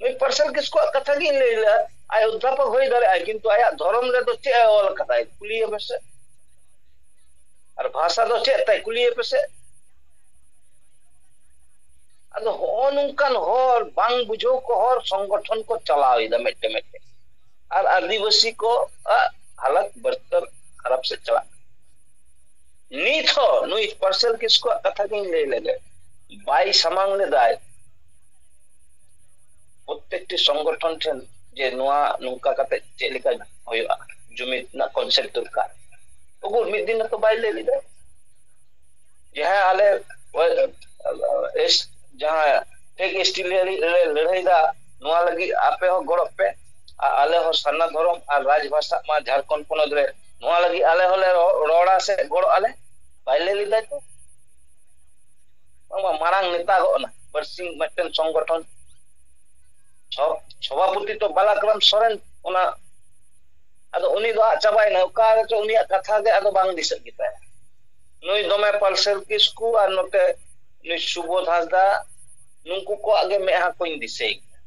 ᱱᱩᱭ ᱯᱟᱨᱥᱮᱞ ᱠᱤᱥᱠᱩᱣᱟᱜ ᱠᱟᱛᱷᱟ ᱜᱤᱧ ᱞᱟᱹᱭ ᱞᱮᱫᱟ ᱟᱡ ᱚᱫᱽᱫᱷᱟᱯᱚᱠ ᱦᱩᱭ ᱫᱟᱲᱮᱭᱟᱜᱼᱟ ᱠᱤᱱᱛᱩ ᱟᱭᱟᱜ ᱫᱷᱚᱨᱚᱢ ᱨᱮᱫᱚ ᱪᱮᱫ ᱮ ᱚᱞ ᱠᱟᱫᱟᱭ ᱠᱩᱞᱤᱭᱮ ᱢᱮᱥᱮ ᱟᱨ ᱵᱷᱟᱥᱟ ᱫᱚ ᱪᱮᱫ ᱛᱟᱭ ᱠᱩᱞᱤᱭᱮ ᱯᱮᱥᱮ ᱟᱫᱚ ᱦᱚᱜᱼᱚ ᱱᱚᱝᱠᱟᱱ ᱦᱚᱲ ᱵᱟᱝ ᱵᱩᱡᱷᱟᱹᱣ ᱠᱚ ᱦᱚᱲ ᱥᱚᱝᱜᱚᱴᱷᱚᱱ ᱠᱚ ᱪᱟᱞᱟᱣᱮᱫᱟ ᱢᱤᱫᱴᱮᱱ ᱢᱤᱫᱴᱮᱱ ᱟᱨ ᱟᱹᱫᱤᱵᱟᱹᱥᱤ ᱠᱚ ᱟᱜ ᱦᱟᱞᱚᱛ ᱵᱟᱹᱨᱛᱟᱹᱨ ᱠᱷᱟᱨᱟᱯ ᱥᱮᱫ ᱪᱟᱞᱟᱜ ᱠᱟᱱᱟ ᱱᱤᱛ ᱦᱚᱸ ᱱᱩᱭ ᱯᱟᱨᱥᱮᱞ ᱠᱤᱥᱠᱩᱣᱟᱜ ᱠᱟᱛᱷᱟ ᱜᱤᱧ ᱞᱟᱹᱭ ᱞᱮᱜᱮ ᱵᱟᱭ ᱥᱟᱢᱟᱝ ᱞᱮᱫᱟᱭ ᱯᱨᱚᱛᱮᱠᱴᱤ ᱥᱚᱝᱜᱚᱴᱷᱚᱱ ᱴᱷᱮᱱ ᱡᱮ ᱱᱚᱣᱟ ᱱᱚᱝᱠᱟ ᱠᱟᱛᱮ ᱪᱮᱫ ᱞᱮᱠᱟ ᱦᱩᱭᱩᱜᱼᱟ ᱡᱩᱢᱤᱫ ᱨᱮᱱᱟᱜ ᱠᱚᱱᱥᱮᱯᱴ ᱫᱚᱨᱠᱟᱨ ᱩᱠᱩᱨ ᱢᱤᱫ ᱫᱤᱱ ᱦᱚᱸᱛᱚ ᱵᱟᱭ ᱞᱟᱹᱭ ᱞᱮᱫᱟ ᱡᱟᱦᱟᱸ ᱟᱞᱮ ᱮᱥ ᱡᱟᱦᱟᱸ ᱴᱷᱮᱠ ᱮᱥᱴᱤ ᱞᱟᱹᱲᱦᱟᱹᱭᱮᱫᱟ ᱱᱚᱣᱟ ᱞᱟᱹᱜᱤᱫ ᱟᱯᱮ ᱦᱚᱸ ᱜᱚᱲᱚᱜ ᱯᱮ ᱟᱨ ᱟᱞᱮ ᱦᱚᱸ ᱥᱟᱨᱱᱟ ᱫᱷᱚᱨᱚᱢ ᱟᱨ ᱨᱟᱡᱽ ᱵᱷᱟᱥᱟ ᱢᱟ ᱡᱷᱟᱲᱠᱷᱚᱸᱰ ᱯᱚᱱᱚᱛ ᱨᱮ ᱱᱚᱣᱟ ᱞᱟᱹᱜᱤᱫ ᱟᱞᱮ ᱦᱚᱸᱞᱮ ᱨᱚᱲᱟ ᱥᱮ ᱜᱚᱲᱚᱜ ᱟᱞᱮ ᱵᱟᱭ ᱞᱟᱹᱭ ᱞᱮᱫᱟᱭ ᱛᱚ ᱵᱟᱝᱢᱟ ᱢᱟᱲᱟᱝ ᱱᱮᱛᱟ ᱜᱚᱜ ᱱᱟ ᱵᱟᱨᱥᱤᱧ ᱢᱤᱫᱴᱮᱱ ᱥᱚᱝᱜᱚᱴᱷᱚᱱ ᱥᱚ ᱥᱚᱵᱷᱟᱯᱚᱛᱤ ᱛᱚ ᱵᱟᱞᱟᱠᱨᱟᱢ ᱥᱚᱨᱮᱱ ᱚᱱᱟ ᱟᱫᱚ ᱩᱱᱤ ᱫᱚ ᱟᱫ ᱪᱟᱵᱟᱭᱮᱱᱟ ᱚᱠᱟ ᱨᱮᱪᱚ ᱩᱱᱤᱭᱟᱜ ᱠᱟᱛᱷᱟ ᱜᱮ ᱟᱫᱚ ᱵᱟᱝ ᱫᱤᱥᱟᱹᱜ ᱜᱮᱛᱟᱭᱟ ᱱᱩᱭ ᱫᱚᱢᱮ ᱯᱟᱞᱥᱮᱞ ᱠᱤᱥᱠᱩ ᱟᱨ ᱱᱚᱛᱮ ᱱᱩᱭ ᱥᱩᱵᱚᱫᱷ ᱦᱟᱸᱥᱫᱟ ᱱᱩᱝᱠᱩ ᱠᱚᱣᱟᱜ ᱜᱮ ᱢᱮᱫᱦᱟ ᱠᱚᱧ ᱫᱤᱥᱟᱹᱭ ᱜᱮᱭᱟ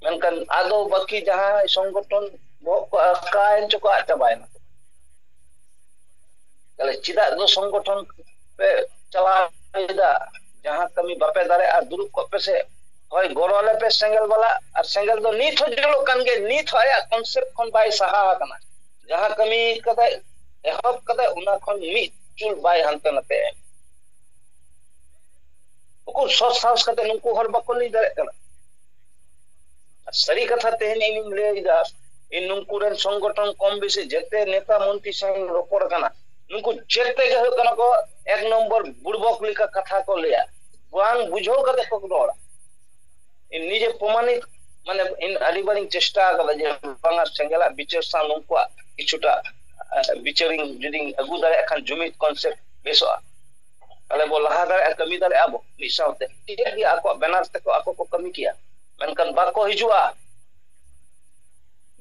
ᱢᱮᱱᱠᱷᱟᱱ ᱟᱫᱚ ᱵᱟᱹᱠᱤ ᱡᱟᱦᱟᱸᱭ ᱥᱚᱝᱜᱚᱴᱷᱚᱱ ᱵᱚᱦᱚᱜ ᱠᱚ ᱟᱠᱟᱭᱮᱱ ᱪᱚᱠᱚ ᱟᱫ ᱪᱟᱵᱟᱭᱮᱱᱟ ᱛᱟᱦᱞᱮ ᱪᱮᱫᱟᱜ ᱫᱚ ᱥᱚᱝᱜᱚᱴᱷᱚᱱ ᱯᱮ ᱪᱟᱞᱟᱣᱮᱫᱟ ᱡᱟᱦᱟᱸ ᱠᱟᱹᱢᱤ ᱵᱟᱯᱮ ᱫᱟᱲᱮᱭᱟᱜᱼᱟ ᱫᱩᱲᱩᱵ ᱠᱚᱜ ᱯᱮᱥᱮ ᱦᱳᱭ ᱜᱚᱲᱚ ᱟᱞᱮ ᱯᱮ ᱥᱮᱸᱜᱮᱞ ᱵᱟᱞᱟ ᱟᱨ ᱥᱮᱸᱜᱮᱞ ᱫᱚ ᱱᱤᱛ ᱦᱚᱸ ᱡᱩᱞᱩᱜ ᱠᱟᱱ ᱜᱮᱭᱟ ᱱᱤᱛ ᱦᱚᱸ ᱟᱭᱟᱜ ᱠᱚᱱᱥᱮᱯᱴ ᱠᱷᱚᱱ ᱵᱟᱭ ᱥᱟᱦᱟ ᱟᱠᱟᱱᱟ ᱡᱟᱦᱟᱸ ᱠᱟᱹᱢᱤ ᱠᱟᱫᱟᱭ ᱮᱦᱚᱵ ᱠᱟᱫᱟᱭ ᱚᱱᱟ ᱠᱷᱚᱱ ᱢᱤᱫ ᱪᱩᱞ ᱵᱟᱭ ᱦᱟᱱᱛᱮ ᱱᱟᱛᱮ ᱩᱠᱩᱨ ᱥᱚᱛ ᱥᱟᱦᱚᱥ ᱠᱟᱛᱮ ᱱᱩᱠᱩ ᱦᱚᱲ ᱵᱟᱠᱚ ᱞᱟᱹᱭ ᱫᱟᱲᱮᱭᱟᱜ ᱠᱟᱱᱟ ᱥᱟᱹᱨᱤ ᱠᱟᱛᱷᱟ ᱛᱮᱦᱮᱧ ᱤᱧᱤᱧ ᱞᱟᱹᱭᱫᱟ ᱤᱧ ᱱᱩᱠᱩ ᱨᱮᱱ ᱥᱚᱝᱜᱚᱴᱷᱚᱱ ᱠᱚᱢ ᱵᱮᱥᱤ ᱡᱮᱛᱮ ᱱᱮᱛᱟ ᱢᱚᱱᱛᱨᱤ ᱥᱟᱶ ᱨᱚᱯᱚᱲ ᱠᱟᱱᱟ ᱱᱩᱠᱩ ᱡᱮᱛᱮ ᱜᱮ ᱦᱩᱭᱩᱜ ᱠᱟᱱᱟ ᱠᱚ ᱮᱠ ᱱᱚᱢᱵᱚᱨ ᱵᱩᱲᱵᱚᱠ ᱞᱮᱠᱟ ᱠᱟᱛᱷᱟ ᱠᱚ ᱞᱟᱹᱭᱟ ᱵᱟᱝ ᱵᱩᱡᱷᱟᱹᱣ ᱠᱟᱛᱮ ᱠᱚ ᱨᱚᱲᱟ ᱤᱧ ᱱᱤᱡᱮ ᱯᱨᱚᱢᱟᱱᱤᱛ ᱢᱟᱱᱮ ᱤᱧ ᱟᱹᱰᱤ ᱵᱟᱨᱤᱧ ᱪᱮᱥᱴᱟ ᱟᱠᱟᱫᱟ ᱡᱮ ᱵᱟᱝᱟ ᱥᱮᱸᱜᱮᱞᱟᱜ ᱵᱤᱪᱟᱹᱨ ᱥᱟᱶ ᱱᱩᱠᱩᱣᱟᱜ ᱠᱤᱪᱷᱩᱴᱟ ᱵᱤᱪᱟᱹᱨᱤᱧ ᱡᱩᱫᱤᱧ ᱟᱹᱜᱩ ᱫᱟᱲᱮᱭᱟᱜ ᱠᱷᱟᱱ ᱡᱩᱢᱤᱫ ᱠᱚᱱᱥᱮᱯᱴ ᱵᱮᱥᱚᱜᱼᱟ ᱛᱟᱦᱚᱞᱮ ᱵᱚ ᱞᱟᱦᱟ ᱫᱟᱲᱮᱭᱟᱜᱼᱟ ᱠᱟᱹᱢᱤ ᱫᱟᱲᱮᱭᱟᱜᱼᱟ ᱵᱚ ᱢᱤᱫ ᱥᱟᱶᱛᱮ ᱴᱷᱤᱠ ᱜᱮᱭᱟ ᱟᱠᱚᱣᱟᱜ ᱵᱮᱱᱟᱨ ᱛᱮᱠᱚ ᱟᱠᱚ ᱠᱚ ᱠᱟᱹᱢᱤ ᱠᱮᱭᱟ ᱢᱮᱱᱠᱷᱟᱱ ᱵᱟᱠᱚ ᱦᱤᱡᱩᱜᱼᱟ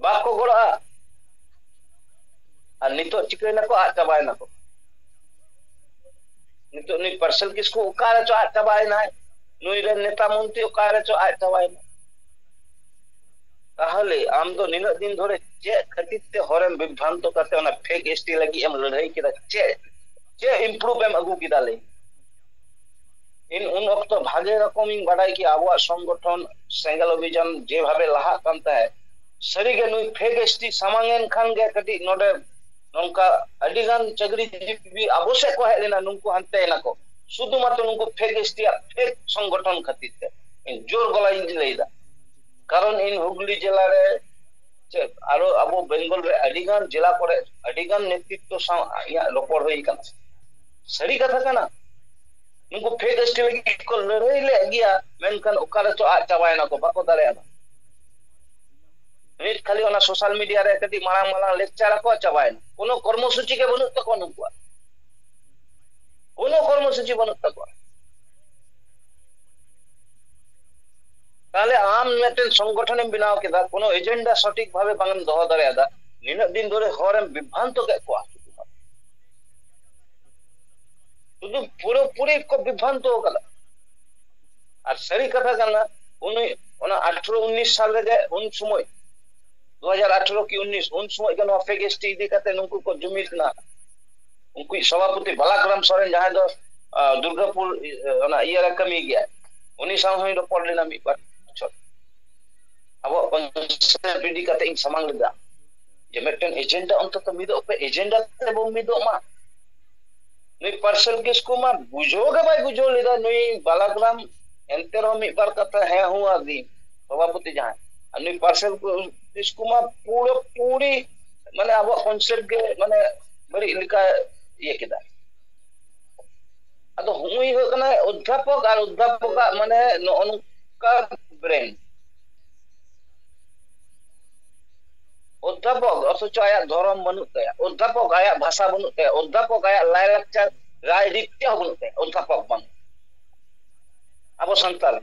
ᱵᱟᱠᱚ ᱜᱚᱲᱚᱜᱼᱟ ᱟᱨ ᱱᱤᱛᱚᱜ ᱪᱤᱠᱟᱹᱭᱱᱟᱠᱚ ᱟᱫ ᱪᱟᱵᱟᱭᱱᱟᱠᱚ ᱱᱤᱛᱚᱜ ᱱᱩᱭ ᱯᱟᱨᱥᱮᱞ ᱠᱤᱥᱠᱩ ᱚᱠᱟ ᱨᱮᱪᱚ ᱟᱫ ᱪᱟᱵᱟᱭᱮᱱᱟᱭ ᱱᱩᱭ ᱨᱮᱱ ᱱᱮᱛᱟ ᱢᱚᱱᱛᱨᱤ ᱚᱠᱟ ᱨᱮᱪᱚ ᱟᱫ ᱪᱟᱵᱟᱭᱮᱱᱟ ᱛᱟᱦᱚᱞᱮ ᱟᱢ ᱫᱚ ᱱᱤᱱᱟᱹᱜ ᱫᱤᱱ ᱫᱷᱚᱨᱮ ᱪᱮᱫ ᱠᱷᱟᱹᱛᱤᱨ ᱛᱮ ᱦᱚᱨᱮᱢ ᱵᱤᱵᱷᱨᱟᱱᱛᱚ ᱠᱟᱛᱮ ᱚᱱᱟ ᱯᱷᱮᱠ ᱮᱥᱴᱤ ᱞᱟᱹᱜᱤᱫ ᱮᱢ ᱞᱟᱹᱲᱦᱟᱹᱭ ᱠᱮᱫᱟ ᱪᱮᱫ ᱪᱮᱫ ᱤᱢᱯᱨᱩᱵᱷ ᱮᱢ ᱟᱹᱜᱩ ᱠᱮᱫᱟ ᱞᱟᱹᱭ ᱤᱧ ᱩᱱ ᱚᱠᱛᱚ ᱵᱷᱟᱜᱮ ᱨᱚᱠᱚᱢᱤᱧ ᱵᱟᱰᱟᱭ ᱠᱮᱭᱟ ᱟᱵᱚᱣᱟᱜ ᱥᱚᱝᱜᱚᱴᱷᱚᱱ ᱥᱮᱸᱜᱮᱞ ᱚᱵᱷᱤᱡᱟᱱ ᱡᱮᱵᱷᱟᱵᱮ ᱞᱟᱦᱟᱜ ᱠᱟᱱ ᱛᱟᱦᱮᱸᱫ ᱥᱟᱹᱨᱤᱜᱮ ᱱᱩᱭ ᱯᱷᱮᱠ ᱮᱥᱴᱤ ᱥᱟᱢᱟᱝ ᱮᱱ ᱠᱷᱟᱱ ᱜᱮ ᱠᱟᱹᱴᱤᱡ ᱱᱚᱰᱮ ᱱᱚᱝᱠᱟ ᱟᱹᱰᱤ ᱜᱟᱱ ᱪᱟᱹᱠᱨᱤ ᱡᱤᱵᱤ ᱟᱵᱚ ᱥᱮᱫ ᱠᱚ ᱦᱮᱡ ᱞᱮᱱᱟ ᱱᱩᱠᱩ ᱦᱟᱱᱛᱮ ᱱᱟᱠᱚ ᱥᱩᱫᱷᱩ ᱢᱟᱛᱨᱚ ᱱᱩᱠᱩ ᱯᱷᱮᱠ ᱮᱥᱴᱤᱭᱟᱜ ᱯᱷᱮᱠ ᱥᱚᱝᱜᱚᱴᱷᱚᱱ ᱠᱷᱟᱹᱛᱤᱨ ᱛᱮ ᱤᱧ ᱡᱳᱨ ᱜᱚᱞᱟᱧ ᱞᱟᱹᱭᱫᱟ ᱠᱟᱨᱚᱱ ᱤᱧ ᱦᱩᱜᱽᱞᱤ ᱡᱮᱞᱟ ᱨᱮ ᱥᱮ ᱟᱨᱚ ᱟᱵᱚ ᱵᱮᱝᱜᱚᱞ ᱨᱮ ᱟᱹᱰᱤ ᱜᱟᱱ ᱡᱮᱞᱟ ᱠᱚᱨᱮ ᱟᱹᱰᱤ ᱜᱟᱱ ᱱᱮᱛᱨᱤᱛᱛᱚ ᱥᱟᱶ ᱤᱧᱟᱹᱜ ᱨᱚᱯᱚᱲ ᱦᱩᱭ ᱟᱠᱟᱱᱟ ᱥᱟᱹᱨᱤ ᱠᱟᱛᱷᱟ ᱠᱟᱱᱟ ᱱᱩᱠᱩ ᱯᱷᱮᱠ ᱮᱥᱴᱤ ᱞᱟᱹᱜᱤᱫ ᱠᱚ ᱞᱟᱹᱲᱦᱟᱹᱭ ᱞᱮᱫ ᱜᱮᱭᱟ ᱢᱮᱱᱠᱷᱟᱱ ᱚᱠᱟ ᱨᱮᱪᱚ ᱟᱫ ᱪᱟᱵᱟᱭᱮᱱᱟ ᱠᱚ ᱵᱟᱠᱚ ᱫᱟᱲᱮᱭᱟᱫᱟ ᱢᱤᱫ ᱠᱷᱟᱹᱞᱤ ᱚᱱᱟ ᱥᱳᱥᱟᱞ ᱢᱤᱰᱤᱭᱟ ᱨᱮ ᱠᱟᱹᱴᱤᱡ ᱢᱟᱲᱟᱝ ᱢᱟᱲᱟᱝ ᱞᱮᱠᱪᱟᱨ ᱟᱠᱚ ᱪᱟᱵᱟᱭᱮᱱᱟ ᱠᱳᱱᱳ ᱠᱚᱨᱢᱚᱥᱩᱪᱤ ᱜᱮ ᱵᱟᱹᱱᱩᱜ ᱛᱟᱠᱚᱣᱟ ᱱᱩᱠᱩᱣᱟᱜ ᱠᱳᱱᱳ ᱠᱚᱨᱢᱚᱥᱩᱪᱤ ᱵᱟᱹᱱᱩᱜ ᱛᱟᱠᱚᱣᱟ ᱛᱟᱦᱞᱮ ᱟᱢ ᱢᱤᱫᱴᱮᱱ ᱥᱚᱝᱜᱚᱴᱷᱚᱱᱮᱢ ᱵᱮᱱᱟᱣ ᱠᱮᱫᱟ ᱠᱳᱱᱳ ᱮᱡᱮᱱᱰᱟ ᱥᱚᱴᱷᱤᱠ ᱵᱷᱟᱵᱮ ᱵᱟᱝᱮᱢ ᱫᱚᱦᱚ ᱫᱟᱲᱮᱭᱟᱫᱟ ᱱᱤᱱᱟᱹᱜ ᱫᱤᱱ ᱫᱷᱚᱨᱮ ᱦᱚᱲᱮᱢ ᱵᱤᱵᱷᱨᱟᱱᱛᱚ ᱠᱮᱫ ᱠᱚᱣᱟ ᱥᱩᱫᱷᱩ ᱯᱩᱨᱟᱹᱯᱩᱨᱤ ᱠᱚ ᱵᱤᱵᱷᱨᱟᱱᱛᱚ ᱠᱟᱫᱟ ᱟᱨ ᱥᱟᱹᱨᱤ ᱠᱟᱛᱷᱟ ᱠᱟᱱᱟ ᱩᱱᱤ ᱚᱱᱟ ᱟᱴᱷᱨᱚ ᱩᱱᱤᱥ ᱥᱟᱞ ᱨᱮᱜᱮ ᱩᱱ ᱥᱚᱢᱚᱭ ᱫᱩ ᱦᱟᱡᱟᱨ ᱟᱴᱷᱨᱚ ᱠᱤ ᱩᱱᱤᱥ ᱩᱱ ᱥᱚᱢᱚᱭ ᱜᱮ ᱱᱚᱣᱟ ᱯᱷᱮᱠ ᱮᱥ ᱴᱤ ᱤᱫᱤ ᱠᱟᱛᱮ ᱱᱩᱠᱩ ᱠᱚ ᱡᱩᱢᱤᱫ ᱮᱱᱟ ᱩᱱᱠᱩ ᱥᱚᱵᱷᱟᱯᱚᱛᱤ ᱵᱟᱞᱟᱠᱨᱟᱢ ᱥᱚᱨᱮᱱ ᱡᱟᱦᱟᱸᱭ ᱫᱚ ᱫᱩᱨᱜᱟᱯᱩᱨ ᱚᱱᱟ ᱤᱭᱟᱹ ᱨᱮ ᱠᱟᱹᱢᱤ ᱜᱮᱭᱟ ᱩᱱᱤ ᱥᱟᱶ ᱦᱚᱸᱧ ᱨᱚᱯᱚᱲ ᱞᱮᱱᱟ ᱢᱤᱫ ᱵᱟᱨ ᱵᱚᱪᱷᱚᱨ ᱟᱵᱚᱣᱟᱜ ᱠᱚᱱᱥᱮᱯᱴ ᱤᱫᱤ ᱠᱟᱛᱮ ᱤᱧ ᱥᱟᱢᱟᱝ ᱞᱮᱫᱟ ᱡᱮ ᱢᱤᱫᱴᱮᱱ ᱮᱡᱮᱱᱰᱟ ᱚᱱᱛᱚᱛᱚ ᱢᱤᱫᱚᱜ ᱯᱮ ᱮᱡᱮᱱᱰᱟ ᱛᱮᱵᱚᱱ ᱢᱤᱫᱚᱜ ᱢᱟ ᱱᱩᱭ ᱯᱟᱨᱥᱮᱞ ᱠᱤᱥᱠᱩ ᱢᱟ ᱵᱩᱡᱷᱟᱹᱣ ᱜᱮ ᱵᱟᱭ ᱵᱩᱡᱷᱟᱹᱣ ᱞᱮᱫᱟ ᱱᱩᱭ ᱵᱟᱞᱟᱜᱨᱟᱢ ᱮᱱᱛᱮ ᱨᱮᱦᱚᱸ ᱢᱤᱫ ᱵᱟᱨ ᱠᱟᱛᱷᱟ ᱦᱮᱸ ᱦᱩᱸ ᱟᱹᱫᱤᱧ ᱥᱚᱵᱷᱟᱯᱚᱛᱤ ᱡᱟᱦᱟᱸᱭ ᱟᱨ ᱱᱩᱭ ᱯᱟᱨᱥᱮᱞ ᱠᱤᱥᱠᱩ ᱢᱟ ᱯᱩᱨᱟᱹ ᱯᱩᱨᱤ ᱢᱟᱱᱮ ᱟᱵᱚᱣᱟᱜ ᱠᱚᱱᱥᱮᱯᱴ ᱜᱮ ᱢᱟᱱᱮ ᱵᱟᱹᱲᱤᱡ ᱞᱮᱠᱟ ᱤᱭᱟᱹ ᱠᱮᱫᱟ ᱟᱫᱚ ᱦᱩᱭ ᱦᱩᱭᱩᱜ ᱠᱟᱱᱟ ᱚᱫᱷᱟᱯᱚᱠ ᱟᱨ ᱚᱫᱷᱟᱯᱚᱠᱟᱜ ᱢᱟᱱᱮ ᱱᱚᱜᱼᱚ ᱱᱚᱝᱠᱟ ᱵᱨᱮᱱ ᱚᱫᱽᱫᱷᱟᱯᱚᱠ ᱚᱛᱷᱚᱪᱚ ᱟᱭᱟᱜ ᱫᱷᱚᱨᱚᱢ ᱵᱟᱹᱱᱩᱜ ᱛᱟᱭᱟ ᱚᱫᱽᱫᱷᱟᱯᱚᱠ ᱟᱭᱟᱜ ᱵᱷᱟᱥᱟ ᱵᱟᱹᱱᱩᱜ ᱛᱟᱭᱟ ᱚᱫᱽᱫᱷᱟᱯᱚᱠ ᱟᱭᱟᱜ ᱞᱟᱭᱞᱟᱠᱪᱟᱨ ᱨᱟᱭ ᱨᱤᱛ ᱪᱮᱫ ᱦᱚᱸ ᱵᱟᱹᱱᱩᱜ ᱛᱟᱭᱟ ᱚᱫᱽᱫᱷᱟᱯᱚᱠ ᱵᱟᱝ ᱟᱵᱚ ᱥᱟᱱᱛᱟᱲ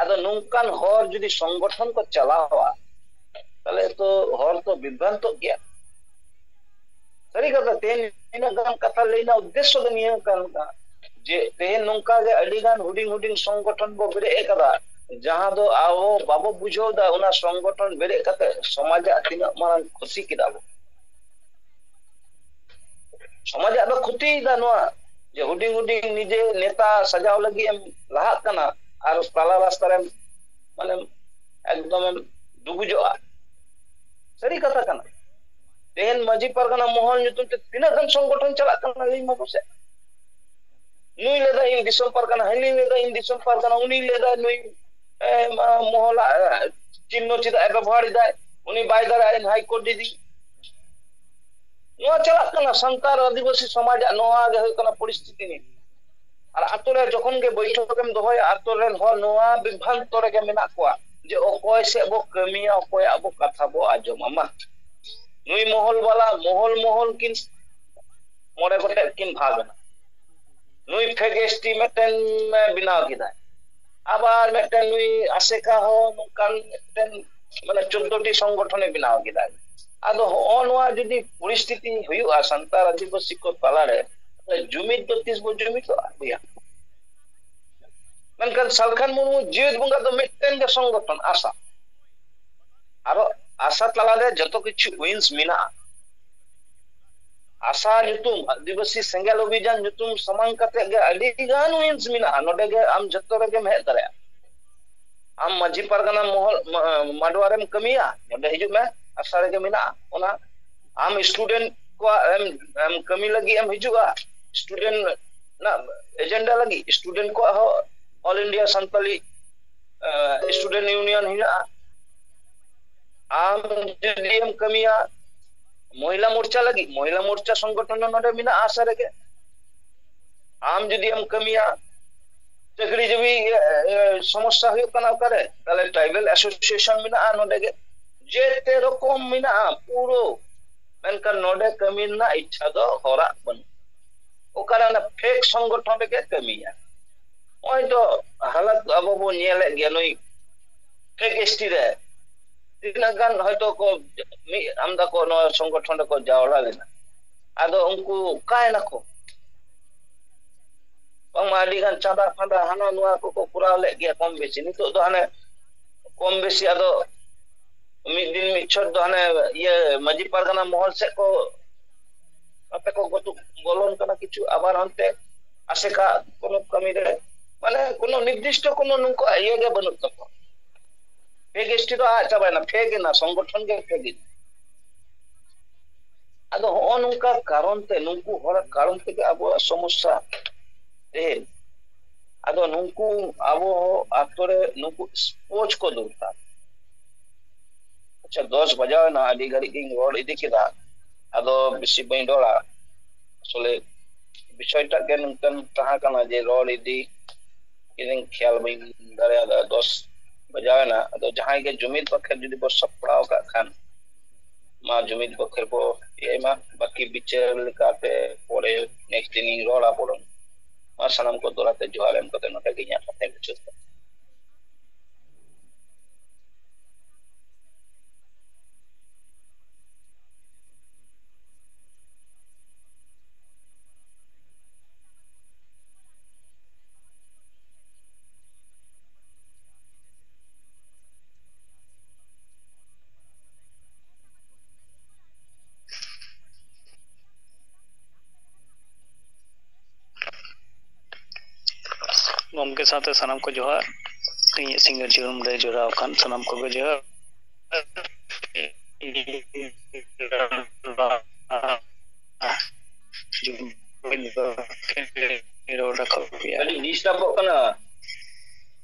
ᱟᱫᱚ ᱱᱚᱝᱠᱟᱱ ᱦᱚᱲ ᱡᱩᱫᱤ ᱥᱚᱝᱜᱚᱴᱷᱚᱱ ᱠᱚ ᱪᱟᱞᱟᱣᱟ ᱛᱟᱦᱚᱞᱮ ᱛᱚ ᱦᱚᱲ ᱠᱚ ᱵᱤᱵᱷᱨᱟᱱᱛᱚᱜ ᱜᱮᱭᱟ ᱥᱟᱹᱨᱤ ᱠᱟᱛᱷᱟ ᱛᱮᱦᱮᱧ ᱱᱤᱱᱟᱹᱜ ᱜᱟᱱ ᱠᱟᱛᱷᱟ ᱞᱟᱹᱭ ᱨᱮᱱᱟᱜ ᱩᱫᱽᱫᱮᱥᱥᱚ ᱫᱚ ᱱᱤᱭᱟᱹ ᱠᱟᱱ ᱛᱟᱦᱮᱸᱫ ᱡᱮ ᱛᱮᱦᱮᱧ ᱱᱚᱝᱠᱟ ᱜᱮ ᱟᱹᱰᱤ ᱜᱟᱱ ᱦᱩᱰᱤᱧ ᱦᱩᱰᱤᱧ ᱥᱚᱝᱜᱚᱴᱷᱚᱱ ᱵᱚ ᱵᱮᱨᱮᱫ ᱟᱠᱟᱫᱟ ᱡᱟᱦᱟᱸ ᱫᱚ ᱟᱵᱚ ᱵᱟᱵᱚ ᱵᱩᱡᱷᱟᱹᱣ ᱮᱫᱟ ᱚᱱᱟ ᱥᱚᱝᱜᱚᱴᱷᱚᱱ ᱵᱮᱨᱮᱫ ᱠᱟᱛᱮ ᱥᱚᱢᱟᱡᱟᱜ ᱛᱤᱱᱟᱹᱜ ᱢᱟᱨᱟᱝ ᱠᱷᱩᱛᱤ ᱠᱮᱫᱟ ᱵᱚ ᱥᱚᱢᱟᱡᱟᱜ ᱫᱚ ᱠᱷᱩᱛᱤᱭᱮᱫᱟ ᱱᱚᱣᱟ ᱡᱮ ᱦᱩᱰᱤᱧ ᱦᱩᱰᱤᱧ ᱱᱤᱡᱮ ᱱᱮᱛᱟ ᱥᱟᱡᱟᱣ ᱞᱟᱹᱜᱤᱫ ᱮᱢ ᱞᱟᱦᱟᱜ ᱠᱟᱱᱟ ᱟᱨ ᱛᱟᱞᱟ ᱨᱟᱥᱛᱟ ᱨᱮᱢ ᱢᱟᱱᱮᱢ ᱮᱠᱫᱚᱢᱮᱢ ᱰᱩᱵᱩᱡᱚᱜᱼᱟ ᱥᱟᱹᱨᱤ ᱠᱟᱛᱷᱟ ᱠᱟᱱᱟ ᱛᱮᱦᱮᱧ ᱢᱟᱺᱡᱷᱤ ᱯᱟᱨᱜᱟᱱᱟ ᱢᱚᱦᱚᱞ ᱧᱩᱛᱩᱢ ᱛᱮ ᱛᱤᱱᱟᱹᱜ ᱜᱟᱱ ᱥᱚᱝᱜᱚᱴᱷᱚᱱ ᱪᱟᱞᱟᱜ ᱠᱟᱱᱟ ᱞᱟᱹᱭ ᱢᱟ ᱯᱟᱥᱮ ᱱᱩᱭ ᱞᱟᱹᱭᱫᱟ ᱤᱧ ᱫᱤᱥᱚᱢ ᱯᱟᱨᱜᱟᱱᱟ ᱦᱟᱹᱱᱤ ᱞᱟᱹᱭᱫᱟ ᱤᱧ ᱫᱤᱥᱚᱢ ᱯᱟᱨᱜᱟᱱᱟ ᱩᱱᱤ ᱞᱟᱹᱭᱫᱟ ᱱᱩᱭ ᱢᱚᱦᱚᱞᱟᱜ ᱪᱤᱱᱱᱚ ᱪᱮᱫᱟᱜ ᱮ ᱵᱮᱵᱚᱦᱟᱨ ᱮᱫᱟᱭ ᱩᱱᱤ ᱵᱟᱭ ᱫᱟᱲᱮᱭᱟᱜᱼᱟ ᱤᱧ ᱦᱟᱭᱠᱳᱨᱴ ᱤᱫᱤ ᱱᱚᱣᱟ ᱪᱟᱞᱟᱜ ᱠᱟᱱᱟ ᱥᱟᱱᱛᱟᱲ ᱟᱹᱫᱤᱵᱟᱹᱥᱤ ᱥᱚᱢᱟᱡᱟᱜ ᱱᱚᱣᱟ ᱜᱮ ᱦᱩᱭᱩᱜ ᱠᱟᱱᱟ ᱯᱚᱨᱤᱥᱛᱷᱤᱛᱤ ᱱᱤᱛ ᱟᱨ ᱟᱛᱳ ᱨᱮ ᱡᱚᱠᱷᱚᱱ ᱜᱮ ᱵᱳᱭᱴᱷᱚᱠ ᱮᱢ ᱫᱚᱦᱚᱭᱟ ᱟᱛᱳ ᱨᱮᱱ ᱦᱚᱲ ᱱᱚᱣᱟ ᱵᱤᱵᱷᱨᱟᱱᱛᱚ ᱨᱮᱜᱮ ᱢᱮᱱᱟᱜ ᱠᱚᱣᱟ ᱡᱮ ᱚᱠᱚᱭ ᱥᱮᱫ ᱵᱚ ᱠᱟᱹᱢᱤᱭᱟ ᱚᱠᱚᱭᱟᱜ ᱵᱚ ᱠᱟᱛᱷᱟ ᱵᱚ ᱟᱸᱡᱚᱢᱟ ᱢᱟ ᱱᱩᱭ ᱢᱚᱦᱚᱞ ᱵᱟᱞᱟ ᱢᱚᱦᱚᱞ ᱢᱚᱦᱚᱞ ᱠᱤᱱ ᱢᱚᱬᱮ ᱜᱚᱴᱮᱡ ᱠᱤᱱ ᱵᱷᱟᱜᱽ ᱮᱱᱟ ᱱᱩᱭ ᱯᱷᱮᱠ ᱮᱥ ᱴᱤ ᱢᱤᱫᱴᱮᱱ ᱵᱮᱱᱟᱣ ᱠᱮᱫᱟᱭ ᱟᱵᱟᱨ ᱢᱤᱫᱴᱮᱱ ᱱᱩᱭ ᱟᱥᱮᱠᱟ ᱦᱚᱸ ᱱᱚᱝᱠᱟᱱ ᱢᱤᱫᱴᱮᱱ ᱢᱟᱱᱮ ᱪᱳᱫᱽᱫᱳᱴᱤ ᱥᱚᱝᱜᱚᱴᱷᱚᱱᱮ ᱵᱮᱱᱟᱣ ᱠᱮᱫᱟ ᱟᱫᱚ ᱦᱚᱸᱜᱼᱚ ᱱᱚᱣᱟ ᱡᱩᱫᱤ ᱯᱚᱨᱤᱥᱛᱷᱤᱛᱤ ᱦᱩᱭᱩᱜᱼᱟ ᱥᱟᱱᱛᱟᱲ ᱟᱹᱫᱤᱵᱟᱹᱥᱤ ᱠᱚ ᱛᱟᱞᱟᱨᱮ ᱡᱩᱢᱤᱫ ᱫᱚ ᱛᱤᱥ ᱵᱚᱱ ᱡᱩᱢᱤᱫᱚᱜᱼᱟ ᱵᱚᱭᱦᱟ ᱢᱮᱱᱠᱷᱟᱱ ᱥᱟᱞᱠᱷᱟᱱ ᱢᱩᱨᱢᱩ ᱡᱮᱣᱮᱫ ᱵᱚᱸᱜᱟ ᱫᱚ ᱢᱤᱫᱴᱮᱱ ᱜᱮ ᱥᱚᱝᱜᱚᱴᱷᱚᱱ ᱟᱥᱟ ᱟᱨᱚ ᱟᱥᱟ ᱛᱟᱞᱟᱨᱮ ᱡᱚᱛᱚ ᱠᱤᱪᱷᱩ ᱩᱭᱤᱱᱥ ᱢᱮᱱᱟᱜᱼᱟ ᱟᱥᱟ ᱧᱩᱛᱩᱢ ᱟᱹᱫᱤᱵᱟᱹᱥᱤ ᱥᱮᱸᱜᱮᱞ ᱚᱵᱷᱤᱡᱟᱱ ᱧᱩᱛᱩᱢ ᱥᱟᱢᱟᱝ ᱠᱟᱛᱮ ᱜᱮ ᱟᱹᱰᱤ ᱜᱟᱱ ᱩᱭᱤᱝᱥ ᱢᱮᱱᱟᱜᱼᱟ ᱱᱚᱰᱮ ᱜᱮ ᱟᱢ ᱡᱚᱛᱚ ᱨᱮᱜᱮᱢ ᱦᱮᱡ ᱫᱟᱲᱮᱭᱟᱜᱼᱟ ᱟᱢ ᱢᱟᱹᱡᱷᱤ ᱯᱟᱨᱜᱟᱱᱟ ᱢᱚᱦᱚᱞ ᱢᱟᱰᱣᱟ ᱨᱮᱢ ᱠᱟᱹᱢᱤᱭᱟ ᱱᱚᱰᱮ ᱦᱤᱡᱩᱜ ᱢᱮ ᱟᱥᱟ ᱨᱮᱜᱮ ᱢᱮᱱᱟᱜᱼᱟ ᱚᱱᱟ ᱟᱢ ᱥᱴᱩᱰᱮᱱᱴ ᱠᱚᱣᱟᱜ ᱮᱢ ᱠᱟᱹᱢᱤ ᱞᱟᱹᱜᱤᱫ ᱮᱢ ᱦᱤᱡᱩᱜᱼᱟ ᱥᱴᱩᱰᱮᱱᱴ ᱨᱮᱱᱟᱜ ᱮᱡᱮᱱᱰᱟ ᱞᱟᱹᱜᱤᱫ ᱥᱴᱩᱰᱮᱱᱴ ᱠᱚᱣᱟᱜ ᱦᱚᱸ all India Santali student union ᱦᱮᱱᱟᱜᱼᱟ ᱟᱢ ᱡᱩᱫᱤᱢ ᱠᱟᱹᱢᱤᱭᱟ ᱢᱚᱦᱤᱞᱟ ᱢᱳᱨᱪᱟ ᱞᱟᱹᱜᱤᱫ ᱢᱚᱦᱤᱞᱟ ᱢᱳᱨᱪᱟ ᱥᱚᱝᱜᱚᱴᱷᱚᱱ ᱦᱚᱸ ᱱᱚᱰᱮ ᱢᱮᱱᱟᱜᱼᱟ ᱟᱥᱟ ᱨᱮᱜᱮ ᱟᱢ ᱡᱩᱫᱤ ᱮᱢ ᱠᱟᱹᱢᱤᱭᱟ ᱪᱟᱹᱠᱨᱤ ᱡᱤᱵᱤ ᱥᱚᱢᱚᱥᱥᱟ ᱦᱩᱭᱩᱜ ᱠᱟᱱᱟ ᱚᱠᱟᱨᱮ ᱛᱟᱦᱞᱮ ᱴᱨᱟᱭᱵᱮᱞ ᱮᱥᱳᱥᱤᱭᱮᱥᱚᱱ ᱢᱮᱱᱟᱜᱼᱟ ᱱᱚᱰᱮ ᱜᱮ ᱡᱮᱛᱮ ᱨᱚᱠᱚᱢ ᱢᱮᱱᱟᱜᱼᱟ ᱯᱩᱨᱟᱹ ᱢᱮᱱᱠᱷᱟᱱ ᱱᱚᱰᱮ ᱠᱟᱹᱢᱤ ᱨᱮᱱᱟᱜ ᱤᱪᱪᱷᱟ ᱫᱚ ᱦᱚᱲᱟᱜ ᱵᱟᱹᱱᱩᱜ ᱚᱠᱟᱨᱮ ᱚᱱᱟ ᱯᱷᱮᱠ ᱥᱚᱝᱜᱚᱴᱷᱚᱱ ᱨᱮᱜᱮ ᱠᱟᱹᱢᱤᱭᱟ ᱱᱚᱜᱼᱚᱭ ᱫᱚ ᱦᱟᱞᱚᱛ ᱟᱵᱚ ᱵᱚᱱ ᱧᱮᱞᱮᱫ ᱜᱮᱭᱟ ᱱᱩᱭ ᱯᱷᱮᱠ ᱮᱥᱴᱤ ᱨᱮ ᱛᱤᱱᱟᱹᱜ ᱜᱟᱱ ᱦᱚᱭᱛᱳ ᱠᱚ ᱢᱤᱫ ᱟᱢᱫᱟ ᱠᱚ ᱱᱚᱣᱟ ᱥᱚᱝᱜᱚᱴᱷᱚᱱ ᱨᱮᱠᱚ ᱡᱟᱣᱨᱟ ᱞᱮᱱᱟ ᱟᱫᱚ ᱩᱱᱠᱩ ᱚᱠᱟᱭ ᱱᱟᱠᱚ ᱵᱟᱝᱢᱟ ᱟᱹᱰᱤ ᱜᱟᱱ ᱪᱟᱸᱫᱟ ᱯᱷᱟᱸᱫᱟ ᱦᱟᱱᱟ ᱱᱚᱣᱟ ᱠᱚᱠᱚ ᱠᱚᱨᱟᱣ ᱞᱮᱫ ᱜᱮᱭᱟ ᱠᱚᱢ ᱵᱮᱥᱤ ᱱᱤᱛᱚᱜ ᱫᱚ ᱦᱟᱱᱮ ᱠᱚᱢ ᱵᱮᱥᱤ ᱟᱫᱚ ᱢᱤᱫ ᱫᱤᱱ ᱢᱤᱫ ᱪᱷᱚᱴ ᱫᱚ ᱦᱟᱱᱮ ᱤᱭᱟᱹ ᱢᱟᱺᱡᱷᱤ ᱯᱟᱨᱜᱟᱱᱟ ᱢᱚᱦᱚᱞ ᱥᱮᱫ ᱠᱚ ᱟᱯᱮ ᱠᱚ ᱜᱚᱛᱩ ᱵᱚᱞᱚᱱ ᱠᱟᱱᱟ ᱠᱤᱪᱷᱩ ᱟᱵᱟᱨ ᱦᱟᱱᱛᱮ ᱟᱥᱮᱠᱟ ᱠᱚᱱᱚ ᱠᱟᱹᱢᱤ ᱨᱮ ᱢᱟᱱᱮ ᱠᱚᱱᱚ ᱱᱤᱨᱫᱤᱥᱴᱚ ᱠᱚᱱᱚ ᱱᱩᱠᱩᱣᱟᱜ ᱤᱭᱟᱹ ᱜᱮ ᱵᱟᱹᱱᱩᱜ ᱛᱟᱠᱚᱣᱟ ᱯᱷᱮᱠ ᱮᱥᱴᱤ ᱫᱚ ᱟᱫ ᱪᱟᱵᱟᱭᱮᱱᱟ ᱯᱷᱮᱠ ᱮᱱᱟ ᱥᱚᱝᱜᱚᱴᱷᱚᱱ ᱜᱮ ᱯᱷᱮᱠ ᱮᱱᱟ ᱟᱫᱚ ᱦᱚᱸᱜᱼᱚ ᱱᱚᱝᱠᱟ ᱠᱟᱨᱚᱱ ᱛᱮ ᱱᱩᱠᱩ ᱦᱚᱲᱟᱜ ᱠᱟᱨᱚᱱ ᱛᱮᱜᱮ ᱟᱵᱚᱣᱟᱜ ᱥᱚᱢᱚᱥᱥᱟ ᱛᱮᱦᱮᱧ ᱟᱫᱚ ᱱᱩᱠᱩ ᱟᱵᱚ ᱟᱛᱳ ᱨᱮ ᱱᱩᱠᱩ ᱥᱯᱳᱨᱴᱥ ᱠᱚ ᱫᱚᱨᱠᱟᱨ ᱟᱪᱪᱷᱟ ᱫᱚᱥ ᱵᱟᱡᱟᱣ ᱮᱱᱟ ᱟᱹᱰᱤ ᱜᱷᱟᱹᱲᱤᱡ ᱜᱤᱧ ᱨᱚᱲ ᱤᱫᱤ ᱠᱮᱫᱟ ᱟᱫᱚ ᱵᱮᱥᱤ ᱵᱟᱹᱧ ᱨᱚᱲᱟ ᱟᱥᱚᱞᱮ ᱵᱤᱥᱚᱭᱴᱟᱜ ᱜᱮ ᱱᱚᱝᱠᱟᱱ ᱛᱟᱦᱮᱸ ᱠᱟᱱᱟ ᱡᱮ ᱨᱚᱲ ᱤᱫᱤ ᱤᱧ ᱠᱷᱮᱭᱟᱞ ᱵᱟᱹᱧ ᱫᱟᱲᱮᱭᱟᱫᱟ ᱫᱚᱥ ᱵᱟᱡᱟᱣ ᱮᱱᱟ ᱟᱫᱚ ᱡᱟᱦᱟᱸᱭ ᱜᱮ ᱡᱩᱢᱤᱫ ᱵᱟᱠᱷᱮᱨ ᱡᱩᱫᱤ ᱵᱚ ᱥᱟᱯᱲᱟᱣ ᱠᱟᱜ ᱠᱷᱟᱱ ᱢᱟ ᱡᱩᱢᱤᱫ ᱵᱟᱠᱷᱮᱨ ᱵᱚ ᱤᱭᱟᱹᱭ ᱢᱟ ᱵᱟᱹᱠᱤ ᱵᱤᱪᱟᱹᱨ ᱞᱮᱠᱟᱛᱮ ᱯᱚᱨᱮ ᱱᱮᱠᱥᱴ ᱫᱤᱱᱤᱧ ᱨᱚᱲᱟ ᱵᱚᱨᱚᱝ ᱢᱟ ᱥᱟᱱᱟᱢ ᱠᱚ ᱫᱚᱲᱟᱛᱮ ᱡᱚᱦᱟᱨ ᱮᱢ ᱠᱟᱛᱮ ᱱᱚᱰᱮ ᱜᱮ ᱤᱧᱟᱹᱜ ᱠᱟᱛᱷᱟᱧ ᱢᱩᱪᱟᱹᱫ ᱫᱟ ᱜᱚᱢᱠᱮ ᱥᱟᱶᱛᱮ ᱥᱟᱱᱟᱢ ᱠᱚ ᱡᱚᱦᱟᱨ ᱤᱧᱟᱹᱜ ᱥᱤᱸᱜᱟᱹᱲ ᱡᱤᱭᱚᱱ ᱨᱮ ᱡᱚᱲᱟᱣ ᱟᱠᱟᱱ ᱥᱟᱱᱟᱢ ᱠᱚᱜᱮ ᱡᱚᱦᱟᱨ ᱨᱚᱲ ᱨᱟᱠᱟᱵ ᱜᱮᱭᱟ ᱟᱹᱰᱤ ᱰᱤᱥᱴᱟᱵᱚᱜ ᱠᱟᱱᱟ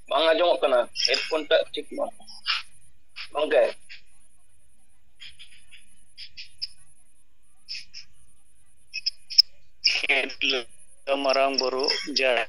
ᱵᱟᱝ ᱟᱸᱡᱚᱢᱚᱜ ᱠᱟᱱᱟ ᱦᱮᱰᱯᱷᱳᱱ ᱴᱟᱜ ᱴᱷᱤᱠ ᱢᱟ ᱜᱚᱝᱠᱮ ᱢᱟᱨᱟᱝ ᱵᱩᱨᱩ ᱡᱟᱦᱮᱨ